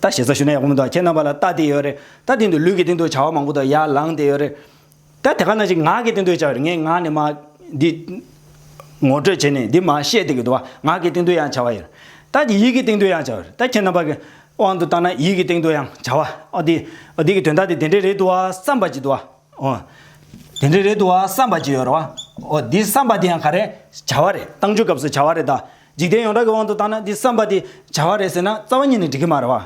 རྟ་ཞེས་ས་ཞུ་ན་ཡག་པོ་མི་འདུག་ཁྱེད་རྣམ་པ་ལ་རྟ་དེ་ཡོད་རེད་རྟ་དེ་འདུག་ལུས་ཀྱི་སྟེང་དུ་བྱ་བ་མང་པོ་དང་ཡར་ལངས་དེ་ཡོད་རེད་རྟ་དེ་ག་ནང་བཞིན་ངག་གི་སྟེང་དུ་བྱ་བ་རེད་ངས་ངག་ནས་མ་འདི་ངོ་སྤྲོད་བྱས་ནས་འདི་མ་བཤད་དེ་གི་འདུག་བ་ངག་གི་སྟེང་དུ་ཡང་བྱ་བ་ཡོད་རེད་རྟ་དེ་ཡིད་ཀྱི་སྟེང་དུ་ཡང་བྱ་བ་རེད་རྟ་ཁྱེད་རྣམ་པ་གི་དབང་དུ་བཏང་ན་ཡིད་ཀྱི་སྟེང་དུ་ཡང་བྱ་བ་ཨོ་དེ་ཨོ་དེ་གི་དོན་དག་དེ་དེ་འདྲས་རེད་འདུག་བ་བསམ་པ་ཅིག་འདུག་བ་ཨོ། དེ་འདྲས་རེད་འདུག་བ་བསམ་པ་ཅིག་ཡོད་རེད་བ་ཨོ་དེ་བསམ་པ་དེ་ཡང་ག་རེད་བྱ་བ་རེད་བཏང་ཆུ་སྐབས་སུ་བྱ་བ་རེད་ད། འཇིག་རྟེན་ཡོངས་གྲགས་ཀྱི་དབང་དུ་བཏང་ན་འདི་བསམ་པ་དེ་བྱ་བ་རེད་ཟེར་ན་རྩ་བ་ཉིད་ནས་འགྲིག་གི་མ་རེད་བ།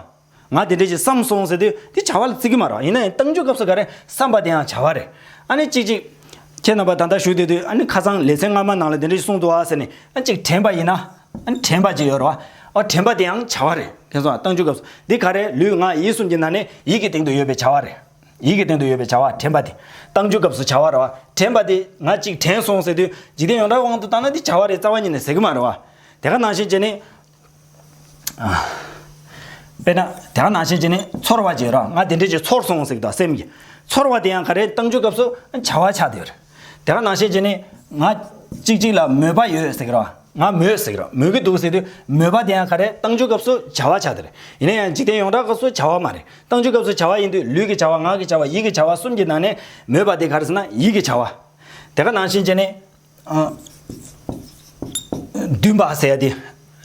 ང་དེ་འདྲས་ཞིག་བསམ་སོང་ཟེར་དུས་དེ་བྱ་བ་ལ་བརྩི་གི་མ་རེད་བ་ཡིན་ན་ཡང་གཏམ་རྒྱུད་སྐབས་སུ་ག་རེ་བསམ་པ་དེའང་བྱ་བ་རེད། ཨ་ནི་ཅིག་ཅིག། ཁྱེད་རྣམ་པ་ད་ལྟ་བཞུགས་བསྡད་དུས་ཨ་ནི་ཁ་རྩང་ལེ་ཚན་སྔ་མ་ནང་ལ་དེ་འདྲས་ཞིག་གསུངས་འདུག་བ་ཟེར་ནས་ཨ་ཅིག་དྲན་པ་ཡིན་ན། ཨ་ནི་དྲན་པ་ཅིག་ཡོད་རེད་བ། ཨོ་དྲན་པ་དེའང་བྱ་བ་རེད། དེ་ཚོའང་གཏམ་རྒྱུད་སྐབས་སུ་འདི་ག་རེ་ལུས་ངག་ཡིད་གསུམ་གྱི་ནང་ནས་ཡིད་ཀྱི་སྟེང་དུ་ཡོད་པའི་བྱ་བ་རེད། ཡིད་ཀྱི་སྟེང་དུ་ཡོད་པའི་བྱ་བ་དྲན་པ་དེ། བཏང་རྒྱུའི་སྐབས་སུ་བྱ་བ་རེད་བ། དྲན་པ་དེ། ང་གཅིག་དྲན་སོང་ཟེར་དུས། འཇིག་རྟེན་ཡོངས་གྲགས་དབང་དུ་བཏང་ན་དེ་བྱ་བ་རེད་རྩ་བ་ཉིད་ནས་ཟེར་གྱི་མ་རེད་བ། དེ་ག་ནང་བཞིན་བྱས་ནས། དཔེར་ན། དེ་ག་ནང་བཞིན་བྱས་ནས་ཚོར་བ་བྱས་རོགས། ང་དེ་འདྲའི་ཞིག་ཚོར་སོང་ཟེར་གྱི་འདུག་སེམས་ཀྱིས། ཚོར་བ་དེ་ཡང་ག་རེ་བཏང་རྒྱུའི་སྐབས་སུ། བྱ་བ་ཆགས་བསྡད་པ་རེད། དེ་ག་ནང་ཤེས་ཀྱི་ནི། ང། གཅིག་གཅིག་ལ་མོས་པ་ཡོད་ཟེར་གི་རེད། ང་མོས་ཟེར་གི་རེད། མོས་ཀྱི་འདུག་ཟེར་དུས། མོས་པ་དེ་ཡང་ག་རེ་བཏང་ཆུའི་སྐབས་སུ་བྱ་བ་བྱ་དེ་རེད། ཡིན་ན་ཡང་འཇིག་རྟེན་ཡོངས་གྲགས་སྐབས་སུ་བྱ་བ་མ་རེད། བཏང་ཆུའི་སྐབས་སུ་བྱ་བ་ཡིན་དུས་ལུས་ཀྱི་བྱ་བ་ངག་གི་བྱ་བ་ཡིད་ཀྱི་བྱ་བ་གསུམ་གྱི་ནང་ནས། མོས་པ་དེ་ག་རེ་ཟེར་ན་ཡིད་ཀྱི་བྱ་བ། དེ་ག་ནང་ཤེས་ཀྱི་ནི། འདུན་པ་ཟེར་དེ།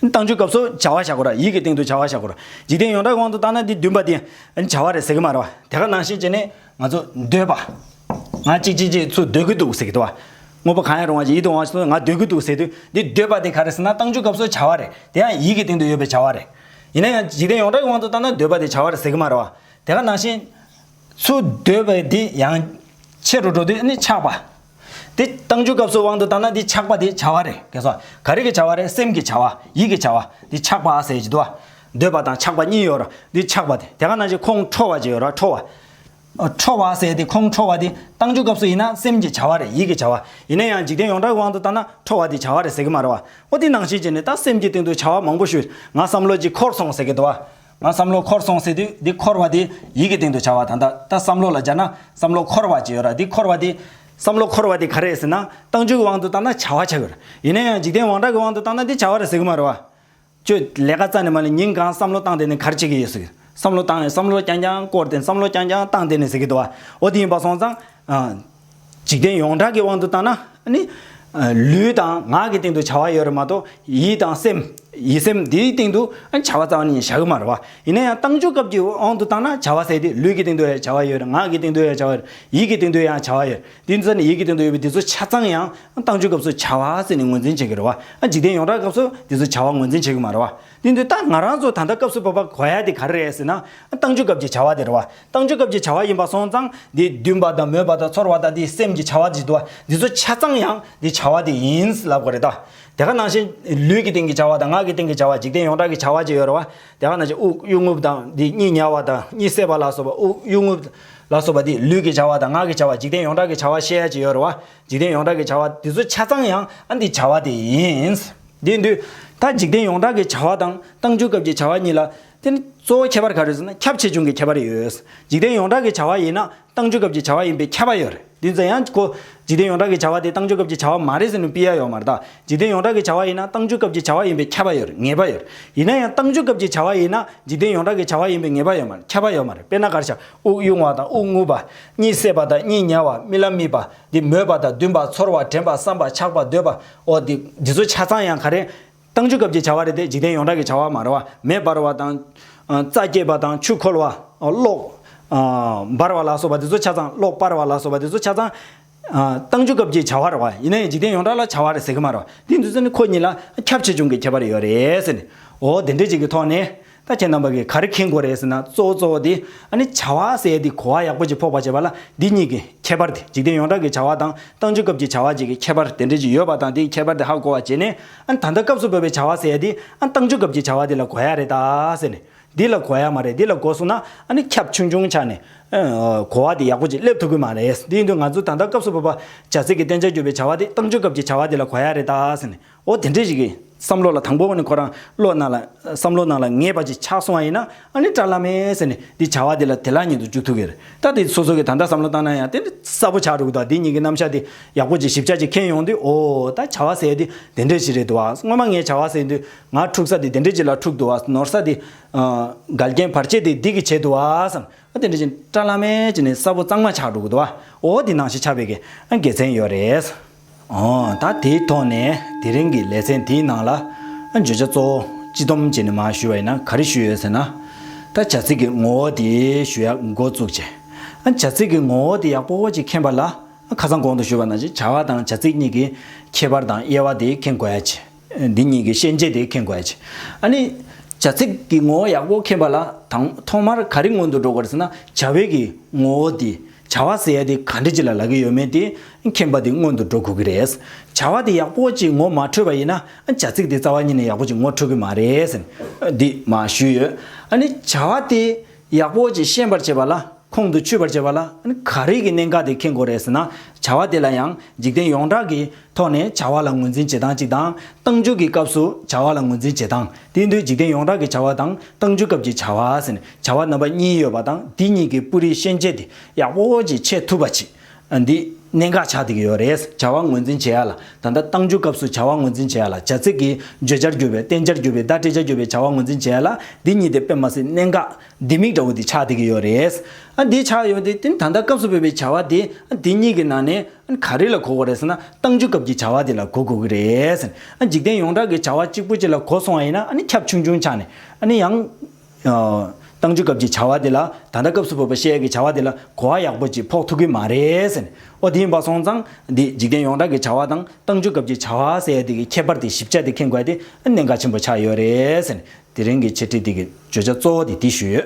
བཏང་ཆུའི་སྐབས་སུ་བྱ་བ་བྱ་དགོས་ར་ཡིད་ཀྱི་སྟེང་དུ་བྱ་བ་བྱ་དགོས་ར། འཇིག་རྟེན་ཡོངས་གྲགས་དབང་དུ་བཏང་ན་འདི་འདུན་པ་དེ། བྱ་བ་རེད་ཟེར་གི་མ་རེད་བ། དེ་ག་ནང་ཤེས་ཀྱི་ནི། ང་ཚོ་འདོད་པ། ང་གཅིག་གཅིག་གཅིག་ཚོ་འདོད་གི་འདུག་ཟེར་གི་འདུག་བ། དངོས་པོ་གང་ཡང་རུང་བ་ཞིག་ཡིད་དུ་འོང་བ་ཞིག་ཚོ་ང་འདོད་གི་འདུག་ཟེར་དུས་འདི་འདོད་པ་དེ་ག་རེ་ཟེར་ན་བཏང་འཇུག་སྐབས་སུ་བྱ་བ་རེད། དེ་ཡང་ཡིད་ཀྱི་སྟེང་དུ་ཡོད་པའི་བྱ་བ་རེད། ཡིན་ན་ཡང་འཇིག་རྟེན་ཡོངས་གྲགས་ཀྱི་དབང་དུ་བཏང་ན་འདོད་པ་དེ་བྱ་བ་རེད་ཟེར་གྱི་མ་རེད་བ། དེ་ག་ནང་བཞིན། ཚུར་འདོད་པའི་དེ་ཡང། ཆེ་རུ་འགྲོ་དུས་ནི་ཆགས་པ། དེ་བཏང་ཆུའི་སྐབས་སུ་དབང་དུ་བཏང་ན་དེ་ཆགས་པ་དེ་བྱ་བ་རེད་གལ་སྲིད། ག་རེ་གི་བྱ་བ་རེད་སེམས་ཀྱི་བྱ་བ་ཡིད་ཀྱི་བྱ་བ་དེ་ཆགས་པ་ཟེར་གྱི་འདུག་བ། འདོད་པ་དང་ཆགས་པ་གཉིས་ཡོད་ར་དེ་ཆགས་པ་དེ་དེ་ག་ནང་བཞིན་ཁོང་ཁྲོ་བ་ཅིག་ཡོད་ར་ཁྲོ་བ། ཁྲོ་བ་ཟེར་དེ་ཁོང་ཁྲོ་བ་དེ་བཏང་ཆུའི་སྐབས་སུ་ཡིན་ན་སེམས་ཀྱི་བྱ་བ་རེད་ཡིད་ཀྱི་བྱ་བ་ཡིན་ན་ཡང་འཇིག་རྟེན་ཡོངས་གྲགས་ཀྱི་དབང་དུ་བཏང་ན་ཁྲོ་བ་དེ་བྱ་བ་རེད་ཟེར་གྱི་མ་རེད་བ། འོ་དེ་ནང་བཞིན་གྱི་ནི་ད་སེམས་ཀྱི་སྟེང་དུ་བྱ་བ་མང་པོ་ཞུས་ང་བསམ་བློ་གྱིས་འཁོར་སོང་ཟེར་གྱི་འདུག་བ། ང་བསམ་བློ་འཁོར་སོང་ཟེར་དུས་འདི་འཁོར་བ་དེ་ཡིད་ཀྱི་སྟེང་དུ་བྱ་བ་དང་ད་ལྟ་བསམ་བློ་ལ་སྦྱར་ན་བསམ་བློ་འཁོར་བ་ཅིག་ཡོད་ར་འདི་འཁོར་བ་དེ། བསམ་བློ་འཁོར་བ་དེ་ག་རེ་ཟེར་ན་རྟགས་འཇུག་གི་དབང་དུ་བཏང་ན་བྱ་བ་ཆགས་ཡོད་ར་ཡིན་ན་ཡང་འཇིག་རྟེན་དབང་དྲག་གི་དབང་དུ་བཏང་ན་འདི་བྱ་བ་ར་ཟེར་གི་མ་རེད་བ། ཁྱོད་ལས་ཀ་རྩ་ནས་མ་ལས་ཉིན་གང་བསམ་བློ་བཏང་དེ་ནས་གར་བྱེད་ཀྱི་ཡོད་ཟེར་གི་བསམ་བློ་བཏང་ནས་བསམ་བློ་རྐྱང་རྐྱང་བསྐོར་དེ་བསམ་བློ་རྐྱང་རྐྱང་བཏང་དེ་ནས་ཟེར་གི་འདུག་བ་འོ་དེ་ཡིན་པ་སོང་ཙང། འཇིག་རྟེན་ཡོངས་གྲགས་ཀྱི་དབང་དུ་བཏང་ན་ནི། ལུས་དང་ངག་གི་སྟེང་དུ་བྱ་བ་ཡོད་རེད་མ་གཏོགས་ཡིད་དང་སེམས། ཡིད་སེམས་དེའི་སྟེང་དུ་བྱ་བ་རྩ་བ་ནི་བྱ་གི་མ་རེད་བ། ཡིན་ན་ཡང་བཏང་ཆོག་སྐབས་ཀྱི་དབང་དུ་བཏང་ན་བྱ་བ་ཟད་དེ་ལུས་ཀྱི་སྟེང་དུ་ཡང་བྱ་བ་ཡོད་ངག་གི་སྟེང་དུ་ཡང་བྱ་བ་ཡོད་ཡིད་ཀྱི་སྟེང་དུ་ཡང་བྱ་བ་ཡོད་དེ་ཚོ་ནི་ཡིད་ཀྱི་སྟེང་དུ་ཡོད་པའི་དེ་ཚོ་ཆ་ཚང་ཡང་བཏང་ཆོག་སྐབས་སུ་བྱ་བ་ཟེར་ནས་ངོས་འཛིན་བྱེད་ཀྱི་རེད་བ། འཇིག་རྟེན་ཡོངས་གྲགས་སྐབས་སུ་དེ་ཚོ་བྱ་བ་ངོས་འཛིན་བྱེད་ཀྱི་མ་རེད་བ། དེ་ཚོས་ད་ང་རང་ཚོ་ད་ལྟ་སྐབས་སུ་བབ་པ་གོ་ཡ་དེ་ག་རེ་རེད་ཟེར་ན། བཏང་ཆོག་སྐབས་ཀྱི་བྱ་བ་དེ་རེད་བ། བཏང་ཆོས་སྐབས་ཀྱི་བྱ་བ་ཡིན་པར་སོང་ཙང་འདི་འདུན་པ་དང་མོས་པ་དང་ཚོར་བ་དང་འདི་སེམས་ཀྱི་བྱ་བ་འདི་དུ་འདི་ཚོ་ཆ་ཚང་ཡང་འདི་བྱ་བ་དེ་ཡིན་ལབ་དགོས་རེད་ད། དེ་ག་ནང་བཞིན་ལུས་ཀྱི་སྟེང་གི་བྱ་བ་དང་ངག་གི་སྟེང་གི་བྱ་བ་འཇིག་རྟེན་ཡོངས་གྲགས་ཀྱི་བྱ་བ་བཅས་ཡོད་རེད་བ། དེ་ག་ནང་བཞིན་དབུགས་དབྱུང་རྔུབ་དང་འདི་གཉིས་ཉལ་བ་དང་གཉིས་བསད་པ་ལ་སོགས་པ་དབུགས་དབྱུང་རྔུབ་ལ་སོགས་པ་འདི་ལུས་ཀྱི་བྱ་བ་དང་ངག་གི་བྱ་བ་འཇིག་རྟེན་ཡོངས་གྲགས་ཀྱི་བྱ་བ་བཤད་ཡ་བཅས་ཡོད་རེད་བ། འཇིག་རྟེན་ཡོངས་གྲགས་ཀྱི་བྱ་བ་འདི་ཚོ་ཆ་ཚང་ཡང་ཨ་འདི་བྱ་བ་དེ་ཡིན། འདི་འདུས་ད་འཇིག་རྟེན་ཡོངས་གྲགས་ཀྱི་བྱ་བ་དང་བཏང་ཆོས་སྐབས་ཀྱི་བྱ་བ་གཉིས་ལ་དེ་ནི་གཙོ་བོ་ཁྱད་པར་ག་རེ་ཟེར་ན་ཁྱབ་ཆེ་ཆུང་གི་ཁྱད་པར་ཡོད། འཇིག་རྟེན་ཡོངས་གྲགས་ཀྱི་བྱ་བ་ཡིན་ན་བཏང་ཆུ་སྐབས་ཀྱི་བྱ་བ་ཡིན་པའི་ཁྱད་པར་ཡོད། བདུན་ཙམ་ཡང་གོ། འཇིག་རྟེན་ཡོངས་གྲགས་ཀྱི་བྱ་བ་དེ་བཏང་ཆུ་སྐབས་ཀྱི་བྱ་བ་མ་རེད་ཟེར་ནུ་པི་ཡ་ཡོག་མ་རེད་ད། འཇིག་རྟེན་ཡོངས་གྲགས་ཀྱི་བྱ་བ་ཡིན་ན་བཏང་ཆུ་སྐབས་ཀྱི་བྱ་བ་ཡིན་པའི་ཁྱད་པར་ཡོད་ངེས་པ་ཡོད། ཡིན་ན་ཡང་བཏང་ཆུ་སྐབས་ཀྱི་བྱ་བ་ཡིན་ན་འཇིག་རྟེན་ཡོངས་གྲགས་ཀྱི་བྱ་བ་ཡིན་པའི་ངེས་པ་ཡོད་མ་རེད་ཁྱད་པར་ཡོད་མ་རེད་དཔེར་ན་གར་བྱ། དབུགས་དབྱུང་བ་དང་དབུགས་རྔུབ་པ། གཉིད་སད་པ་དང་གཉིད་ཉལ་བ་རྨི་ལམ་རྨིས་པ། འདི་མོས་པ་དང་འདུན་པ་ཚོར་བ་དྲན་པ་བསམ་པ་ཆགས་པ་འདོད་པ། འོ་འདི་འདི་ཚོ་ཆ་ཚང་ཡང་ག་རེ། བཏང་ཆུ་སྐབས་ཀྱི་བྱ་བ་རེ་སྟེ་འཇིག་རྟེན་ཡོངས་གྲགས་ཀྱི་བྱ་བ་མ་ར་བ། མེ་འབར་བ་དང། རྩྭ་སྐྱེས་པ་དང་ཆུ་འཁོལ་བ། གློག། འབར་བ་ལ་སོགས་པ་དེ་ཚོ་ཆ་ཚང་གློག་སྤར་བ་ལ་སོགས་པ་དེ་ཚོ་ཆ་ཚང། བཏང་ཆུ་སྐབས་ཀྱི་བྱ་བ་ར་བ། ཡིན་ན་ཡང་འཇིག་རྟེན་ཡོངས་གྲགས་ལ་བྱ་བ་རེ་ཟེར་གྱི་མ་ར་བ། དེའི་འདུས་ཚད་ནི་ཁོ་གཉིས་ལ་ཁྱབ་ཆེ་ཆུང་གི་ཁྱད་པར་ཡོད་རེད། ཟེར་ནས་འོ་དེ་འདྲའི་ཅིག་གི་ཐོག་ནས། ད་ཁྱེད་རྣམ་པ་གིས་ག་རེ་མཁྱེན་དགོས་རེད་ཟེར་ན་གཙོ་བོ་གཙོ་བོ་དེ་ཨ་ནི་བྱ་བ་ཟེར་དེ་གོ་བ་ཡག་པོ་ཅིག་ཕོག་པ་བྱེད་པ་ལ་འདི་གཉིས་ཀྱི་ཁྱད་པར་དེ་འཇིག་རྟེན་ཡོངས་གྲགས་ཀྱི་བྱ་བ་དང་ཏང་ཆོས་སྐབས་ཀྱི་བྱ་བ་བཅས་ཀྱི་ཁྱད་པར་དེ་འདྲ་ཅིག་ཡོད་པ་དང་དེའི་ཁྱད་པར་དེ་ཧ་གོ་བ་བྱེད་ནས་ཨ་ནི་ད་ལྟ་སྐབས་སུ་བབས་པའི་བྱ་བ་ཟེར་དེ་ཨ་ནི་ཏང་ཆོས་སྐབས་ཀྱི་བྱ་བ་དེ་ལ་གོ་ཡ་རེད་ད་ཟེར་ནས་འདི་ལ་གོ་ཡ་མ་རེད་འདི་ལ་གོ་སོང་ན་ཨ་ནི་ཁྱབ་ཆུང་ཆུང་ཆགས་ནས་གོ་བ་དེ་ཡག་པོ་ཅིག་སླེབས་ཐུབ་ཀྱི་མ་རེད་འདི་ཡིན་དུས་ང་ཚོས་ད་ལྟ་སྐབས་སུ་བབས་པ་བྱ་ཚིག་གི་བསྟན་བྱ་བརྒྱུད་པའི་བྱ་བ་དེ་ཏང་ཆོས་སྐབས་ཀྱི་བྱ་བ་དེ་ལ་གོ་ཡ་རེད་ད་ཟེར་ནས་ཨོ་དེ་འདྲའི་ཞིག་གི་བསམ་བློ་ལ་དང་པོ་བ་ནི་ཁོ་རང་བློ་སྣ་ལ་བསམ་བློ་སྣ་ལ་ངེས་པ་ཅིག་ཆགས་སོང་བ་ཡིན་ན་ཨ་ནི་བཀྲ་ལམ་མེ་ཟེར་ནས་འདི་བྱ་བ་འདི་ལ་དེ་ལ་ཉན་དུ་འཇུག་ཐུག་གི་རེད་ད་དེ་སོ་སོ་གི་ད་ལྟ་བསམ་བློ་བཏང་ན་ཡང་དེ་འདྲ་གསལ་པོ་ཆགས་འགྲོ་གི་འདུག་འདི་གཉིས་ཀྱི་རྣམ་ཤ་དེ་ཡག་པོ་ཅིག་ཞིབ་ཆ་ཅིག་ཁེན་ཡོང་དུས་ཨོ་ད་བྱ་བ་ཟེར་དེ་དེ་འདྲའི་ཞིག་རེད་འདུག་བ་སྔོན་མ་ངས་བྱ་བ་ཟེར་དུས་ང་འཁྲུག་ས་དེ་དེ་འདྲའི་ཅིག་ལ་འཁྲུག་འདུག་བ་ནོར་ས་དེ་འགལ་རྐྱེན་བར་ཆད་དེ་འདི་གི་བྱས་འདུག་བ་བསམ་ཨོ་དེ་འདྲའི་ཅིག་བཀྲ་ལམ་མེ་ཅིག་ནས་གསལ་པོ་གཙང་མ་ཆགས་འགྲོ་གི་འདུག་བ་ཨོ་འདི་ནང་བཞིན་ཆགས་པའི་གི་དགེ་མཚན་ཡོད་རེད། ད་དེའི་ཐོག་ནས་དེ་རིང་གི་ལེ་ཚན་དེའི་ནང་ལ་བརྗོད་བྱ་གཙོ་བོ་སྤྱི་སྡོམ་བྱེད་ནས་མ་ཞུས་བ་ཡིན་ན་ག་རེ་ཞུས་ཡོད་ཟེར་ན། ད་བྱ་ཚིག་གི་ངོ་བོ་དེ་ཞུ་ཡག་འགོ་བཙུགས་རྗེས། བྱ་ཚིག་གི་ངོ་བོ་དེ་ཡག་པོ་ཅིག་མཁྱེན་པ་ལ་ཁ་སང་གོང་དུ་ཞུས་པ་ནང་བཞིན་བྱ་བ་དང་བྱ་ཚིག་གཉིས་ཀྱི་ཁྱད་པར་དང་དབྱེ་བ་དེ་མཁྱེན་དགོས་ཡ་ཆེ། འདི་གཉིས་ཀྱི་ཤན་འབྱེད་དེ་མཁྱེན་དགོས་ཀྱི། ཨ་ནི། བྱ་ཚིག་གི་ངོ་བོ་ཡག་པོ་མཁྱེན་པ་ལ་དང་ཐོག་མར་ག་རེ་སྔོན་དུ་འགྲོ་དགོས་ཟེར་ན་བྱ་བའི་གི་ངོ་བོ་དེ། བྱ་བ་ཟེར་ཡ་དེ་ག་འདྲི་ཅི་ལ་ལག་གི་ཡོད་མེད་དེ་མཁྱེན་པ་དེ་སྔོན་དུ་འགྲོ་དགོས་ཀྱི་རེད། བྱ་བ་དེ་ཡག་པོ་ཅིག་ངོ་མ་འཕྲོད་པ་ཡིན་ན་བྱ་ཚིག་དེ་རྩ་བ་ཉིད་ནས་ཡག་པོ་ཅིག་ངོ་འཕྲོད་ཀྱི་མ་རེད། འདི་མ་ཞུས་ཡོད། ཨ་ནི་བྱ་བ་དེ་ཡག་པོ་ཅིག་ཤེས་པར་བྱས་པ་ལ་ཁོང་དུ་ཆུད་པར་བྱས་པ་ལ་ག་རེ་གི་གནད་འགག་དེ་མཁྱེན་དགོས་རེད་ཟེར་ན་བྱ་བ་དེ་ལ་ཡང་འཇིག་རྟེན་ཡོངས་གྲགས་ཀྱི་ཐོག་ནས་བྱ་བ་ལ་ངོས་འཛིན་བྱེད་སྟངས་གཅིག་དང་ཏང་འཛུགས་ཀྱི་སྐབས་སུ་བྱ་བ་ལ་ངོས་འཛིན་བྱེད་སྟངས་དེ་འདུས་འཇིག་རྟེན་ཡོངས་གྲགས་ཀྱི་བྱ་བ་དང་ཏང་འཛུགས་སྐབས་ཀྱི་བྱ་བ་ཟེར་ནས་བྱ་བ་རྣམ་པ་གཉིས་ཡོད་པ་དང་འདི་གཉིས་ཀྱི་སྤུ་རིས་ཤན་འབྱེད་དེ་ཡག་པོ་ཅིག་ཕྱེ་ཐུབ་པ་ཅིག་འདི་གནད་འགག་ཆགས་འདུག་ཡོད་རེད། བྱ་བ་ངོས་འཛིན་བྱེད་ཡ་ལ་ད་ལྟ་གཏང་རྒྱུ་སྐབས་སུ་བྱ་བ་ངོས་འཛིན་བྱེད་ཡ་ལ་བྱ་ཚིག་གི་བརྗོད་བྱར་གྱུར་པའི་བསྟན་བྱར་གྱུར་པའི་བརྡ་སྤྲད་བྱར་གྱུར་པའི་བྱ་བ་ངོས་འཛིན་བྱེད་ཡ་ལ་འདི་གཉིས་དེ་དཔེ་མ་ཟད་གནད་འགག་ལྡེ་མིག་འདྲ་བོ་འདི་ཆགས་འདུག་ཡོད་རེད། འདི་ཆགས་ཡོད་དེ་ད་ལྟ་སྐབས་སུ་བོད་པའི་བྱ་བ་འདི་འདི་གཉིས་ཀྱི་ནང་ནས་ག་རེ་ལ་གོ་དགོས་རེད་ཟེར་ན་གཏང་རྒྱུ་སྐབས་ཀྱི་བྱ་བ་འདི་ལ་གོ་དགོས་ཀྱི་རེད། འཇིག་རྟེན་ཡོངས་གྲགས་ཀྱི་བྱ་བ་གཅིག་པོ་གཅིག་ལ་གོ་སོང་བ་ཡིན་ན་ཁྱབ་ཆུང་ཆུང་ཆགས་ནས་ཡང། བཏང་ཆུ་སྐབས་ཀྱི་བྱ་བ་དེ་ལ་ད་ལྟ་སྐབས་སུ་བབས་པ་ཤེལ་གྱི་བྱ་བ་དེ་ལ་གོ་བ་ཡག་པོ་ཅིག་ཕོག་ཐུབ་ཀྱི་མ་རེད། ཨོ་དེ་ཡིན་པ་སོང་ཙང་འདི་འཇིག་རྟེན་ཡོངས་གྲགས་ཀྱི་བྱ་བ་དང་བཏང་ཆུ་སྐབས་ཀྱི་བྱ་བ་ཟེར་ཡ་དེ་གི་ཁྱད་པར་དེ་ཞིབ་ཆ་དེ་མཁྱེན་དགོས་དེ་གནད་འགག་ཆེན་པོ་ཆགས་ཡོད་རེད། དེ་རིང་གི་འཆད་ཁྲིད་དེ་གི་བརྗོད་བྱ་གཙོ་བོ་དེ་འདི་ཞུས་ཡོད།